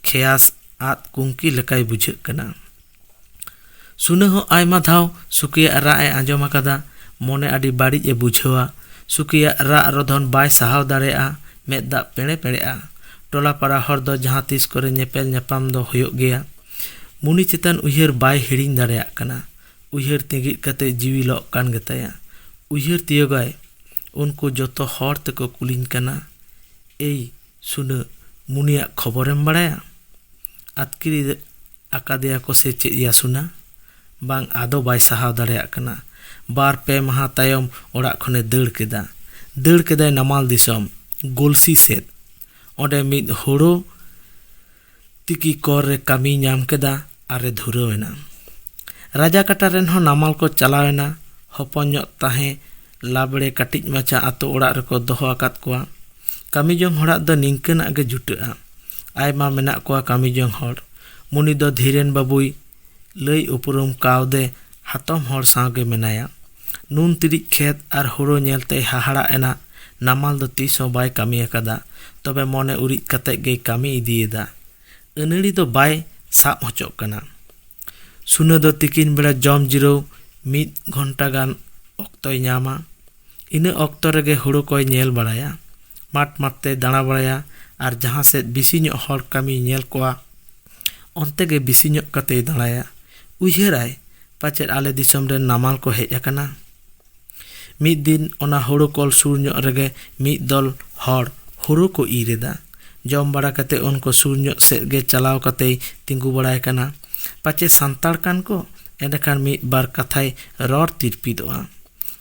ᱠᱷᱮᱭᱟᱥ ᱟᱫ ᱠᱩᱝᱠᱤ ᱞᱮᱠᱟᱭ ᱵᱩᱡᱷᱟᱹᱜ ᱠᱟᱱᱟ ᱥᱩᱱᱟᱹ ᱦᱚᱸ ᱟᱭᱢᱟ ᱫᱷᱟᱣ ᱥᱩᱠᱤᱭᱟᱜ ᱨᱟᱜ ᱮ ᱟᱸᱡᱚᱢ ᱟᱠᱟᱫᱟ ᱢᱚᱱᱮ ᱟᱹᱰᱤ ᱵᱟᱹᱲᱤᱡ ᱮ ᱵᱩᱡᱷᱟᱹᱣᱟ ᱥᱩᱠᱤᱭᱟᱜ ᱨᱟᱜ ᱨᱚᱫᱷᱚᱱ ᱵᱟᱭ ᱥᱟᱦᱟᱣ ᱫᱟᱲᱮᱭᱟᱜᱼᱟ ᱢᱮᱫ ᱫᱟᱜ ᱯᱮᱲᱮ ᱯᱮᱲᱮᱜᱼᱟ ᱴᱚᱞᱟ ᱯᱟᱲᱟ ᱦᱚᱲ ᱫᱚ ᱡᱟᱦᱟᱸ ᱛᱤᱥ ᱠᱚᱨᱮ ᱧᱮᱯᱮᱞ ᱧᱟᱯᱟᱢ ᱫᱚ ᱦᱩᱭᱩᱜ ᱜᱮᱭᱟ ᱢᱩᱱᱤ ᱪᱮᱛᱟᱱ ᱩᱭᱦᱟᱹᱨ ᱵᱟᱭ ᱦᱤᱲᱤᱧ ᱫᱟᱲᱮᱭᱟᱜ ᱠᱟᱱᱟ ᱩᱭᱦᱟᱹᱨ ᱛᱤᱸᱜᱤᱫ ᱠᱟᱛᱮ ᱡᱤᱣᱤ ᱞᱚᱜ ᱠᱟᱱ ᱜᱮᱛᱟᱭᱟ ᱩᱭᱦᱟᱹᱨ ᱛᱤᱭᱳᱜᱟᱭ ᱩᱱᱠᱩ ᱡᱚᱛᱚ ᱦᱚᱲ ᱛᱮᱠᱚ ᱠᱩᱞᱤᱧ ᱠᱟᱱᱟ ᱮᱭ ᱥᱩᱰᱟᱹ ᱢᱩᱱᱤᱭᱟᱜ ᱠᱷᱚᱵᱚᱨᱮᱢ ᱵᱟᱲᱟᱭᱟ? ᱟᱹᱛᱠᱤᱨ ᱤᱫᱤ ᱟᱠᱟᱫᱮᱭᱟ ᱠᱚ ᱥᱮ ᱪᱮᱫ ᱭᱟ ᱥᱩᱱᱟ? ᱵᱟᱝ ᱟᱫᱚ ᱵᱟᱭ ᱥᱟᱦᱟᱣ ᱫᱟᱲᱮᱭᱟᱜ ᱠᱟᱱᱟ᱾ ᱵᱟᱨ ᱯᱮ ᱢᱟᱦᱟᱸ ᱛᱟᱭᱚᱢ ᱚᱲᱟᱜ ᱠᱷᱚᱱᱮ ᱫᱟᱹᱲ ᱠᱮᱫᱟ᱾ ᱫᱟᱹᱲ ᱠᱮᱫᱟᱭ ᱱᱟᱢᱟᱞ ᱫᱤᱥᱚᱢ ᱜᱚᱞᱥᱤ ᱥᱮᱫ᱾ ᱚᱸᱰᱮ ᱢᱤᱫ ᱦᱳᱲᱳ ᱛᱤᱠᱤ ᱠᱚᱨ ᱨᱮ ᱠᱟᱹᱢᱤᱭ ᱧᱟᱢ ᱠᱮᱫᱟ ᱟᱨ ᱮ ᱫᱷᱩᱨᱟᱹᱣ ᱮᱱᱟ᱾ ᱨᱟᱡᱟ ᱠᱟᱴᱟ ᱨᱮᱱ ᱦᱚᱸ ᱱᱟᱢᱟᱞ ᱠᱚ ᱪᱟᱞᱟᱣ ᱮᱱᱟ᱾ ᱦᱚᱯᱚᱱ ᱧᱚᱜ ᱛᱟᱦᱮᱸ ᱞᱟᱵᱽᱲᱮ ᱠᱟᱹᱴᱤᱡ ᱢᱟᱪᱷᱟ ᱟᱹᱛᱩ ᱚᱲᱟᱜ ᱨᱮᱠᱚ ᱫᱚᱦᱚ ᱟᱠᱟᱫ ᱠᱚᱣᱟ᱾ ᱠᱟᱹᱢᱤ ᱡᱚᱝ ᱦᱚᱲᱟᱜ ᱫᱚ ᱱᱤᱝᱠᱟᱹᱱᱟᱜ ᱜᱮ ᱡᱩᱴᱟᱹᱜᱼᱟ᱾ ᱟᱭᱢᱟ ᱢᱮᱱᱟᱜ ᱠᱚᱣᱟ ᱠᱟᱹᱢᱤ ᱡᱚᱝ ᱦᱚᱲ᱾ ᱢᱩᱱᱤ ᱫᱚ ᱫᱷᱤᱨᱮᱱ ᱵᱟᱹᱵᱩᱭ ᱞᱟᱹᱭ ᱩᱯᱨᱩᱢ ᱠᱟᱣᱫᱮ ᱦᱟᱛᱚᱢ ᱦᱚᱲ ᱥᱟᱶ ᱜᱮ ᱢᱮᱱᱟᱭᱟ᱾ ᱱᱩᱱ ᱛᱤᱨᱤᱡ ᱠᱷᱮᱛ ᱟᱨ ᱦᱳᱲᱳ ᱧᱮᱞ ᱛᱮᱭ ᱦᱟᱦᱟᱲᱟᱜ ᱮᱱᱟ᱾ ᱱᱟᱢᱟᱞ ᱫᱚ ᱛᱤᱥ ᱦᱚᱸ ᱵᱟᱭ ᱠᱟᱹᱢᱤ ᱟᱠᱟᱫᱟ᱾ ᱛᱚᱵᱮ ᱢᱚᱱᱮ ᱩᱨᱤᱡ ᱠᱟᱛᱮ ᱜᱮᱭ ᱠᱟᱹᱢᱤ ᱤᱫᱤᱭᱮᱫᱟ᱾ ᱟᱹᱱᱟᱹᱲᱤ ᱫᱚ ᱵᱟᱭ ᱥᱟᱵ ᱦᱚᱪᱚᱜ ᱠᱟᱱᱟ᱾ ᱥᱩᱱᱟᱹ ᱫᱚ ᱛᱤᱠᱤᱱ ᱵᱮᱲᱟ ᱡᱚᱢ ᱡᱤᱨᱟᱹᱣ ᱢᱤᱫ ᱜᱷᱚᱱᱴᱟ ᱜᱟᱱ ᱚᱠᱛᱚᱭ ᱧᱟᱢᱟ᱾ ᱤᱱᱟᱹ ᱚᱠᱛᱚ ᱨᱮᱜᱮ ᱦᱳᱲᱳ ᱠᱚᱭ ᱧᱮᱞ ᱵᱟᱲᱟᱭᱟ᱾ ᱢᱟᱴ ᱢᱟᱴ ᱛᱮᱭ ᱫᱟᱬᱟ ᱵᱟᱲᱟᱭᱟ ᱟᱨ ᱡᱟᱦᱟᱸ ᱥᱮᱫ ᱵᱤᱥᱤ ᱧᱚᱜ ᱦᱚᱲ ᱠᱟᱹᱢᱤᱭ ᱧᱮᱞ ᱠᱚᱣᱟ᱾ ᱚᱱᱛᱮ ᱜᱮ ᱵᱤᱥᱤ ᱧᱚᱜ ᱠᱟᱛᱮᱭ ᱫᱟᱬᱟᱭᱟ᱾ ᱩᱭᱦᱟᱹᱨᱟᱭ ᱯᱟᱪᱮᱫ ᱟᱞᱮ ᱫᱤᱥᱚᱢ ᱨᱮᱱ ᱱᱟᱢᱟᱞ ᱠᱚ ᱦᱮᱡ ᱟᱠᱟᱱᱟ᱾ ᱢᱤᱫ ᱫᱤᱱ ᱚᱱᱟ ᱦᱳᱲᱳ ᱠᱚᱞ ᱥᱩᱨ ᱧᱚᱜ ᱨᱮᱜᱮ ᱢᱤᱫ ᱫᱚᱞ ᱦᱚᱲ ᱦᱳᱲᱳ ᱠᱚ ᱤᱨ ᱮᱫᱟ᱾ ᱡᱚᱢ ᱵᱟᱲᱟ ᱠᱟᱛᱮ ᱩᱱᱠᱩ ᱥᱩᱨ ᱧᱚᱜ ᱥᱮᱫ ᱜᱮ ᱪᱟᱞᱟᱣ ᱠᱟᱛᱮᱭ ᱛᱤᱸᱜᱩ ᱵᱟᱲᱟᱭ ᱠᱟᱱᱟ᱾ ᱯᱟᱪᱮ ᱥᱟᱱᱛᱟᱲ ᱠᱟᱱ ᱠᱚ ᱮᱸᱰᱮᱠᱷᱟᱱ ᱢᱤᱫ ᱵᱟᱨ ᱠᱟᱛᱷᱟᱭ ᱨᱚᱲ ᱛᱤᱨᱯᱤᱫᱚᱜᱼᱟ᱾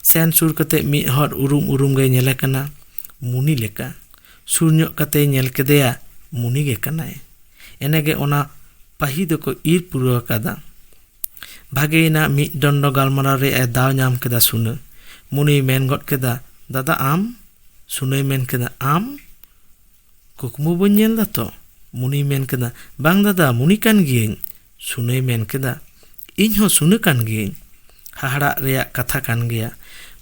ᱥᱮᱱ ᱥᱩᱨ ᱠᱟᱛᱮ ᱢᱤᱫ ᱦᱚᱲ ᱩᱨᱩᱢ ᱩᱨᱩᱢ ᱜᱮᱭ ᱧᱮᱞᱮ ᱠᱟᱱᱟ᱾ ᱢᱩᱱᱤ ᱞᱮᱠᱟ᱾ ᱥᱩᱨ ᱧᱚᱜ ᱠᱟᱛᱮᱭ ᱧᱮᱞ ᱠᱮᱫᱮᱭᱟ ᱢᱩᱱᱤ ᱜᱮ ᱠᱟᱱᱟᱭ ᱮᱱᱮ ᱜᱮ ᱚᱱᱟ ᱯᱟᱹᱦᱤ ᱫᱚᱠᱚ ᱤᱨ ᱯᱩᱨᱟᱹᱣ ᱟᱠᱟᱫᱟ ᱵᱷᱟᱜᱮᱭᱮᱱᱟ ᱢᱤᱫ ᱰᱚᱸᱰᱚ ᱜᱟᱞᱢᱟᱨᱟᱣ ᱨᱮᱭᱟᱜ ᱮ ᱫᱟᱣ ᱧᱟᱢ ᱠᱮᱫᱟ ᱥᱩᱱᱟᱹ ᱢᱩᱱᱤᱭ ᱢᱮᱱ ᱜᱚᱫ ᱠᱮᱫᱟ ᱫᱟᱫᱟ ᱟᱢ ᱥᱩᱱᱟᱹᱭ ᱢᱮᱱ ᱠᱮᱫᱟ ᱟᱢ ᱠᱩᱠᱢᱩ ᱵᱟᱹᱧ ᱧᱮᱞ ᱫᱟᱛᱚ ᱢᱩᱱᱤᱭ ᱢᱮᱱ ᱠᱮᱫᱟ ᱵᱟᱝ ᱫᱟᱫᱟ ᱢᱩᱱᱤ ᱠᱟᱱ ᱜᱤᱭᱟᱹᱧ ᱥᱩᱱᱟᱹᱭ ᱢᱮᱱ ᱠᱮᱫᱟ, ᱤᱧ ᱦᱚᱸ ᱥᱩᱱᱟᱹ ᱠᱟᱱ ᱜᱮᱭᱟᱹᱧ᱾ ᱦᱟᱦᱟᱲᱟᱜ ᱨᱮᱭᱟᱜ ᱠᱟᱛᱷᱟ ᱠᱟᱱ ᱜᱮᱭᱟ᱾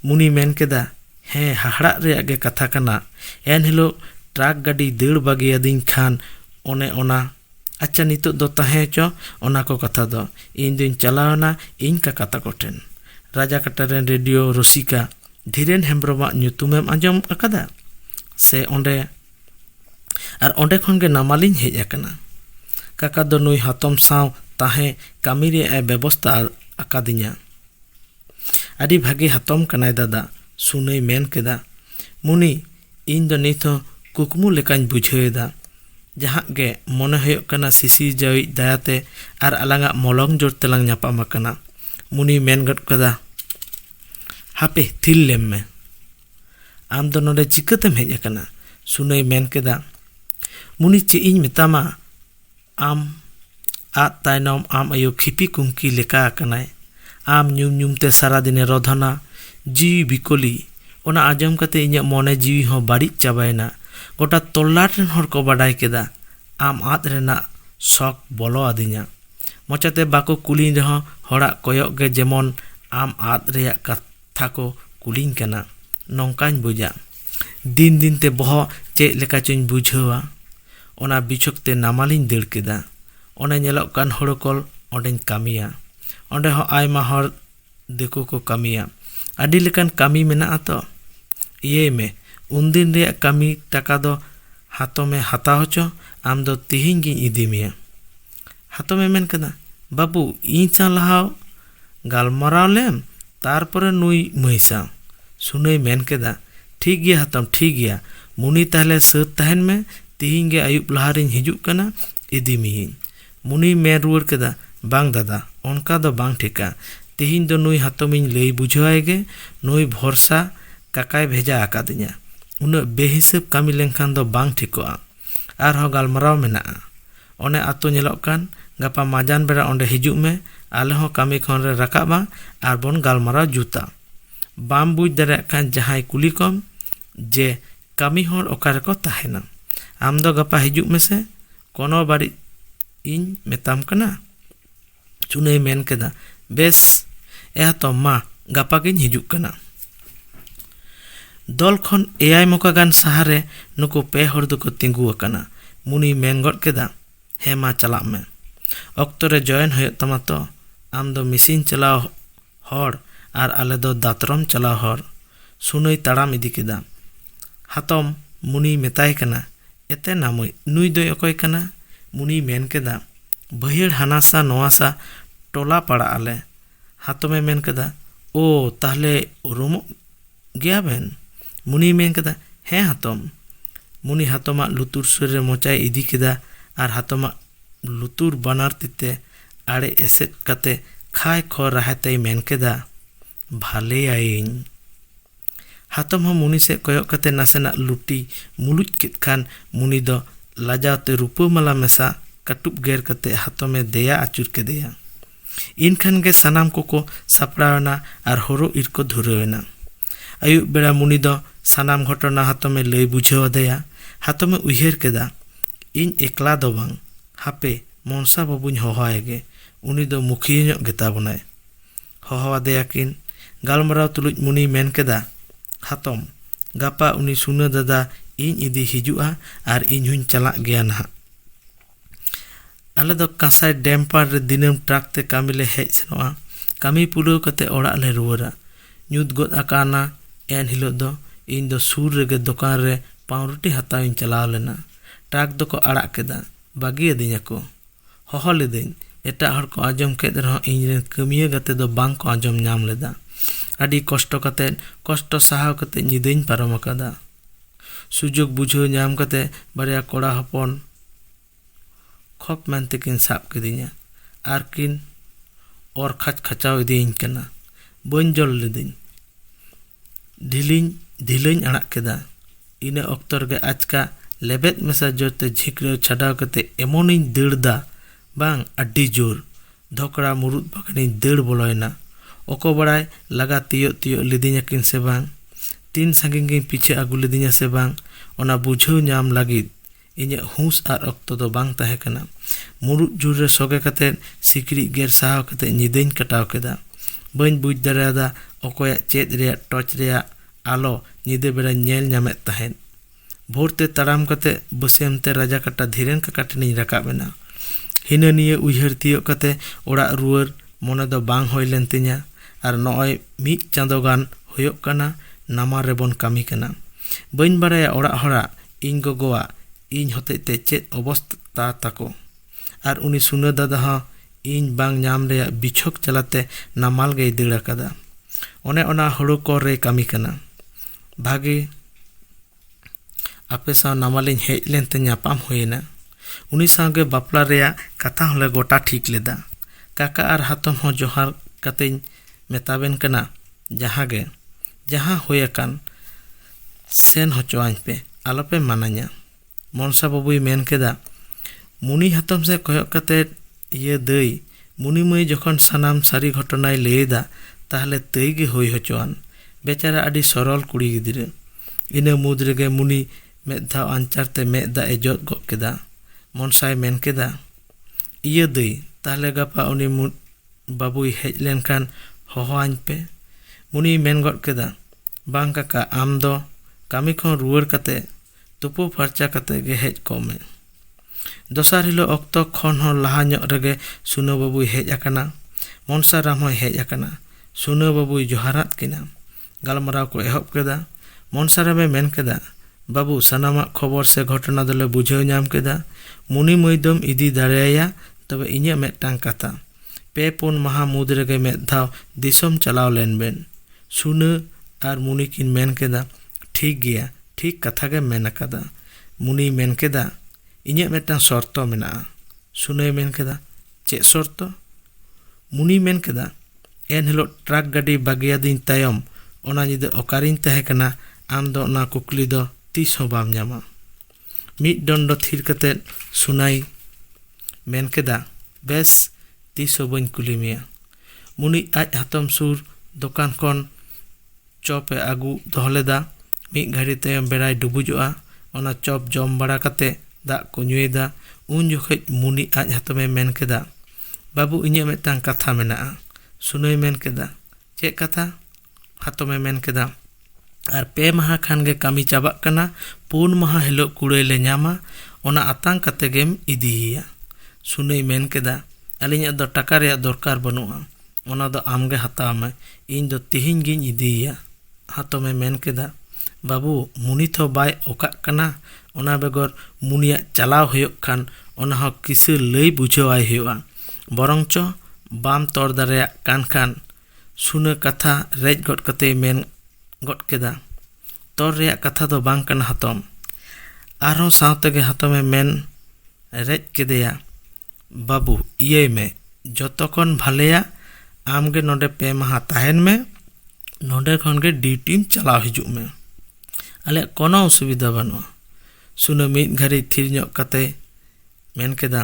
ᱢᱩᱱᱤᱭ ᱢᱮᱱ ᱠᱮᱫᱟ, ᱦᱮᱸ ᱦᱟᱦᱟᱲᱟᱜ ᱨᱮᱭᱟᱜ ᱜᱮ ᱠᱟᱛᱷᱟ ᱠᱟᱱᱟ᱾ ᱮᱱ ᱦᱤᱞᱚᱜ ᱴᱨᱟᱠ ᱜᱟᱹᱰᱤᱭ ᱫᱟᱹᱲ ᱵᱟᱹᱜᱤ ᱟᱹᱫᱤᱧ ᱠᱷᱟᱱ ᱚᱱᱮ ᱚᱱᱟ᱾ ᱟᱪᱪᱷᱟ ᱱᱤᱛᱚᱜ ᱫᱚ ᱛᱟᱦᱮᱸ ᱦᱚᱪᱚ ᱚᱱᱟ ᱠᱚ ᱠᱟᱛᱷᱟ ᱫᱚ᱾ ᱤᱧ ᱫᱚᱧ ᱪᱟᱞᱟᱣ ᱮᱱᱟ ᱤᱧ ᱠᱟᱠᱟ ᱛᱟᱠᱚ ᱴᱷᱮᱱ᱾ ᱨᱟᱡᱟᱠᱟᱴᱟ ᱨᱮᱱ ᱨᱮᱰᱤᱭᱚ ᱨᱩᱥᱤᱠᱟ ᱫᱷᱤᱨᱮᱱ ᱦᱮᱢᱵᱽᱨᱚᱢᱟᱜ ᱧᱩᱛᱩᱢᱮᱢ ᱟᱸᱡᱚᱢ ᱟᱠᱟᱫᱟ ᱥᱮ ᱚᱸᱰᱮ᱾ ᱟᱨ ᱚᱸᱰᱮ ᱠᱷᱚᱱ ᱜᱮ ᱱᱟᱢᱟᱞᱤᱧ ᱦᱮᱡ ᱟᱠᱟᱱᱟ ᱠᱟᱠᱟ ᱫᱚ ᱱᱩᱭ ᱦᱟᱛᱚᱢ ᱥᱟᱶ ᱛᱟᱦᱮᱸ ᱠᱟᱹᱢᱤ ᱨᱮᱭᱟᱜ ᱮ ᱵᱮᱵᱚᱥᱛᱟ ᱟᱠᱟᱫᱤᱧᱟ ᱟᱹᱰᱤ ᱵᱷᱟᱹᱜᱤ ᱦᱟᱛᱚᱢ ᱠᱟᱱᱟᱭ ᱫᱟᱫᱟ ᱥᱩᱱᱟᱹᱭ ᱢᱮᱱ ᱠᱮᱫᱟ ᱢᱩᱱᱤ ᱤᱧ ᱫᱚ ᱱᱤᱛ ᱦᱚᱸ ᱠᱩᱠᱢᱩ ᱞᱮᱠᱟᱧ ᱵᱩᱡᱷᱟᱹᱣ ᱮᱫᱟ ᱡᱟᱦᱟᱸ ᱜᱮ ᱢᱚᱱᱮ ᱦᱩᱭᱩᱜ ᱠᱟᱱᱟ ᱥᱤᱥᱤᱨᱡᱟᱹᱣᱤᱡ ᱫᱟᱭᱟᱛᱮ ᱟᱨ ᱟᱞᱟᱝᱟᱜ ᱢᱚᱞᱚᱝ ᱡᱳᱨ ᱛᱮᱞᱟᱝ ᱧᱟᱯᱟᱢ ᱟᱠᱟᱱᱟ ᱢᱩᱱᱤᱭ ᱢᱮᱱ ᱜᱚᱫ ᱠᱟᱫᱟ ᱦᱟᱯᱮ ᱛᱷᱤᱨ ᱞᱮᱱ ᱢᱮ ᱟᱢ ᱫᱚ ᱱᱚᱰᱮ ᱪᱤᱠᱟᱹᱛᱮᱢ ᱦᱮᱡ ᱟᱠᱟᱱᱟ ᱥᱩᱱᱟᱹᱭ ᱢᱮᱱ ᱠᱮᱫᱟ ᱢᱩᱱᱤ ᱪᱮᱫ ᱤᱧ ᱢᱮᱛᱟᱢᱟ ᱟᱢ ᱟᱫ ᱛᱟᱭᱱᱚᱢ ᱟᱢ ᱟᱭᱳ ᱠᱷᱤᱯᱤ ᱠᱩᱝᱠᱤ ᱞᱮᱠᱟ ᱟᱠᱟᱱᱟᱭ ᱟᱢ ᱧᱩᱢ ᱧᱩᱢ ᱛᱮ ᱥᱟᱨᱟᱫᱤᱱᱮ ᱨᱚᱫᱷᱚᱱᱟ ᱡᱤᱣᱤ ᱵᱤᱠᱚᱞᱤ ᱚᱱᱟ ᱟᱸᱡᱚᱢ ᱠᱟᱛᱮ ᱤᱧᱟᱹᱜ ᱢᱚᱱᱮ ᱡᱤᱣᱤ ᱦᱚᱸ ᱵᱟᱹᱲᱤᱡ ᱪᱟᱵᱟᱭᱮᱱᱟ ᱜᱚᱴᱟ ᱛᱚᱞᱞᱟᱴ ᱨᱮᱱ ᱦᱚᱲ ᱠᱚ ᱵᱟᱰᱟᱭ ᱠᱮᱫᱟ ᱟᱢ ᱟᱫ ᱨᱮᱱᱟᱜ ᱥᱚᱠ ᱵᱚᱞᱚ ᱟᱹᱫᱤᱧᱟ ᱢᱚᱪᱟᱛᱮ ᱵᱟᱠᱚ ᱠᱩᱞᱤᱧ ᱨᱮᱦᱚᱸ ᱦᱚᱲᱟᱜ ᱠᱚᱭᱚᱜ ᱜᱮ ᱡᱮᱢᱚᱱ ᱟᱢ ᱟᱫ ᱨᱮᱭᱟᱜ ᱠᱟᱛᱷᱟ ᱠᱟᱛᱷᱟ ᱠᱚ ᱠᱩᱞᱤᱧ ᱠᱟᱱᱟ ᱱᱚᱝᱠᱟᱧ ᱵᱩᱡᱟ ᱫᱤᱱ ᱫᱤᱱ ᱛᱮ ᱵᱚᱦᱚᱜ ᱪᱮᱫ ᱞᱮᱠᱟ ᱪᱚᱧ ᱵᱩᱡᱷᱟᱹᱣᱟ ᱚᱱᱟ ᱵᱤᱪᱷᱚᱠ ᱛᱮ ᱱᱟᱢᱟᱞᱤᱧ ᱫᱟᱹᱲ ᱠᱮᱫᱟ ᱚᱱᱮ ᱧᱮᱞᱚᱜ ᱠᱟᱱ ᱦᱳᱲᱳ ᱠᱚᱞ ᱚᱸᱰᱮᱧ ᱠᱟᱹᱢᱤᱭᱟ ᱚᱸᱰᱮ ᱦᱚᱸ ᱟᱭᱢᱟ ᱦᱚᱲ ᱫᱤᱠᱩ ᱠᱚ ᱠᱟᱹᱢᱤᱭᱟ ᱟᱹᱰᱤ ᱞᱮᱠᱟᱱ ᱠᱟᱹᱢᱤ ᱢᱮᱱᱟᱜ ᱟᱛᱚ ᱤᱭᱟᱹᱭ ᱢᱮ ᱩᱱ ᱫᱤᱱ ᱨᱮᱭᱟᱜ ᱠᱟᱹᱢᱤ ᱴᱟᱠᱟ ᱫᱚ ᱦᱟᱛᱚᱢ ᱮ ᱦᱟᱛᱟᱣ ᱦᱚᱪᱚ ᱟᱢ ᱫᱚ ᱛᱮᱦᱮᱧ ᱜᱤᱧ ᱤᱫᱤ ᱢᱮᱭᱟ ᱦᱟᱛᱚᱢ ᱮ ᱢᱮᱱ ᱠᱮᱫᱟ ᱵᱟᱹᱵᱩ ᱤᱧ ᱥᱟᱶ ᱞᱟᱦᱟ ᱜᱟᱞᱢᱟᱨᱟᱣ ᱞᱮᱢ ᱛᱟᱨᱯᱚᱨᱮ ᱱᱩᱭ ᱢᱟᱹᱭ ᱥᱟᱶ᱾ ᱥᱩᱱᱟᱹᱭ ᱢᱮᱱ ᱠᱮᱫᱟ, ᱴᱷᱤᱠ ᱜᱮᱭᱟ ᱦᱟᱛᱚᱢ ᱴᱷᱤᱠ ᱜᱮᱭᱟ᱾ ᱢᱩᱱᱤ ᱛᱟᱦᱞᱮ ᱥᱟᱹᱛ ᱛᱟᱦᱮᱱ ᱢᱮ, ᱛᱤᱦᱤᱧ ᱜᱮ ᱟᱹᱭᱩᱵ ᱞᱟᱦᱟ ᱨᱤᱧ ᱦᱤᱡᱩᱜ ᱠᱟᱱᱟ, ᱤᱫᱤ ᱢᱮᱭᱟᱹᱧ᱾ ᱢᱩᱱᱤᱭ ᱢᱮᱱ ᱨᱩᱣᱟᱹᱲ ᱠᱮᱫᱟ, ᱵᱟᱝ ᱫᱟᱫᱟ, ᱚᱱᱠᱟ ᱫᱚ ᱵᱟᱝ ᱴᱷᱤᱠᱟ᱾ ᱛᱤᱦᱤᱧ ᱫᱚ ᱱᱩᱭ ᱦᱟᱛᱚᱢᱤᱧ ᱞᱟᱹᱭ ᱵᱩᱡᱷᱟᱹᱣ ᱟᱭ ᱜᱮ, ᱱᱩᱭ ᱵᱷᱚᱨᱥᱟ ᱠᱟᱠᱟᱭ ᱵᱷᱮᱡᱟ ᱟᱠᱟᱫᱤᱧᱟ᱾ ᱩᱱᱟᱹᱜ ᱵᱮᱦᱤᱥᱟᱹᱵ ᱠᱟᱹᱢᱤ ᱞᱮᱱᱠᱷᱟᱱ ᱫᱚ ᱵᱟᱝ ᱴᱷᱤᱠᱚᱜᱼᱟ᱾ ᱟᱨᱦᱚᱸ ᱜᱟᱞᱢᱟᱨᱟᱣ ᱢᱮᱱᱟᱜᱼᱟ᱾ ᱚᱱᱮ ᱟᱛᱳ ᱧᱮᱞᱚᱜ ᱠᱟᱱ, ᱜᱟᱯᱟ ᱢᱟᱡᱟᱱ ᱵᱮᱲᱟ ᱚᱸᱰᱮ ᱦᱤᱡᱩᱜ ᱢᱮ, ᱟᱞᱮ ᱦᱚᱸ ᱠᱟᱹᱢᱤ ᱠᱷᱚᱱ ᱨᱮ ᱨᱟᱠᱟᱵᱼᱟ ᱟᱨ ᱵᱚᱱ ᱜᱟᱞᱢᱟᱨᱟᱣ ᱡᱩᱛᱟ᱾ ᱵᱟᱢ ᱵᱩᱡᱽ ᱫᱟᱲᱮᱭᱟᱜ ᱠᱷᱟᱱ ᱡᱟᱦᱟᱸᱭ ᱠᱩᱞᱤ ᱠᱚᱢ ᱡᱮ ᱠᱟᱹᱢᱤ ᱦᱚᱲ ᱚᱠᱟ ᱨᱮᱠᱚ ᱛᱟᱦᱮᱸᱱᱟ᱾ ᱟᱢ ᱫᱚ ᱜᱟᱯᱟ ᱦᱤᱡᱩᱜ ᱢᱮᱥᱮ, ᱠᱚᱱᱚ ᱵᱟᱹᱲᱤᱡ ᱤᱧ ᱢᱮᱛᱟᱢ ᱠᱟᱱᱟ᱾ ᱪᱩᱱᱟᱹᱭ ᱢᱮᱱ ᱠᱮᱫᱟ, ᱵᱮᱥ ᱮ ᱦᱟᱛᱚᱢ ᱢᱟ ᱜᱟᱯᱟ ᱜᱮᱧ ᱦᱤᱡᱩᱜ ᱠᱟᱱᱟ᱾ ᱫᱚᱞ ᱠᱷᱚᱱ ᱮᱭᱟᱭ ᱢᱚᱠᱟ ᱜᱟᱱ ᱥᱟᱦᱟ ᱨᱮ ᱱᱩᱠᱩ ᱯᱮ ᱦᱚᱲ ᱫᱚᱠᱚ ᱛᱤᱸᱜᱩ ᱟᱠᱟᱱᱟ᱾ ᱢᱩᱱᱤᱭ ᱢᱮᱱ ᱜᱚᱫ ᱠᱮᱫᱟ, ᱦᱮᱸ ᱢᱟ ᱪᱟᱞᱟᱜ ᱢᱮ᱾ ᱚᱠᱛᱚ ᱨᱮ ᱡᱚᱭᱮᱱ ᱦᱳᱭᱳᱜ ᱛᱟᱢᱟ ᱛᱚ᱾ ᱟᱢ ᱫᱚ ᱢᱤᱥᱤᱱ ᱪᱟᱞᱟᱣ ᱦᱚᱲ ᱟᱨ ᱟᱞᱮ ᱫᱚ ᱫᱟᱛᱨᱚᱢ ᱪᱟᱞᱟᱣ ᱦᱚᱲ᱾ ᱥᱩᱱᱟᱹᱭ ᱛᱟᱲᱟᱢ ᱤᱫᱤ ᱠᱮᱫᱟ᱾ ᱦᱟᱛᱚᱢ ᱢᱩᱱᱤᱭ ᱢᱮᱛᱟᱭ ᱠᱟᱱᱟ, ᱮᱛᱮ ᱱᱟᱢᱟᱹᱭ ᱱᱩᱭ ᱫᱚᱭ ᱚᱠᱚᱭ ᱠᱟᱱᱟ ᱢᱩᱱᱤᱭ ᱢᱮᱱ ᱠᱮᱫᱟ ᱵᱟᱹᱭᱦᱟᱹᱲ ᱦᱟᱱᱟᱥᱟ ᱱᱚᱣᱟᱥᱟ ᱴᱚᱞᱟ ᱯᱟᱲᱟᱜ ᱟᱞᱮ ᱦᱟᱛᱚᱢᱮ ᱢᱮᱱ ᱠᱮᱫᱟ ᱳ ᱛᱟᱦᱚᱞᱮ ᱩᱨᱩᱢᱚᱜ ᱜᱮᱭᱟᱵᱮᱱ ᱢᱩᱱᱤᱭ ᱢᱮᱱ ᱠᱮᱫᱟ ᱦᱮᱸ ᱦᱟᱛᱚᱢ ᱢᱩᱱᱤ ᱦᱟᱛᱚᱢᱟᱜ ᱞᱩᱛᱩᱨ ᱥᱩᱨ ᱨᱮ ᱢᱚᱪᱟᱭ ᱤᱫᱤ ᱠᱮᱫᱟ ᱟᱨ ᱦᱟᱛᱚᱢᱟᱜ ᱞᱩᱛᱩᱨ ᱵᱟᱱᱟᱨ ᱛᱤᱛᱮ ᱟᱲᱮ ᱮᱥᱮᱫ ᱠᱟᱛᱮ ᱠᱷᱟᱭ ᱠᱷᱚ ᱨᱟᱦᱟ ᱛᱮᱭ ᱢᱮᱱ ᱠᱮᱫᱟ ᱵᱷᱟᱞᱮᱭᱟᱭᱤᱧ᱾ ᱦᱟᱛᱚᱢ ᱦᱚᱸ ᱢᱩᱱᱤ ᱥᱮᱫ ᱠᱚᱭᱚᱜ ᱠᱟᱛᱮ ᱱᱟᱥᱮᱱᱟᱜ ᱞᱩᱴᱤ ᱢᱩᱞᱩᱡ ᱠᱮᱫ ᱠᱷᱟᱱ ᱢᱩᱱᱤ ᱫᱚ ᱞᱟᱡᱟᱣ ᱛᱮ ᱨᱩᱯᱟᱹ ᱢᱟᱞᱟ ᱢᱮᱥᱟ ᱠᱟᱹᱴᱩᱵ ᱜᱮᱨ ᱠᱟᱛᱮ ᱦᱟᱛᱚᱢ ᱮ ᱫᱮᱭᱟ ᱟᱹᱪᱩᱨ ᱠᱮᱫᱮᱭᱟ᱾ ᱤᱱ ᱠᱷᱟᱱ ᱜᱮ ᱥᱟᱱᱟᱢ ᱠᱚᱠᱚ ᱥᱟᱯᱲᱟᱣ ᱮᱱᱟ ᱟᱨ ᱦᱳᱲᱳ ᱤᱨ ᱠᱚ ᱫᱷᱩᱨᱟᱹᱣ ᱮᱱᱟ᱾ ᱟᱹᱭᱩᱵ ᱵᱮᱲᱟ ᱢᱩᱱᱤ ᱫᱚ ᱥᱟᱱᱟᱢ ᱜᱷᱚᱴᱚᱱᱟ ᱦᱟᱛᱚᱢ ᱮ ᱞᱟᱹᱭ ᱵᱩᱡᱷᱟᱹᱣ ᱟᱫᱮᱭᱟ᱾ ᱦᱟᱛᱚᱢ ᱮ ᱩᱭᱦᱟᱹᱨ ᱠᱮᱫᱟ, ᱤᱧ ᱮᱠᱞᱟ ᱫᱚ ᱵᱟᱝ᱾ ᱦᱟᱯᱮ ᱢᱚᱱᱥᱟ ᱵᱟᱹᱵᱩᱧ ᱦᱚᱦᱚ ᱟᱭ ᱜᱮ᱾ ᱩᱱᱤ ᱫᱚ ᱢᱩᱠᱷᱤᱭᱟᱹ ᱧᱚᱜ ᱜᱮᱛᱟ ᱵᱚᱱᱟᱭ᱾ ᱦᱚᱦᱚ ᱟᱫᱮᱭᱟ ᱠᱤᱱ᱾ ᱜᱟᱞᱢᱟᱨᱟᱣ ᱛᱩᱞᱩᱡ ᱢᱩᱱᱤᱭ ᱢᱮᱱ ᱠᱮᱫᱟ, ᱦᱟᱛᱚᱢ, ᱜᱟᱯᱟ ᱩᱱᱤ ᱥᱩᱱᱟᱹ ᱫᱟᱫᱟ ᱤᱧ ᱤᱫᱤᱭ ᱦᱤᱡᱩᱜᱼᱟ ᱟᱨ ᱤᱧ ᱦᱚᱸᱧ ᱪᱟᱞᱟᱜ ᱜᱮᱭᱟ ᱱᱟᱦᱟᱜ᱾ ᱟᱞᱮ ᱫᱚ ᱠᱟᱸᱥᱟᱭ ᱰᱮᱢ ᱯᱟᱲ ᱨᱮ ᱫᱤᱱᱟᱹᱢ ᱴᱨᱟᱠ ᱛᱮ ᱠᱟᱹᱢᱤ ᱞᱮ ᱦᱮᱡ ᱥᱮᱱᱚᱜᱼᱟ᱾ ᱠᱟᱹᱢᱤ ᱯᱩᱨᱟᱹᱣ ᱠᱟᱛᱮ ᱚᱲᱟᱜ ᱞᱮ ᱨᱩᱣᱟᱹᱲᱟ᱾ ᱧᱩᱛ ᱜᱚᱫ ᱟᱠᱟᱱᱟ᱾ ᱮᱱ ᱦᱤᱞᱚᱜ ᱫᱚ ᱤᱧ ᱫᱚ ᱥᱩᱨ ᱨᱮᱜᱮ ᱫᱚᱠᱟᱱ ᱨᱮ ᱯᱟᱶᱨᱩᱴᱤ ᱦᱟᱛᱟᱣ ᱤᱧ ᱪᱟᱞᱟᱣ ᱞᱮᱱᱟ᱾ ᱴᱨᱟᱠ ᱫᱚᱠᱚ ᱟᱲᱟᱜ ᱠᱮᱫᱟ᱾ ᱵᱟᱹᱜᱤ ᱟᱹᱫᱤᱧᱟ ᱠᱚ᱾ ᱦᱚᱦᱚ ᱞᱤᱫᱟᱹᱧ᱾ ᱮᱴᱟᱜ ᱦᱚᱲ ᱠᱚ ᱟᱸᱡᱚᱢ ᱠᱮᱫ ᱨᱮᱦᱚᱸ ᱤᱧ ᱨᱮᱱ ᱠᱟᱹᱢᱤᱭᱟᱹ ᱜᱟᱛᱮ ᱫᱚ ᱵᱟᱝ ᱠᱚ ᱟᱸᱡᱚᱢ ᱧᱟᱢ ᱞᱮᱫᱟ᱾ ᱟᱹᱰᱤ ᱠᱚᱥᱴᱚ ᱠᱟᱛᱮ, ᱠᱚᱥᱴᱚ ᱥᱟᱦᱟᱣ ᱠᱟᱛᱮ ᱧᱤᱫᱟᱹᱧ ᱯᱟᱨᱚᱢ ᱟᱠᱟᱫᱟ᱾ ᱥᱩᱡᱳᱜᱽ ᱵᱩᱡᱷᱟᱹᱣ ᱧᱟᱢ ᱠᱟᱛᱮ ᱵᱟᱨᱭᱟ ᱠᱚᱲᱟ ᱦᱚᱯᱚᱱ ᱠᱷᱚᱯ ᱢᱮᱱᱛᱮ ᱠᱤᱱ ᱥᱟᱵ ᱠᱤᱫᱤᱧᱟ ᱟᱨ ᱠᱤᱱ ᱚᱨ ᱠᱷᱟᱪ ᱠᱷᱟᱪᱟᱣ ᱤᱫᱤᱭᱤᱧ ᱠᱟᱱᱟ᱾ ᱵᱟᱹᱧ ᱡᱚᱞ ᱞᱤᱫᱟᱹᱧ᱾ ᱰᱷᱤᱞᱤᱧ ᱰᱷᱤᱞᱟᱹᱧ ᱟᱲᱟᱜ ᱠᱮᱫᱟ ᱤᱱᱟᱹ ᱚᱠᱛᱚ ᱨᱮᱜᱮ ᱟᱪᱠᱟ ᱞᱮᱵᱮᱫ ᱢᱮᱥᱟ ᱡᱳᱨ ᱛᱮ ᱡᱷᱤᱠᱲᱟᱹᱣ ᱪᱷᱟᱰᱟᱣ ᱠᱟᱛᱮ ᱮᱢᱚᱱᱤᱧ ᱫᱟᱹᱲ ᱫᱟ ᱵᱟᱝ ᱟᱹᱰᱤ ᱡᱳᱨ ᱫᱷᱚᱠᱲᱟ ᱢᱩᱲᱩᱫ ᱵᱟᱠᱷᱟᱱᱤᱧ ᱫᱟᱹᱲ ᱵᱚᱞᱚᱭᱮᱱᱟ ᱚᱠᱚᱭ ᱵᱟᱲᱟᱭ ᱞᱟᱜᱟ ᱛᱤᱭᱳᱜ ᱛᱤᱭᱳᱜ ᱞᱤᱫᱤᱧᱟ ᱠᱤᱱ ᱥᱮ ᱵᱟᱝ ᱛᱤᱱ ᱥᱟᱺᱜᱤᱧ ᱠᱤᱱ ᱯᱤᱪᱷᱟᱹ ᱟᱹᱜᱩ ᱞᱤᱫᱤᱧᱟ ᱥᱮ ᱵᱟᱝ ᱚᱱᱟ ᱵᱩᱡᱷᱟᱹᱣ ᱧᱟᱢ ᱞᱟᱹᱜᱤᱫ ᱤᱧᱟᱹᱜ ᱦᱩᱸᱥ ᱟᱨ ᱚᱠᱛᱚ ᱫᱚ ᱵᱟᱝ ᱛᱟᱦᱮᱸ ᱠᱟᱱᱟ᱾ ᱢᱩᱲᱩᱫ ᱡᱩᱨ ᱨᱮ ᱥᱚᱜᱮ ᱠᱟᱛᱮ ᱥᱤᱠᱲᱤᱡ ᱜᱮᱨ ᱥᱟᱦᱟᱣ ᱠᱟᱛᱮ ᱧᱤᱫᱟᱹᱧ ᱠᱟᱴᱟᱣ ᱠᱮᱫᱟ᱾ ᱵᱟᱹᱧ ᱵᱩᱡᱽ ᱫᱟᱲᱮ ᱟᱫᱟ ᱚᱠᱚᱭᱟᱜ ᱪᱮᱫ ᱨᱮᱭᱟᱜ ᱴᱚᱨᱪ ᱨᱮᱭᱟᱜ ᱟᱞᱚ ᱧᱤᱫᱟᱹ ᱵᱮᱲᱟᱧ ᱧᱮᱞ ᱧᱟᱢᱮᱫ ᱛᱟᱦᱮᱸᱫ᱾ ᱵᱷᱳᱨ ᱛᱮ ᱛᱟᱲᱟᱢ ᱠᱟᱛᱮ ᱵᱟᱹᱥᱭᱟᱹᱢ ᱛᱮ ᱨᱟᱡᱟ ᱠᱟᱴᱟ ᱫᱷᱤᱨᱮᱱ ᱠᱟᱠᱟ ᱴᱷᱮᱱᱤᱧ ᱨᱟᱠᱟᱵ ᱮᱱᱟ᱾ ᱦᱤᱱᱟᱹᱱᱤᱭᱟᱹ ᱩᱭᱦᱟᱹᱨ ᱛᱤᱭᱚᱜ ᱠᱟᱛᱮ ᱚᱲᱟᱜ ᱨᱩᱣᱟᱹᱲ ᱢᱚᱱᱮ ᱫᱚ ᱵᱟᱝ ᱦᱚᱭ ᱞᱮᱱ ᱛᱤᱧᱟ᱾ ᱟᱨ ᱱᱚᱜᱼᱚᱭ ᱢᱤᱫ ᱪᱟᱸᱫᱚ ᱜᱟᱱ ᱦᱳᱭᱳᱜ ᱠᱟᱱᱟ ᱱᱟᱢᱟᱞ ᱨᱮᱵᱚᱱ ᱠᱟᱹᱢᱤ ᱠᱟᱱᱟ᱾ ᱵᱟᱹᱧ ᱵᱟᱲᱟᱭᱟ ᱚᱲᱟᱜ ᱦᱚᱲᱟᱜ ᱤᱧ ᱜᱚᱜᱚᱣᱟᱜ ᱤᱧ ᱦᱚᱛᱮᱡ ᱛᱮ ᱪᱮᱫ ᱚᱵᱚᱥᱛᱟ ᱛᱟᱠᱚ ᱟᱨ ᱩᱱᱤ ᱥᱩᱱᱟᱹ ᱫᱟᱫᱟ ᱦᱚᱸ ᱤᱧ ᱵᱟᱝ ᱧᱟᱢ ᱨᱮᱭᱟᱜ ᱵᱤᱪᱷᱳᱠ ᱡᱟᱞᱟᱛᱮ ᱱᱟᱢᱟᱞ ᱜᱮᱭ ᱫᱟᱹᱲ ᱟᱠᱟᱫᱟ ᱚᱱᱮ ᱚᱱᱟ ᱦᱳᱲᱳ ᱠᱚ ᱨᱮᱭ ᱠᱟᱹᱢᱤ ᱠᱟᱱᱟ ᱵᱷᱟᱜᱮ ᱟᱯᱮ ᱥᱟᱶ ᱱᱟᱢᱟᱞᱤᱧ ᱦᱮᱡ ᱞᱮᱱ ᱛᱮ ᱧᱟᱯᱟᱢ ᱦᱩᱭ ᱮᱱᱟ ᱩᱱᱤ ᱥᱟᱶ ᱜᱮ ᱵᱟᱯᱞᱟ ᱨᱮᱭᱟᱜ ᱠᱟᱛᱷᱟ ᱦᱚᱸᱞᱮ ᱜᱚᱴᱟ ᱴᱷᱤᱠ ᱞᱮᱫᱟ ᱠᱟᱠᱟ ᱟᱨ ᱦᱟᱛᱚᱢ ᱦᱚᱸ ᱡᱚᱦᱟᱨ ᱠᱟᱛᱮᱧ ᱢᱮᱛᱟᱵᱮᱱ ᱠᱟᱱᱟ ᱡᱟᱦᱟᱸ ᱜᱮ ᱡᱟᱦᱟᱸ ᱦᱩᱭ ᱟᱠᱟᱱ ᱥᱮᱱ ᱦᱚᱪᱚ ᱟᱹᱧ ᱯᱮ ᱟᱞᱚᱯᱮ ᱢᱟᱱᱟᱧᱟ ᱢᱚᱱᱥᱟ ᱵᱟᱹᱵᱩᱭ ᱢᱮᱱ ᱠᱮᱫᱟ ᱢᱩᱱᱤ ᱦᱟᱛᱚᱢ ᱥᱮᱫ ᱠᱚᱭᱚᱜ ᱠᱟᱛᱮᱫ ᱤᱭᱟᱹ ᱫᱟᱹᱭ ᱢᱩᱱᱤ ᱢᱟᱹᱭ ᱡᱚᱠᱷᱚᱱ ᱥᱟᱱᱟᱢ ᱥᱟᱹᱨᱤ ᱜᱷᱚᱴᱚᱱᱟᱭ ᱞᱟᱹᱭᱮᱫᱟ ᱛᱟᱦᱞᱮ ᱛᱟᱹᱭ ᱜᱮ ᱦᱩᱭ ᱦᱚᱪᱚᱣᱟᱱ ᱵᱮᱪᱟᱨᱟ ᱟᱹᱰᱤ ᱥᱚᱨᱚᱞ ᱠᱩᱲᱤ ᱜᱤᱫᱽᱨᱟᱹ ᱤᱱᱟᱹ ᱢᱩᱫᱽ ᱨᱮᱜᱮ ᱢᱩᱱᱤ ᱢᱮᱫ ᱫᱷᱟᱣ ᱟᱧᱪᱟᱨ ᱛᱮ ᱢᱮᱫ ᱫᱟᱜ ᱮ ᱡᱚᱫ ᱜᱚᱫ ᱠᱮᱫᱟ ᱢᱚᱱᱥᱟᱭ ᱢᱮᱱ ᱠᱮᱫᱟ ᱤᱭᱟᱹ ᱫᱟᱹᱭ ᱛᱟᱦᱞᱮ ᱜᱟᱯᱟ ᱩᱱᱤ ᱵᱟᱹᱵᱩᱭ ᱦᱮᱡ ᱞᱮᱱᱠᱷᱟᱱ ᱦᱚᱦᱚ ᱟᱹᱧ ᱯᱮ᱾ ᱢᱩᱱᱤᱭ ᱢᱮᱱ ᱜᱚᱫ ᱠᱮᱫᱟ, ᱵᱟᱝ ᱠᱟᱠᱟ ᱟᱢ ᱫᱚ ᱠᱟᱹᱢᱤ ᱠᱷᱚᱱ ᱨᱩᱣᱟᱹᱲ ᱠᱟᱛᱮ ᱛᱩᱯᱩ ᱯᱷᱟᱨᱪᱟ ᱠᱟᱛᱮ ᱜᱮ ᱦᱮᱡ ᱠᱚᱜ ᱢᱮ᱾ ᱫᱚᱥᱟᱨ ᱦᱤᱞᱚᱜ ᱚᱠᱛᱚ ᱠᱷᱚᱱ ᱦᱚᱸ ᱞᱟᱦᱟ ᱧᱚᱜ ᱨᱮᱜᱮ ᱥᱩᱱᱟᱹ ᱵᱟᱹᱵᱩᱭ ᱦᱮᱡ ᱟᱠᱟᱱᱟ᱾ ᱢᱚᱱᱥᱟᱨᱟᱢ ᱦᱚᱸᱭ ᱦᱮᱡ ᱟᱠᱟᱱᱟ᱾ ᱥᱩᱱᱟᱹ ᱵᱟᱹᱵᱩᱭ ᱡᱚᱦᱟᱨᱟᱫ ᱠᱤᱱᱟ᱾ ᱜᱟᱞᱢᱟᱨᱟᱣ ᱠᱚ ᱮᱦᱚᱵ ᱠᱮᱫᱟ᱾ ᱢᱚᱱᱥᱟᱨᱟᱢ ᱮ ᱢᱮᱱ ᱠᱮᱫᱟ, ᱵᱟᱹᱵᱩ ᱥᱟᱱᱟᱢᱟᱜ ᱠᱷᱚᱵᱚᱨ ᱥᱮ ᱜᱷᱚᱴᱚᱱᱟ ᱫᱚᱞᱮ ᱵᱩᱡᱷᱟᱹᱣ ᱧᱟᱢ ᱠᱮᱫᱟ᱾ ᱢᱩᱱᱤ ᱢᱟᱹᱭ ᱫᱚᱢ ᱤᱫᱤ ᱫᱟᱲᱮ ᱟᱭᱟ ᱛᱚᱵᱮ ᱤᱧᱟᱹᱜ ᱢᱤᱫᱴᱟᱝ ᱠᱟᱛᱷᱟ᱾ ᱯᱮ ᱯᱩᱱ ᱢᱟᱦᱟᱸ ᱢᱩᱫᱽ ᱨᱮᱜᱮ ᱢᱤᱫ ᱫᱷᱟᱣ ᱫᱤᱥᱚᱢ ᱪᱟᱞᱟᱣ ᱞᱮᱱ ᱵᱮᱱ᱾ ᱥᱩᱱᱟᱹ ᱟᱨ ᱢᱩᱱᱤ ᱠᱤᱱ ᱢᱮᱱ ᱠᱮᱫᱟ, ᱴᱷᱤᱠ ᱜᱮᱭᱟ, ᱴᱷᱤᱠ ᱠᱟᱛᱷᱟ ᱜᱮᱢ ᱢᱮᱱ ᱟᱠᱟᱫᱟ᱾ ᱢᱩᱱᱤᱭ ᱢᱮᱱ ᱠᱮᱫᱟ, ᱤᱧᱟᱹᱜ ᱢᱤᱫᱴᱟᱝ ᱥᱚᱨᱛᱚ ᱢᱮᱱᱟᱜᱼᱟ᱾ ᱥᱩᱱᱟᱹᱭ ᱢᱮᱱ ᱠᱮᱫᱟ, ᱪᱮᱫ ᱥᱚᱨᱛᱚ? ᱢᱩᱱᱤᱭ ᱢᱮᱱ ᱠᱮᱫᱟ, ᱮᱱᱦᱤᱞᱚᱜ ᱴᱨᱟᱠ ᱜᱟᱹᱰᱤ ᱵᱟᱹᱜᱤᱭᱟᱫᱤᱧ ᱛᱟᱭᱚᱢ ᱚᱱᱟ ᱧᱤᱫᱟᱹ ᱚᱠᱟᱨᱮᱧ ᱛᱟᱦᱮᱸ ᱠᱟᱱᱟ ᱟᱢ ᱫᱚ ᱚᱱᱟ ᱠᱩᱠᱞᱤ ᱫᱚ ᱛᱤᱥ ᱦᱚᱸ ᱵᱟᱢ ᱧᱟᱢᱟ᱾ ᱢᱤᱫ ᱰᱚᱸᱰᱚ ᱛᱷᱤᱨ ᱠᱟᱛᱮ ᱥᱩᱱᱟᱭ ᱢᱮᱱ ᱠᱮᱫᱟ, ᱵᱮᱥ ᱛᱤᱥ ᱦᱚᱸ ᱵᱟᱹᱧ ᱠᱩᱞᱤ ᱢᱮᱭᱟ᱾ ᱢᱩᱱᱤᱡ ᱟᱡ ᱦᱟᱛᱚᱢ ᱥᱩᱨ ᱫᱚᱠᱟᱱ ᱠᱷᱚᱱ ᱪᱚᱯ ᱮ ᱟᱹᱜᱩ ᱫᱚᱦᱚ ᱞᱮᱫᱟ ᱢᱤᱫ ᱜᱷᱟᱹᱲᱤ ᱛᱟᱭᱚᱢ ᱵᱮᱲᱟᱭ ᱰᱩᱵᱩᱡᱚᱜᱼᱟ ᱚᱱᱟ ᱪᱚᱯ ᱡᱚᱢ ᱵᱟᱲᱟ ᱠᱟᱛᱮ ᱫᱟᱜ ᱠᱚ ᱧᱩᱭᱮᱫᱟ ᱩᱱ ᱡᱚᱠᱷᱚᱡ ᱢᱩᱱᱤ ᱟᱡ ᱦᱟᱛᱚᱢ ᱮ ᱢᱮᱱ ᱠᱮᱫᱟ ᱵᱟᱹᱵᱩ ᱤᱧᱟᱹᱜ ᱢᱤᱫᱴᱟᱝ ᱠᱟᱛᱷᱟ ᱢᱮᱱᱟᱜᱼᱟ ᱥᱩᱱᱟᱹᱭ ᱢᱮᱱ ᱠᱮᱫᱟ ᱪᱮᱫ ᱠᱟᱛᱷᱟ ᱦᱟᱛᱚᱢ ᱮ ᱢᱮᱱ ᱠᱮᱫᱟ ᱟᱨ ᱯᱮ ᱢᱟᱦᱟ ᱠᱷᱟᱱ ᱜᱮ ᱠᱟᱹᱢᱤ ᱪᱟᱵᱟᱜ ᱠᱟᱱᱟ ᱯᱩᱱ ᱢᱟᱦᱟ ᱦᱤᱞᱳᱜ ᱠᱩᱲᱟᱹᱭ ᱞᱮ ᱧᱟᱢᱟ ᱚᱱᱟ ᱟᱛᱟᱝ ᱠᱟᱛᱮ ᱜᱮᱢ ᱤᱫᱤᱭᱮᱭᱟ ᱥᱩᱱᱟᱹᱭ ᱢᱮᱱ ᱠᱮᱫᱟ ᱟᱹᱞᱤᱧᱟᱜ ᱫᱚ ᱴᱟᱠᱟ ᱨᱮᱭᱟᱜ ᱫᱚᱨᱠᱟᱨ ᱵᱟᱹᱱᱩᱜᱼᱟ ᱚᱱᱟ ᱫᱚ ᱟᱢ ᱜᱮ ᱦᱟᱛᱟᱣ ᱢᱮ ᱤᱧ ᱫᱚ ᱛᱮᱦᱮᱧ ᱜᱤᱧ ᱤᱫᱤᱭᱮᱭᱟ ᱦᱟᱛᱚᱢᱮ ᱢᱮᱱ ᱠᱮᱫᱟ ᱵᱟᱹᱵᱩ ᱢᱩᱱᱤᱛ ᱦᱚᱸ ᱵᱟᱭ ᱚᱠᱟᱜ ᱠᱟᱱᱟ ᱚᱱᱟ ᱵᱮᱜᱚᱨ ᱢᱩᱱᱤᱭᱟᱜ ᱪᱟᱞᱟᱣ ᱦᱩᱭᱩᱜ ᱠᱷᱟᱱ ᱚᱱᱟ ᱦᱚᱸ ᱠᱤᱥᱟᱹ ᱞᱟᱹᱭ ᱵᱩᱡᱷᱟᱹᱣ ᱟᱭ ᱦᱩᱭᱩᱜᱼᱟ ᱵᱚᱨᱚᱝ ᱪᱚ ᱵᱟᱢ ᱛᱚᱞ ᱫᱟᱲᱮᱭᱟᱜ ᱠᱟᱱ ᱠᱷᱟᱱ ᱥᱩᱱᱟᱹ ᱠᱟᱛᱷᱟ ᱨᱮᱡ ᱜᱚᱫ ᱠᱟᱛᱮᱭ ᱢᱮᱱ ᱜᱚᱫ ᱠᱮᱫᱟ ᱛᱚᱞ ᱨᱮᱭᱟᱜ ᱠᱟᱛᱷᱟ ᱫᱚ ᱵᱟᱝ ᱠᱟᱱᱟ ᱦᱟᱛᱚᱢ ᱟᱨᱦᱚᱸ ᱥᱟᱶ ᱛᱮᱜᱮ ᱦᱟᱛᱚᱢᱮ ᱢᱮᱱ ᱨᱮᱡ ᱠᱮᱫᱮᱭᱟ ᱵᱟᱹᱵᱩ ᱤᱭᱟᱹᱭ ᱢᱮ ᱡᱚᱛᱚ ᱠᱷᱚᱱ ᱵᱷᱟᱞᱮᱭᱟ ᱟᱢ ᱜᱮ ᱱᱚᱰᱮ ᱯᱮ ᱢᱟᱦᱟ ᱛᱟᱦᱮᱱ ᱢᱮ ᱱᱚᱰᱮ ᱠᱷᱚᱱ ᱜᱮ ᱰᱤᱭᱩᱴᱤᱢ ᱪᱟᱞᱟᱣ ᱦᱤᱡᱩᱜ ᱢᱮ ᱟᱞᱮᱭᱟᱜ ᱠᱳᱱᱳ ᱚᱥᱩᱵᱤᱫᱷᱟ ᱵᱟᱹᱱᱩᱜᱼᱟ ᱥᱩᱱᱟᱹ ᱢᱤᱫ ᱜᱷᱟᱹᱲᱤᱡ ᱛᱷᱤᱨ ᱧᱚᱜ ᱠᱟᱛᱮ ᱢᱮᱱ ᱠᱮᱫᱟ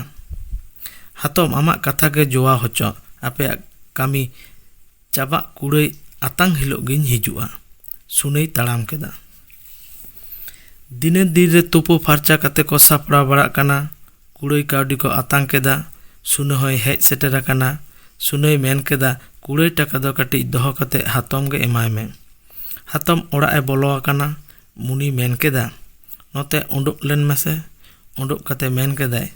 ᱦᱟᱛᱚᱢ ᱟᱢᱟᱜ ᱠᱟᱛᱷᱟ ᱜᱮ ᱡᱚᱣᱟ ᱦᱚᱪᱚᱜ ᱟᱯᱮᱭᱟᱜ ᱠᱟᱹᱢᱤ ᱪᱟᱵᱟᱜ ᱠᱩᱲᱟᱹᱭ ᱟᱛᱟᱝ ᱦᱤᱞᱳᱜ ᱜᱤᱧ ᱦᱤᱡᱩᱜᱼᱟ ᱥᱩᱱᱟᱹᱭ ᱛᱟᱲᱟᱢ ᱠᱮᱫᱟ ᱫᱤᱱᱮᱨ ᱫᱤᱱ ᱨᱮ ᱛᱩᱯᱩ ᱯᱷᱟᱨᱪᱟ ᱠᱟᱛᱮ ᱠᱚ ᱥᱟᱯᱲᱟᱣ ᱵᱟᱲᱟᱜ ᱠᱟᱱᱟ ᱠᱩᱲᱟᱹᱭ ᱠᱟᱹᱣᱰᱤ ᱠᱚ ᱟᱛᱟᱝ ᱠᱮᱫᱟ᱾ ᱥᱩᱱᱟᱹ ᱦᱚᱸᱭ ᱦᱮᱡ ᱥᱮᱴᱮᱨ ᱟᱠᱟᱱᱟ᱾ ᱥᱩᱱᱟᱹᱭ ᱢᱮᱱ ᱠᱮᱫᱟ, ᱠᱩᱲᱟᱹᱭ ᱴᱟᱠᱟ ᱫᱚ ᱠᱟᱹᱴᱤᱡ ᱫᱚᱦᱚ ᱠᱟᱛᱮ ᱦᱟᱛᱚᱢ ᱜᱮ ᱮᱢᱟᱭ ᱢᱮ᱾ ᱦᱟᱛᱚᱢ ᱚᱲᱟᱜ ᱮ ᱵᱚᱞᱚ ᱟᱠᱟᱱᱟ᱾ ᱢᱩᱱᱤᱭ ᱢᱮᱱ ᱠᱮᱫᱟ, ᱱᱚᱛᱮ ᱚᱰᱚᱜ ᱞᱮᱱ ᱢᱮᱥᱮ᱾ ᱚᱰᱚᱜ ᱠᱟᱛᱮ ᱢᱮᱱ ᱠᱮᱫᱟᱭ,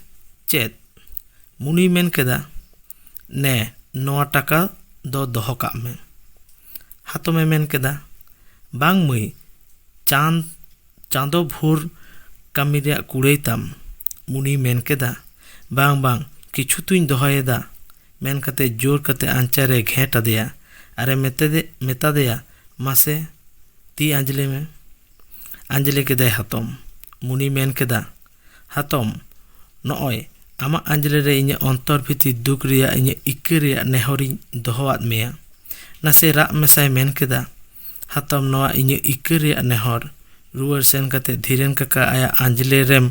ᱪᱮᱫ? ᱢᱩᱱᱤᱭ ᱢᱮᱱ ᱠᱮᱫᱟ, ᱱᱮ ᱱᱚᱣᱟ ᱴᱟᱠᱟ ᱫᱚ ᱫᱚᱦᱚ ᱠᱟᱜ ᱢᱮ᱾ ᱦᱟᱛᱚᱢ ᱮ ᱢᱮᱱ ᱠᱮᱫᱟ, ᱵᱟᱝ ᱢᱟᱹᱭ, ᱪᱟᱸᱫᱽ᱾ ᱪᱟᱸᱫᱚ ᱵᱷᱳᱨ ᱠᱟᱹᱢᱤ ᱨᱮᱭᱟᱜ ᱠᱩᱲᱟᱹᱭ ᱛᱟᱢ ᱩᱱᱤᱭ ᱢᱮᱱ ᱠᱮᱫᱟ ᱵᱟᱝ ᱵᱟᱝ ᱠᱤᱪᱷᱩ ᱛᱚᱧ ᱫᱚᱦᱚᱭᱮᱫᱟ ᱢᱮᱱ ᱠᱟᱛᱮᱫ ᱡᱳᱨ ᱠᱟᱛᱮᱫ ᱟᱧᱪᱟᱨ ᱨᱮᱭ ᱜᱷᱮᱸᱴ ᱟᱫᱮᱭᱟ ᱟᱨᱮ ᱢᱮᱛᱟᱫᱮ ᱢᱮᱛᱟᱫᱮᱭᱟ ᱢᱟᱥᱮ ᱛᱤ ᱟᱸᱡᱽᱞᱮ ᱢᱮ ᱟᱸᱡᱽᱞᱮ ᱠᱮᱫᱟᱭ ᱦᱟᱛᱚᱢ ᱩᱱᱤᱭ ᱢᱮᱱ ᱠᱮᱫᱟ ᱦᱟᱛᱚᱢ, ᱱᱚᱜᱼᱚᱭ ᱟᱢᱟᱜ ᱟᱸᱡᱽᱞᱮ ᱨᱮ ᱤᱧᱟᱜ ᱚᱱᱛᱚᱨ ᱵᱷᱤᱛᱤᱨ ᱫᱩᱠ ᱨᱮᱭᱟᱜ ᱤᱧᱟᱜ ᱤᱠᱟᱹ ᱨᱮᱭᱟᱜ ᱱᱮᱦᱚᱨᱤᱧ ᱫᱚᱦᱚ ᱟᱫ ᱢᱮᱭᱟ᱾ ᱱᱟᱥᱮ ᱨᱟᱜ ᱢᱮᱥᱟᱭ ᱢᱮᱱ ᱠᱮᱫᱟ᱾ ᱦᱟᱛᱚᱢ, ᱱᱚᱣᱟ ᱤᱧᱟᱜ ᱤᱠᱟᱹ ᱨᱮᱭᱟᱜ ᱱᱮᱦᱚᱨ᱾ ᱨᱩᱣᱟᱹᱲ ᱥᱮᱱ ᱠᱟᱛᱮ ᱫᱷᱤᱨᱮᱱ ᱠᱟᱠᱟ ᱟᱭᱟᱜ ᱟᱸᱡᱽᱞᱮ ᱨᱮᱢ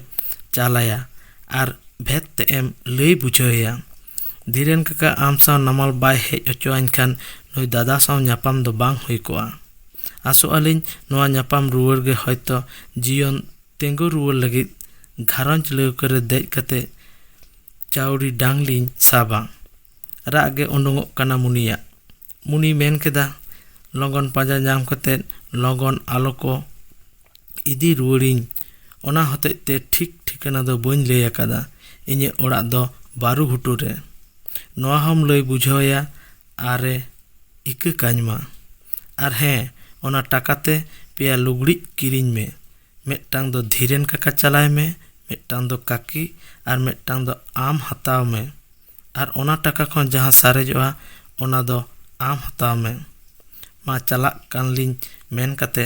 ᱪᱟᱞ ᱟᱭᱟ ᱟᱨ ᱵᱷᱮᱫᱽ ᱛᱮᱫ ᱮᱢ ᱞᱟᱹᱭ ᱵᱩᱡᱷᱟᱹᱣ ᱟᱭᱟ᱾ ᱫᱷᱤᱨᱮᱱ ᱠᱟᱠᱟ ᱟᱢ ᱥᱟᱶ ᱱᱟᱢᱟᱞ ᱵᱟᱭ ᱦᱮᱡ ᱚᱪᱚ ᱟᱹᱧ ᱠᱷᱟᱱ ᱱᱩᱭ ᱫᱟᱫᱟ ᱥᱟᱶ ᱧᱟᱯᱟᱢ ᱫᱚ ᱵᱟᱝ ᱦᱩᱭ ᱠᱚᱜᱼᱟ᱾ ᱟᱥᱚᱜ ᱟᱹᱞᱤᱧ ᱱᱚᱣᱟ ᱧᱟᱯᱟᱢ ᱨᱩᱣᱟᱹᱲ ᱜᱮ ᱦᱚᱭᱛᱚ ᱡᱤᱭᱚᱱ ᱛᱮᱸᱜᱳ ᱨᱩᱣᱟᱹᱲ ᱞᱟᱹᱜᱤᱫ ᱜᱷᱟᱨᱚᱸᱡᱽ ᱞᱟᱹᱣᱠᱟᱹ ᱨᱮ ᱫᱮᱡ ᱠᱟᱛᱮ ᱪᱟᱣᱲᱤ ᱰᱟᱝ ᱞᱤᱧ ᱥᱟᱵᱟ᱾ ᱨᱟᱜ ᱜᱮ ᱳᱰᱳᱝᱚᱜ ᱠᱟᱱᱟ ᱢᱩᱱᱤᱭᱟᱜ᱾ ᱢᱩᱱᱤᱭ ᱢᱮᱱ ᱠᱮᱫᱟ, ᱞᱚᱜᱚᱱ ᱯᱟᱸᱡᱟ ᱧᱟᱢ ᱠᱟᱛᱮ ᱞᱚᱜᱚᱱ ᱟᱞᱚ ᱠᱚ ᱤᱫᱤ ᱨᱩᱣᱟᱹᱲᱤᱧ᱾ ᱚᱱᱟ ᱦᱚᱛᱮᱡ ᱛᱮ ᱴᱷᱤᱠ ᱴᱷᱤᱠᱟᱹᱱᱟ ᱫᱚ ᱵᱟᱹᱧ ᱞᱟᱹᱭ ᱟᱠᱟᱫᱟ᱾ ᱤᱧᱟᱹᱜ ᱚᱲᱟᱜ ᱫᱚ ᱵᱟᱹᱨᱩᱜᱷᱩᱴᱩ ᱨᱮ᱾ ᱱᱚᱶᱟ ᱦᱚᱸᱢ ᱞᱟᱹᱭ ᱵᱩᱡᱷᱟᱹᱣᱟᱭᱟ ᱟᱨᱮ ᱤᱠᱟᱹ ᱠᱟᱹᱧ ᱢᱟ᱾ ᱟᱨ ᱦᱮᱸ, ᱚᱱᱟ ᱴᱟᱠᱟ ᱛᱮ ᱯᱮᱭᱟ ᱞᱩᱜᱽᱲᱤᱡ ᱠᱤᱨᱤᱧ ᱢᱮ᱾ ᱢᱤᱫᱴᱟᱝ ᱫᱚ ᱫᱷᱤᱨᱮᱱ ᱠᱟᱠᱟ ᱪᱟᱞᱟᱭ ᱢᱮ ᱢᱤᱫᱴᱟᱝ ᱫᱚ ᱠᱟᱹᱠᱤ ᱟᱨ ᱢᱤᱫᱴᱟᱝ ᱫᱚ ᱟᱢ ᱦᱟᱛᱟᱣ ᱢᱮ ᱟᱨ ᱚᱱᱟ ᱴᱟᱠᱟ ᱠᱷᱚᱱ ᱡᱟᱦᱟᱸ ᱥᱟᱨᱮᱡᱚᱜᱼᱟ ᱚᱱᱟ ᱫᱚ ᱟᱢ ᱦᱟᱛᱟᱣ ᱢᱮ ᱢᱟ ᱪᱟᱞᱟᱜ ᱠᱟᱱ ᱞᱤᱧ ᱢᱮᱱ ᱠᱟᱛᱮ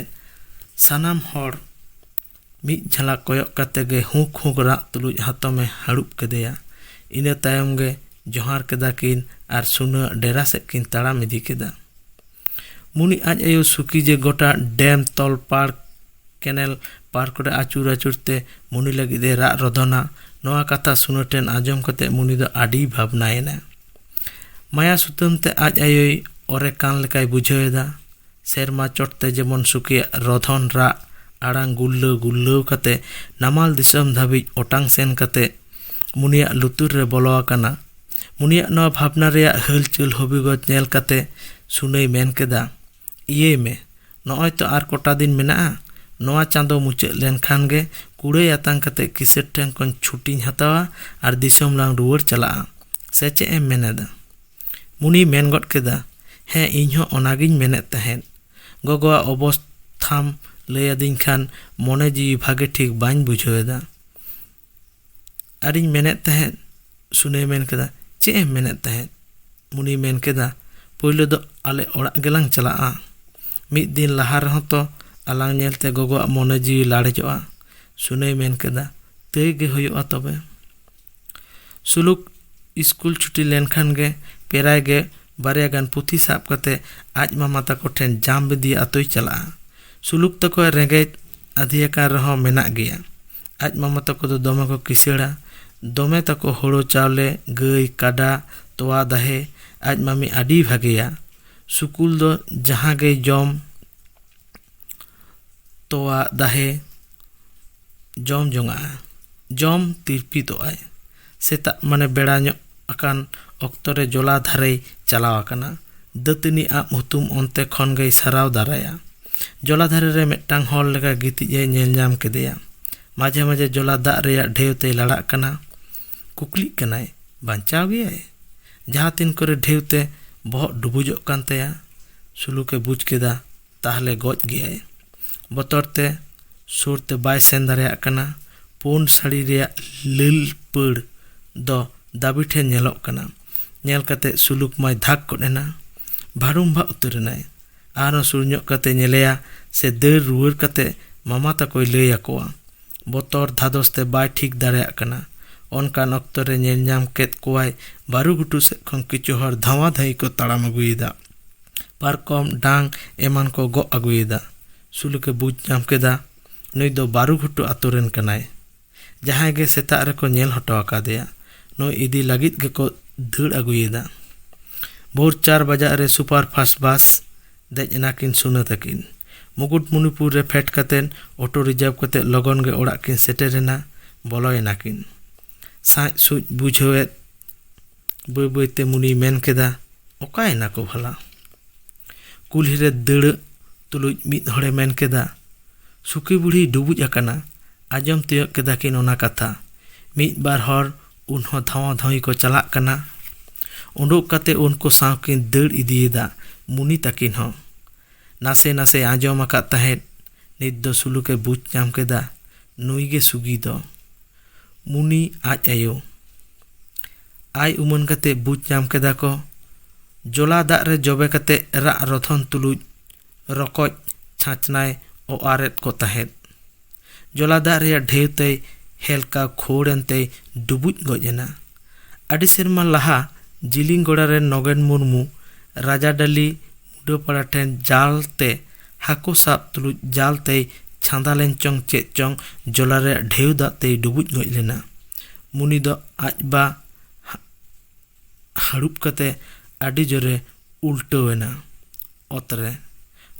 ᱥᱟᱱᱟᱢ ᱦᱚᱲ ᱢᱤᱫ ᱡᱷᱟᱞᱟᱠ ᱠᱚᱭᱚᱜ ᱠᱟᱛᱮ ᱜᱮ ᱦᱩᱠ ᱦᱩᱠ ᱨᱟᱜ ᱛᱩᱞᱩᱡ ᱦᱟᱛᱚᱢᱮ ᱦᱟᱹᱲᱩᱵ ᱠᱮᱫᱮᱭᱟ ᱤᱱᱟᱹ ᱛᱟᱭᱚᱢ ᱜᱮ ᱡᱚᱦᱟᱨ ᱠᱮᱫᱟ ᱠᱤᱱ ᱟᱨ ᱥᱩᱱᱟᱹ ᱟᱜ ᱰᱮᱨᱟ ᱥᱮᱫ ᱠᱤᱱ ᱛᱟᱲᱟᱢ ᱤᱫᱤ ᱠᱮᱫᱟ ᱢᱩᱱᱤ ᱟᱡ ᱟᱭᱳ ᱥᱩᱠᱷᱤ ᱡᱮ ᱜᱚᱴᱟ ᱰᱮᱢ ᱛᱚᱞ ᱯᱟᱨᱠ ᱠᱮᱱᱮᱞ ᱯᱟᱨᱠ ᱨᱮ ᱟᱹᱪᱩᱨ ᱟᱹᱪᱩᱨ ᱛᱮ ᱢᱩᱱᱤ ᱞᱟᱹᱜᱤᱫ ᱮ ᱨᱟᱜ ᱨᱚᱫᱷᱚᱱᱟ ᱱᱚᱣᱟ ᱠᱟᱛᱷᱟ ᱥᱩᱱᱟᱹ ᱴᱷᱮᱱ ᱟᱸᱡᱚᱢ ᱠᱟᱛᱮ ᱢᱩᱱᱤ ᱫᱚ ᱟᱹᱰᱤ ᱵᱷᱟᱵᱽᱱᱟᱭᱮᱱᱟ ᱢᱟᱭᱟ ᱥᱩᱛᱟᱹᱢ ᱛᱮ ᱟᱡ ᱟᱭᱳᱭ ᱚᱨᱮ ᱠᱟᱱ ᱞᱮᱠᱟᱭ ᱵᱩᱡᱷᱟᱹᱣ ᱮᱫᱟ ᱥᱮᱨᱢᱟ ᱪᱚᱴ ᱛᱮ ᱡᱮᱢᱚᱱ ᱥᱩᱠᱷᱤᱭᱟᱜ ᱨᱚᱫᱷᱚᱱ ᱨᱟᱜ ᱟᱲᱟᱝ ᱜᱩᱨᱞᱟᱹᱣ ᱜᱩᱨᱞᱟᱹᱣ ᱠᱟᱛᱮ ᱱᱟᱢᱟᱞ ᱫᱤᱥᱚᱢ ᱫᱷᱟᱹᱵᱤᱡ ᱚᱴᱟᱝ ᱥᱮᱱ ᱠᱟᱛᱮ ᱢᱩᱱᱤᱭᱟᱜ ᱞᱩᱛᱩᱨ ᱨᱮ ᱵᱚᱞᱚ ᱟᱠᱟᱱᱟ ᱩᱱᱤᱭᱟᱜ ᱱᱚᱣᱟ ᱵᱷᱟᱵᱽᱱᱟ ᱨᱮᱭᱟᱜ ᱦᱟᱹᱞᱪᱟᱹᱞ ᱦᱚᱵᱤᱜᱚᱡᱽ ᱧᱮᱞ ᱠᱟᱛᱮ ᱥᱩᱱᱟᱹᱭ ᱢᱮᱱ ᱠᱮᱫᱟ ᱤᱭᱟᱹᱭ ᱢᱮ ᱱᱚᱜᱼᱚᱭ ᱛᱚ ᱟᱨ ᱠᱚᱴᱟ ᱫᱤᱱ ᱢᱮᱱᱟᱜᱼᱟ ᱱᱚᱣᱟ ᱪᱟᱸᱫᱚ ᱢᱩᱪᱟᱹᱫ ᱞᱮᱱᱠᱷᱟᱱ ᱜᱮ ᱠᱩᱲᱟᱹᱭ ᱟᱛᱟᱝ ᱠᱟᱛᱮ ᱠᱤᱥᱟᱹᱬ ᱴᱷᱮᱱ ᱠᱷᱚᱱ ᱪᱷᱩᱴᱤᱧ ᱦᱟᱛᱟᱣᱟ ᱟᱨ ᱫᱤᱥᱚᱢ ᱞᱟᱝ ᱨᱩᱣᱟᱹᱲ ᱪᱟᱞᱟᱜᱼᱟ ᱥᱮ ᱪᱮᱫ ᱮᱢ ᱢᱮᱱᱮᱫᱟ ᱢᱩᱱᱤ ᱢᱮᱱ ᱜᱚᱫ ᱠᱮᱫᱟ ᱦᱮᱸ ᱤᱧ ᱦᱚᱸ ᱚᱱᱟᱜᱤᱧ ᱢᱮᱱᱮᱫ ᱛᱟᱦᱮᱸᱫ ᱜᱚᱜᱚᱣᱟᱜ ᱚᱵᱚᱥᱛᱷᱟᱢ ᱞᱟᱹᱭ ᱟᱹᱫᱤᱧ ᱠᱷᱟᱱ ᱢᱚᱱᱮ ᱡᱤᱣᱤ ᱵᱷᱟᱜᱮ ᱴᱷᱤᱠ ᱵᱟᱹᱧ ᱵᱩᱡᱷᱟᱹᱣ ᱮᱫᱟ ᱟᱨᱤᱧ ᱢᱮᱱᱮᱫ ᱛᱟᱦᱮᱸᱫ ᱥᱩᱱᱮᱭ ᱢᱮᱱ ᱠᱮᱫᱟ ᱪᱮᱫ ᱮᱢ ᱢᱮᱱᱮᱫ ᱛᱟᱦᱮᱸᱫ ᱢᱩᱱᱤᱭ ᱢᱮᱱ ᱠᱮᱫᱟ ᱯᱳᱭᱞᱳ ᱫᱚ ᱟᱞᱮ ᱚᱲᱟᱜ ᱜᱮᱞᱟᱝ ᱪᱟᱞᱟᱜᱼᱟ ᱢᱤᱫ ᱫᱤᱱ ᱞᱟᱦᱟ ᱨᱮᱦᱚᱸ ᱛᱚ ᱟᱞᱟᱝ ᱧᱮᱞᱛᱮ ᱜᱚᱜᱚᱣᱟᱜ ᱢᱚᱱᱮ ᱡᱤᱣᱤ ᱞᱟᱲᱮᱡᱚᱜᱼᱟ ᱥᱩᱱᱮᱭ ᱢᱮᱱ ᱠᱮᱫᱟ ᱛᱟᱹᱭ ᱜᱮ ᱦᱩᱭᱩᱜᱼᱟ ᱛᱚᱵᱮ ᱥᱩᱞᱩᱠ ᱤᱥᱠᱩᱞ ᱪᱷᱩᱴᱤ ᱞᱮᱱᱠᱷᱟᱱ ᱜᱮ ᱯᱮᱨᱟᱭ ᱜᱮ ᱵᱟᱨᱭᱟ ᱜᱟᱱ ᱯᱩᱛᱷᱤ ᱥᱟᱵ ᱠᱟᱛᱮ ᱟᱡ ᱢᱟᱢᱟ ᱛᱟᱠᱚ ᱴᱷᱮᱱ ᱡᱟᱢ ᱵᱤᱫᱤᱭᱟ ᱟᱛᱳᱭ ᱪᱟᱞᱟᱜᱼᱟ ᱥᱩᱞᱩᱠ ᱛᱟᱠᱚᱭ ᱨᱮᱸᱜᱮᱡ ᱟᱫᱷᱮᱭᱟᱠᱟᱱ ᱨᱮᱦᱚᱸ ᱢᱮᱱᱟᱜ ᱜᱮᱭᱟ ᱟᱡ ᱢᱟᱢᱟ ᱛᱟᱠᱚ ᱫᱚ ᱫᱚᱢᱮ ᱠᱚ ᱠᱤᱥᱟᱹᱬᱟ ᱫᱚᱢᱮ ᱛᱟᱠᱚ ᱦᱳᱲᱳ ᱪᱟᱣᱞᱮ ᱜᱟᱹᱭ ᱠᱟᱰᱟ ᱛᱚᱣᱟ ᱫᱟᱦᱮ ᱟᱡ ᱢᱟᱢᱤ ᱟᱹᱰᱤ ᱵᱷᱟᱜᱮᱭᱟ ᱥᱩᱠᱩᱞ ᱫᱚ ᱡᱟᱦᱟᱸ ᱜᱮᱭ ᱡᱚᱢ ᱛᱚᱣᱟ ᱫᱟᱦᱮ ᱡᱚᱢ ᱡᱚᱝᱟᱜᱼᱟ ᱡᱚᱢ ᱛᱤᱨᱯᱤᱛᱚᱜ ᱟᱭ ᱥᱮᱛᱟᱜ ᱢᱟᱱᱮ ᱵᱮᱲᱟ ᱧᱚᱜ ᱟᱠᱟᱱ ᱚᱠᱛᱚ ᱨᱮ ᱡᱚᱞᱟ ᱫᱷᱟᱨᱮᱭ ᱪᱟᱞᱟᱣ ᱟᱠᱟᱱᱟ ᱫᱟᱹᱛᱟᱹᱱᱤ ᱟᱵ ᱦᱩᱛᱩᱢ ᱚᱱᱛᱮ ᱠᱷᱚᱱ ᱜᱮᱭ ᱥᱟᱨᱟᱣ ᱫᱟᱨᱟᱭᱟ ᱡᱚᱞᱟ ᱫᱷᱟᱨᱮ ᱨᱮ ᱢᱤᱫᱴᱟᱝ ᱦᱚᱲ ᱞᱮᱠᱟ ᱜᱤᱛᱤᱡ ᱮ ᱧᱮᱞ ᱧᱟᱢ ᱠᱮᱫᱮᱭᱟ ᱢᱟᱡᱷᱮ ᱢᱟᱡᱷᱮ ᱡᱚᱞᱟ ᱫᱟᱜ ᱨᱮᱭᱟᱜ ᱰᱷᱮᱣ ᱛᱮᱭ ᱞᱟᱲᱟᱜ ᱠᱟᱱᱟ ᱠᱩᱠᱞᱤᱜ ᱠᱟᱱᱟᱭ ᱵᱟᱧᱪᱟᱣ ᱜᱮᱭᱟᱭ ᱡᱟᱦᱟᱸ ᱛᱤᱱ ᱠᱚᱨᱮ ᱰᱷᱮᱣ ᱛᱮ ᱵᱚᱦᱚᱜ ᱰᱩᱵᱩᱡᱚᱜ ᱠᱟᱱ ᱛᱟᱭᱟ ᱥᱩᱞᱩᱠᱮ ᱵᱩᱡᱽ ᱠᱮᱫᱟ ᱛᱟᱦᱚᱞᱮ ᱜᱚᱡ ᱜᱮᱭᱟᱭ ᱵᱚᱛᱚᱨ ᱛᱮ ᱥᱩᱨ ᱛᱮ ᱵᱟᱭ ᱥᱮᱱ ᱫᱟᱲᱮᱭᱟᱜ ᱠᱟᱱᱟ ᱯᱩᱸᱰ ᱥᱟᱹᱲᱤ ᱨᱮᱭᱟᱜ ᱞᱟᱹᱞ ᱯᱟᱹᱲ ᱫᱚ ᱫᱟᱹᱵᱤ ᱴᱷᱮᱱ ᱧᱮᱞᱚᱜ ᱠᱟᱱᱟ ᱧᱮᱞ ᱠᱟᱛᱮᱫ ᱥᱩᱞᱩᱠ ᱢᱟᱭ ᱫᱷᱟᱠ ᱜᱚᱫ ᱮᱱᱟ ᱵᱷᱟᱹᱲᱩᱢᱵᱷᱟᱜ ᱩᱛᱟᱹᱨ ᱮᱱᱟᱭ ᱟᱨᱦᱚᱸ ᱥᱩᱨ ᱧᱚᱜ ᱠᱟᱛᱮ ᱧᱮᱞᱮᱭᱟ ᱥᱮ ᱫᱟᱹᱲ ᱨᱩᱣᱟᱹᱲ ᱠᱟᱛᱮ ᱢᱟᱢᱟ ᱛᱟᱠᱚᱭ ᱞᱟᱹᱭ ᱟᱠᱚᱣᱟ ᱵᱚᱛᱚᱨ ᱫᱷᱟᱫᱚᱥ ᱛᱮ ᱵᱟᱭ ᱴᱷᱤᱠ ᱫᱟᱲᱮᱭᱟᱜ ᱠᱟᱱᱟ ᱚᱱᱠᱟᱱ ᱚᱠᱛᱚ ᱨᱮ ᱧᱮᱞ ᱧᱟᱢ ᱠᱮᱫ ᱠᱚᱣᱟᱭ ᱵᱟᱹᱨᱩ ᱜᱷᱩᱴᱩ ᱥᱮᱫ ᱠᱷᱚᱱ ᱠᱤᱪᱷᱩ ᱦᱚᱲ ᱫᱷᱟᱣᱟ ᱫᱷᱟᱹᱭ ᱠᱚ ᱛᱟᱲᱟᱢ ᱟᱹᱜᱩᱭᱮᱫᱟ ᱯᱟᱨᱠᱚᱢ ᱰᱟᱝ ᱮᱢᱟᱱ ᱠᱚ ᱜᱚᱜ ᱟᱹᱜᱩᱭᱮᱫᱟ ᱥᱩᱞᱩᱠᱮ ᱵᱩᱡᱽ ᱧᱟᱢ ᱠᱮᱫᱟ ᱱᱩᱭ ᱫᱚ ᱵᱟᱹᱨᱩ ᱜᱷᱩᱴᱩ ᱟᱛᱳ ᱨᱮᱱ ᱠᱟᱱᱟᱭ ᱡᱟᱦᱟᱸᱭ ᱜᱮ ᱥᱮᱛᱟᱜ ᱨᱮᱠᱚ ᱧᱮᱞ ᱦᱚᱴᱚ ᱟᱠᱟᱫᱮᱭᱟ ᱱᱩᱭ ᱤᱫᱤ ᱞᱟᱹᱜᱤᱫ ᱜᱮᱠᱚ ᱫᱟᱹᱲ ᱟᱹᱜᱩᱭᱮᱫᱟ᱾ ᱵᱷᱳᱨ ᱪᱟᱨ ᱵᱟᱡᱟᱜ ᱨᱮ ᱥᱩᱯᱟᱨ ᱯᱷᱟᱥᱴ ᱵᱟᱥ ᱫᱮᱡ ᱮᱱᱟᱠᱤᱱ ᱥᱩᱱᱟᱹ ᱛᱟᱹᱠᱤᱱ᱾ ᱢᱩᱠᱩᱴᱢᱩᱱᱤᱯᱩᱨ ᱨᱮ ᱯᱷᱮᱰ ᱠᱟᱛᱮ ᱚᱴᱳ ᱨᱤᱡᱟᱨᱵᱽ ᱠᱟᱛᱮ ᱞᱚᱜᱚᱱ ᱜᱮ ᱚᱲᱟᱜ ᱠᱤᱱ ᱥᱮᱴᱮᱨ ᱮᱱᱟ᱾ ᱵᱚᱞᱚᱭᱮᱱᱟᱠᱤᱱ᱾ ᱥᱟᱸᱡ ᱥᱩᱸᱡ ᱵᱩᱡᱷᱟᱹᱣᱮᱫ᱾ ᱵᱟᱹᱭ ᱵᱟᱹᱭᱛᱮ ᱢᱩᱱᱤᱭ ᱢᱮᱱ ᱠᱮᱫᱟ ᱚᱠᱟᱭᱮᱱᱟ ᱠᱚ ᱵᱷᱟᱞᱟ ᱠᱩᱞᱦᱤ ᱨᱮ ᱫᱟᱹᱲᱟᱹᱜ ᱛᱩᱞᱩᱡ ᱢᱤᱫ ᱦᱚᱲᱮ ᱢᱮᱱ ᱠᱮᱫᱟ ᱥᱩᱠᱤ ᱵᱩᱲᱦᱤᱭ ᱰᱩᱵᱩᱡ ᱟᱠᱟᱱᱟ ᱟᱸᱡᱚᱢ ᱛᱤᱭᱳᱜ ᱠᱮᱫᱟ ᱠᱤᱱ ᱚᱱᱟ ᱠᱟᱛᱷᱟ ᱢᱤᱫ ᱵᱟᱨ ᱦᱚᱲ ᱩᱱ ᱦᱚᱸ ᱫᱷᱟᱣᱟ ᱫᱷᱟᱣᱤ ᱠᱚ ᱪᱟᱞᱟᱜ ᱠᱟᱱᱟ ᱩᱰᱩᱠ ᱠᱟᱛᱮ ᱩᱱᱠᱩ ᱥᱟᱶ ᱠᱤᱱ ᱫᱟᱹᱲ ᱤᱫᱤᱭᱮᱫᱟ ᱢᱩᱱᱤ ᱛᱟᱹᱠᱤᱱ ᱦᱚᱸ ᱱᱟᱥᱮ ᱱᱟᱥᱮᱭ ᱟᱸᱡᱚᱢ ᱟᱠᱟᱫ ᱛᱟᱦᱮᱸᱫ ᱱᱤᱛ ᱫᱚ ᱥᱩᱞᱩᱠᱮ ᱵᱩᱡᱽ ᱧᱟᱢ ᱠᱮᱫᱟ ᱱᱩᱭ ᱜᱮ ᱥᱩᱜᱤ ᱫᱚ ᱢᱩᱱᱤ ᱟᱡ ᱟᱭᱳ᱾ ᱟᱭ ᱩᱢᱟᱹᱱ ᱠᱟᱛᱮ ᱵᱩᱡᱽ ᱧᱟᱢ ᱠᱮᱫᱟ ᱠᱚ ᱡᱚᱞᱟ ᱫᱟᱜ ᱨᱮ ᱡᱚᱵᱮ ᱠᱟᱛᱮ ᱨᱟᱜ ᱨᱚᱫᱷᱚᱱ ᱛᱩᱞᱩᱡ ᱨᱚᱠᱚᱡ ᱪᱷᱟᱸᱪᱱᱟᱭ ᱚᱣᱟᱨ ᱮᱫ ᱠᱚ ᱛᱟᱦᱮᱸᱫ᱾ ᱡᱚᱞᱟ ᱫᱟᱜ ᱨᱮᱭᱟᱜ ᱰᱷᱮᱣ ᱛᱮᱭ ᱦᱮᱞᱠᱟ ᱠᱷᱳᱲ ᱮᱱ ᱛᱮᱭ ᱰᱩᱵᱩᱡ ᱜᱚᱡ ᱮᱱᱟ᱾ ᱟᱹᱰᱤ ᱥᱮᱨᱢᱟ ᱞᱟᱦᱟ ᱡᱤᱞᱤᱝᱜᱚᱲᱟ ᱨᱮᱱ ᱱᱚᱜᱮᱱ ᱢᱩᱨᱢᱩ ᱨᱟᱡᱟᱰᱟᱹᱞᱤ ᱠᱩᱰᱟᱹ ᱯᱟᱲᱟ ᱴᱷᱮᱱ ᱡᱟᱞ ᱛᱮ ᱦᱟᱹᱠᱩ ᱥᱟᱵ ᱛᱩᱞᱩᱡ ᱡᱟᱞ ᱛᱮᱭ ᱪᱷᱟᱸᱫᱟ ᱞᱮᱱ ᱪᱚᱝ ᱪᱮᱫ ᱪᱚᱝ ᱡᱚᱞᱟ ᱨᱮᱭᱟᱜ ᱰᱷᱮᱣ ᱫᱟᱜ ᱛᱮᱭ ᱰᱩᱵᱩᱡ ᱜᱚᱡ ᱞᱮᱱᱟ ᱢᱩᱱᱤ ᱫᱚ ᱟᱡ ᱵᱟ ᱦᱟᱹᱲᱩᱵ ᱠᱟᱛᱮ ᱟᱹᱰᱤ ᱡᱳᱨᱮ ᱩᱞᱴᱟᱹᱣ ᱮᱱᱟ ᱚᱛ ᱨᱮ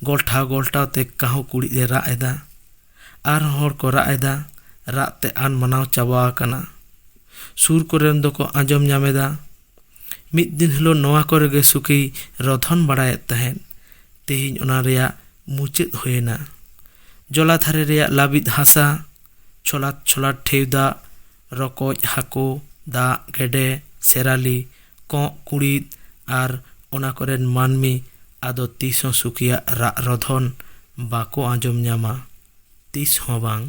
ᱜᱚᱞᱴᱷᱟᱣ ᱜᱚᱞᱴᱷᱟᱣ ᱛᱮ ᱠᱟᱹᱦᱩ ᱠᱩᱲᱤᱫ ᱮ ᱨᱟᱜ ᱮᱫᱟ ᱟᱨ ᱦᱚᱸ ᱦᱚᱲ ᱠᱚ ᱨᱟᱜ ᱮᱫᱟ ᱨᱟᱜ ᱛᱮ ᱟᱱ ᱢᱟᱱᱟᱣ ᱪᱟᱵᱟ ᱟᱠᱟᱱᱟ ᱥᱩᱨ ᱠᱚᱨᱮᱱ ᱫᱚᱠᱚ ᱟᱸᱡᱚᱢ ᱧᱟᱢ ᱮᱫᱟ ᱢᱤᱫ ᱫᱤᱱ ᱦᱤᱞᱳᱜ ᱱᱚᱣᱟ ᱠᱚᱨᱮ ᱜᱮ ᱥᱩᱠᱷᱤᱭ ᱨᱚᱫᱷᱚᱱ ᱵᱟᱲᱟᱭᱮᱫ ᱛᱟᱦᱮᱸᱫ ᱛᱮᱦᱮᱧ ᱚᱱᱟ ᱨᱮᱭᱟᱜ ᱢᱩᱪᱟᱹᱫ ᱦᱩᱭᱮᱱᱟ ᱡᱚᱞᱟ ᱫᱷᱟᱨᱮ ᱨᱮᱭᱟᱜ ᱞᱟᱹᱵᱤᱫ ᱦᱟᱥᱟ ᱪᱷᱚᱞᱟᱫ ᱪᱷᱚᱞᱟᱫ ᱴᱷᱮᱭ ᱫᱟᱜ ᱨᱚᱠᱚᱡ ᱦᱟᱹᱠᱩ ᱫᱟᱜ ᱜᱮᱰᱮ ᱥᱮᱨᱟᱞᱤ ᱠᱚᱸᱜ ᱠᱩᱬᱤᱫ ᱟᱨ ᱚᱱᱟ ᱠᱚᱨᱮᱱ ᱢᱟᱹᱱᱢᱤ ᱟᱫᱚ ᱛᱤᱥ ᱦᱚᱸ ᱥᱩᱠᱷᱤᱭᱟᱜ ᱨᱟᱜ ᱨᱚᱫᱷᱚᱱ ᱵᱟᱠᱚ ᱟᱸᱡᱚᱢ ᱧᱟᱢᱟ ᱛᱤᱥ ᱦᱚᱸ ᱵᱟᱝ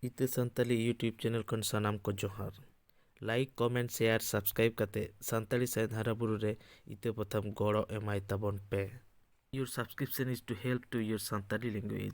ᱤᱛᱟᱹ ᱥᱟᱱᱛᱟᱞᱤ ᱤᱭᱩᱴᱩᱵᱽ ᱪᱮᱱᱮᱞ ᱠᱷᱚᱱ ᱥᱟᱱᱟᱢ ᱠᱚ ᱡᱚᱦᱟᱨ ᱞᱟᱭᱤᱠ ᱠᱚᱢᱮᱱᱴ ᱥᱮᱭᱟᱨ ᱥᱟᱵᱥᱠᱨᱟᱭᱤᱵᱽ ᱠᱟᱛᱮ ᱥᱟᱱᱛᱟᱲᱤ ᱥᱟᱶᱦᱮᱫ ᱦᱟᱨᱟ ᱵᱩᱨᱩ ᱨᱮ ᱤᱛᱟᱹ ᱯᱟᱛᱷᱟᱢ ᱜᱚᱲᱚ ᱮᱢᱟᱭ ᱛᱟᱵᱚᱱ ᱯᱮ your subscription is to help to your Santali language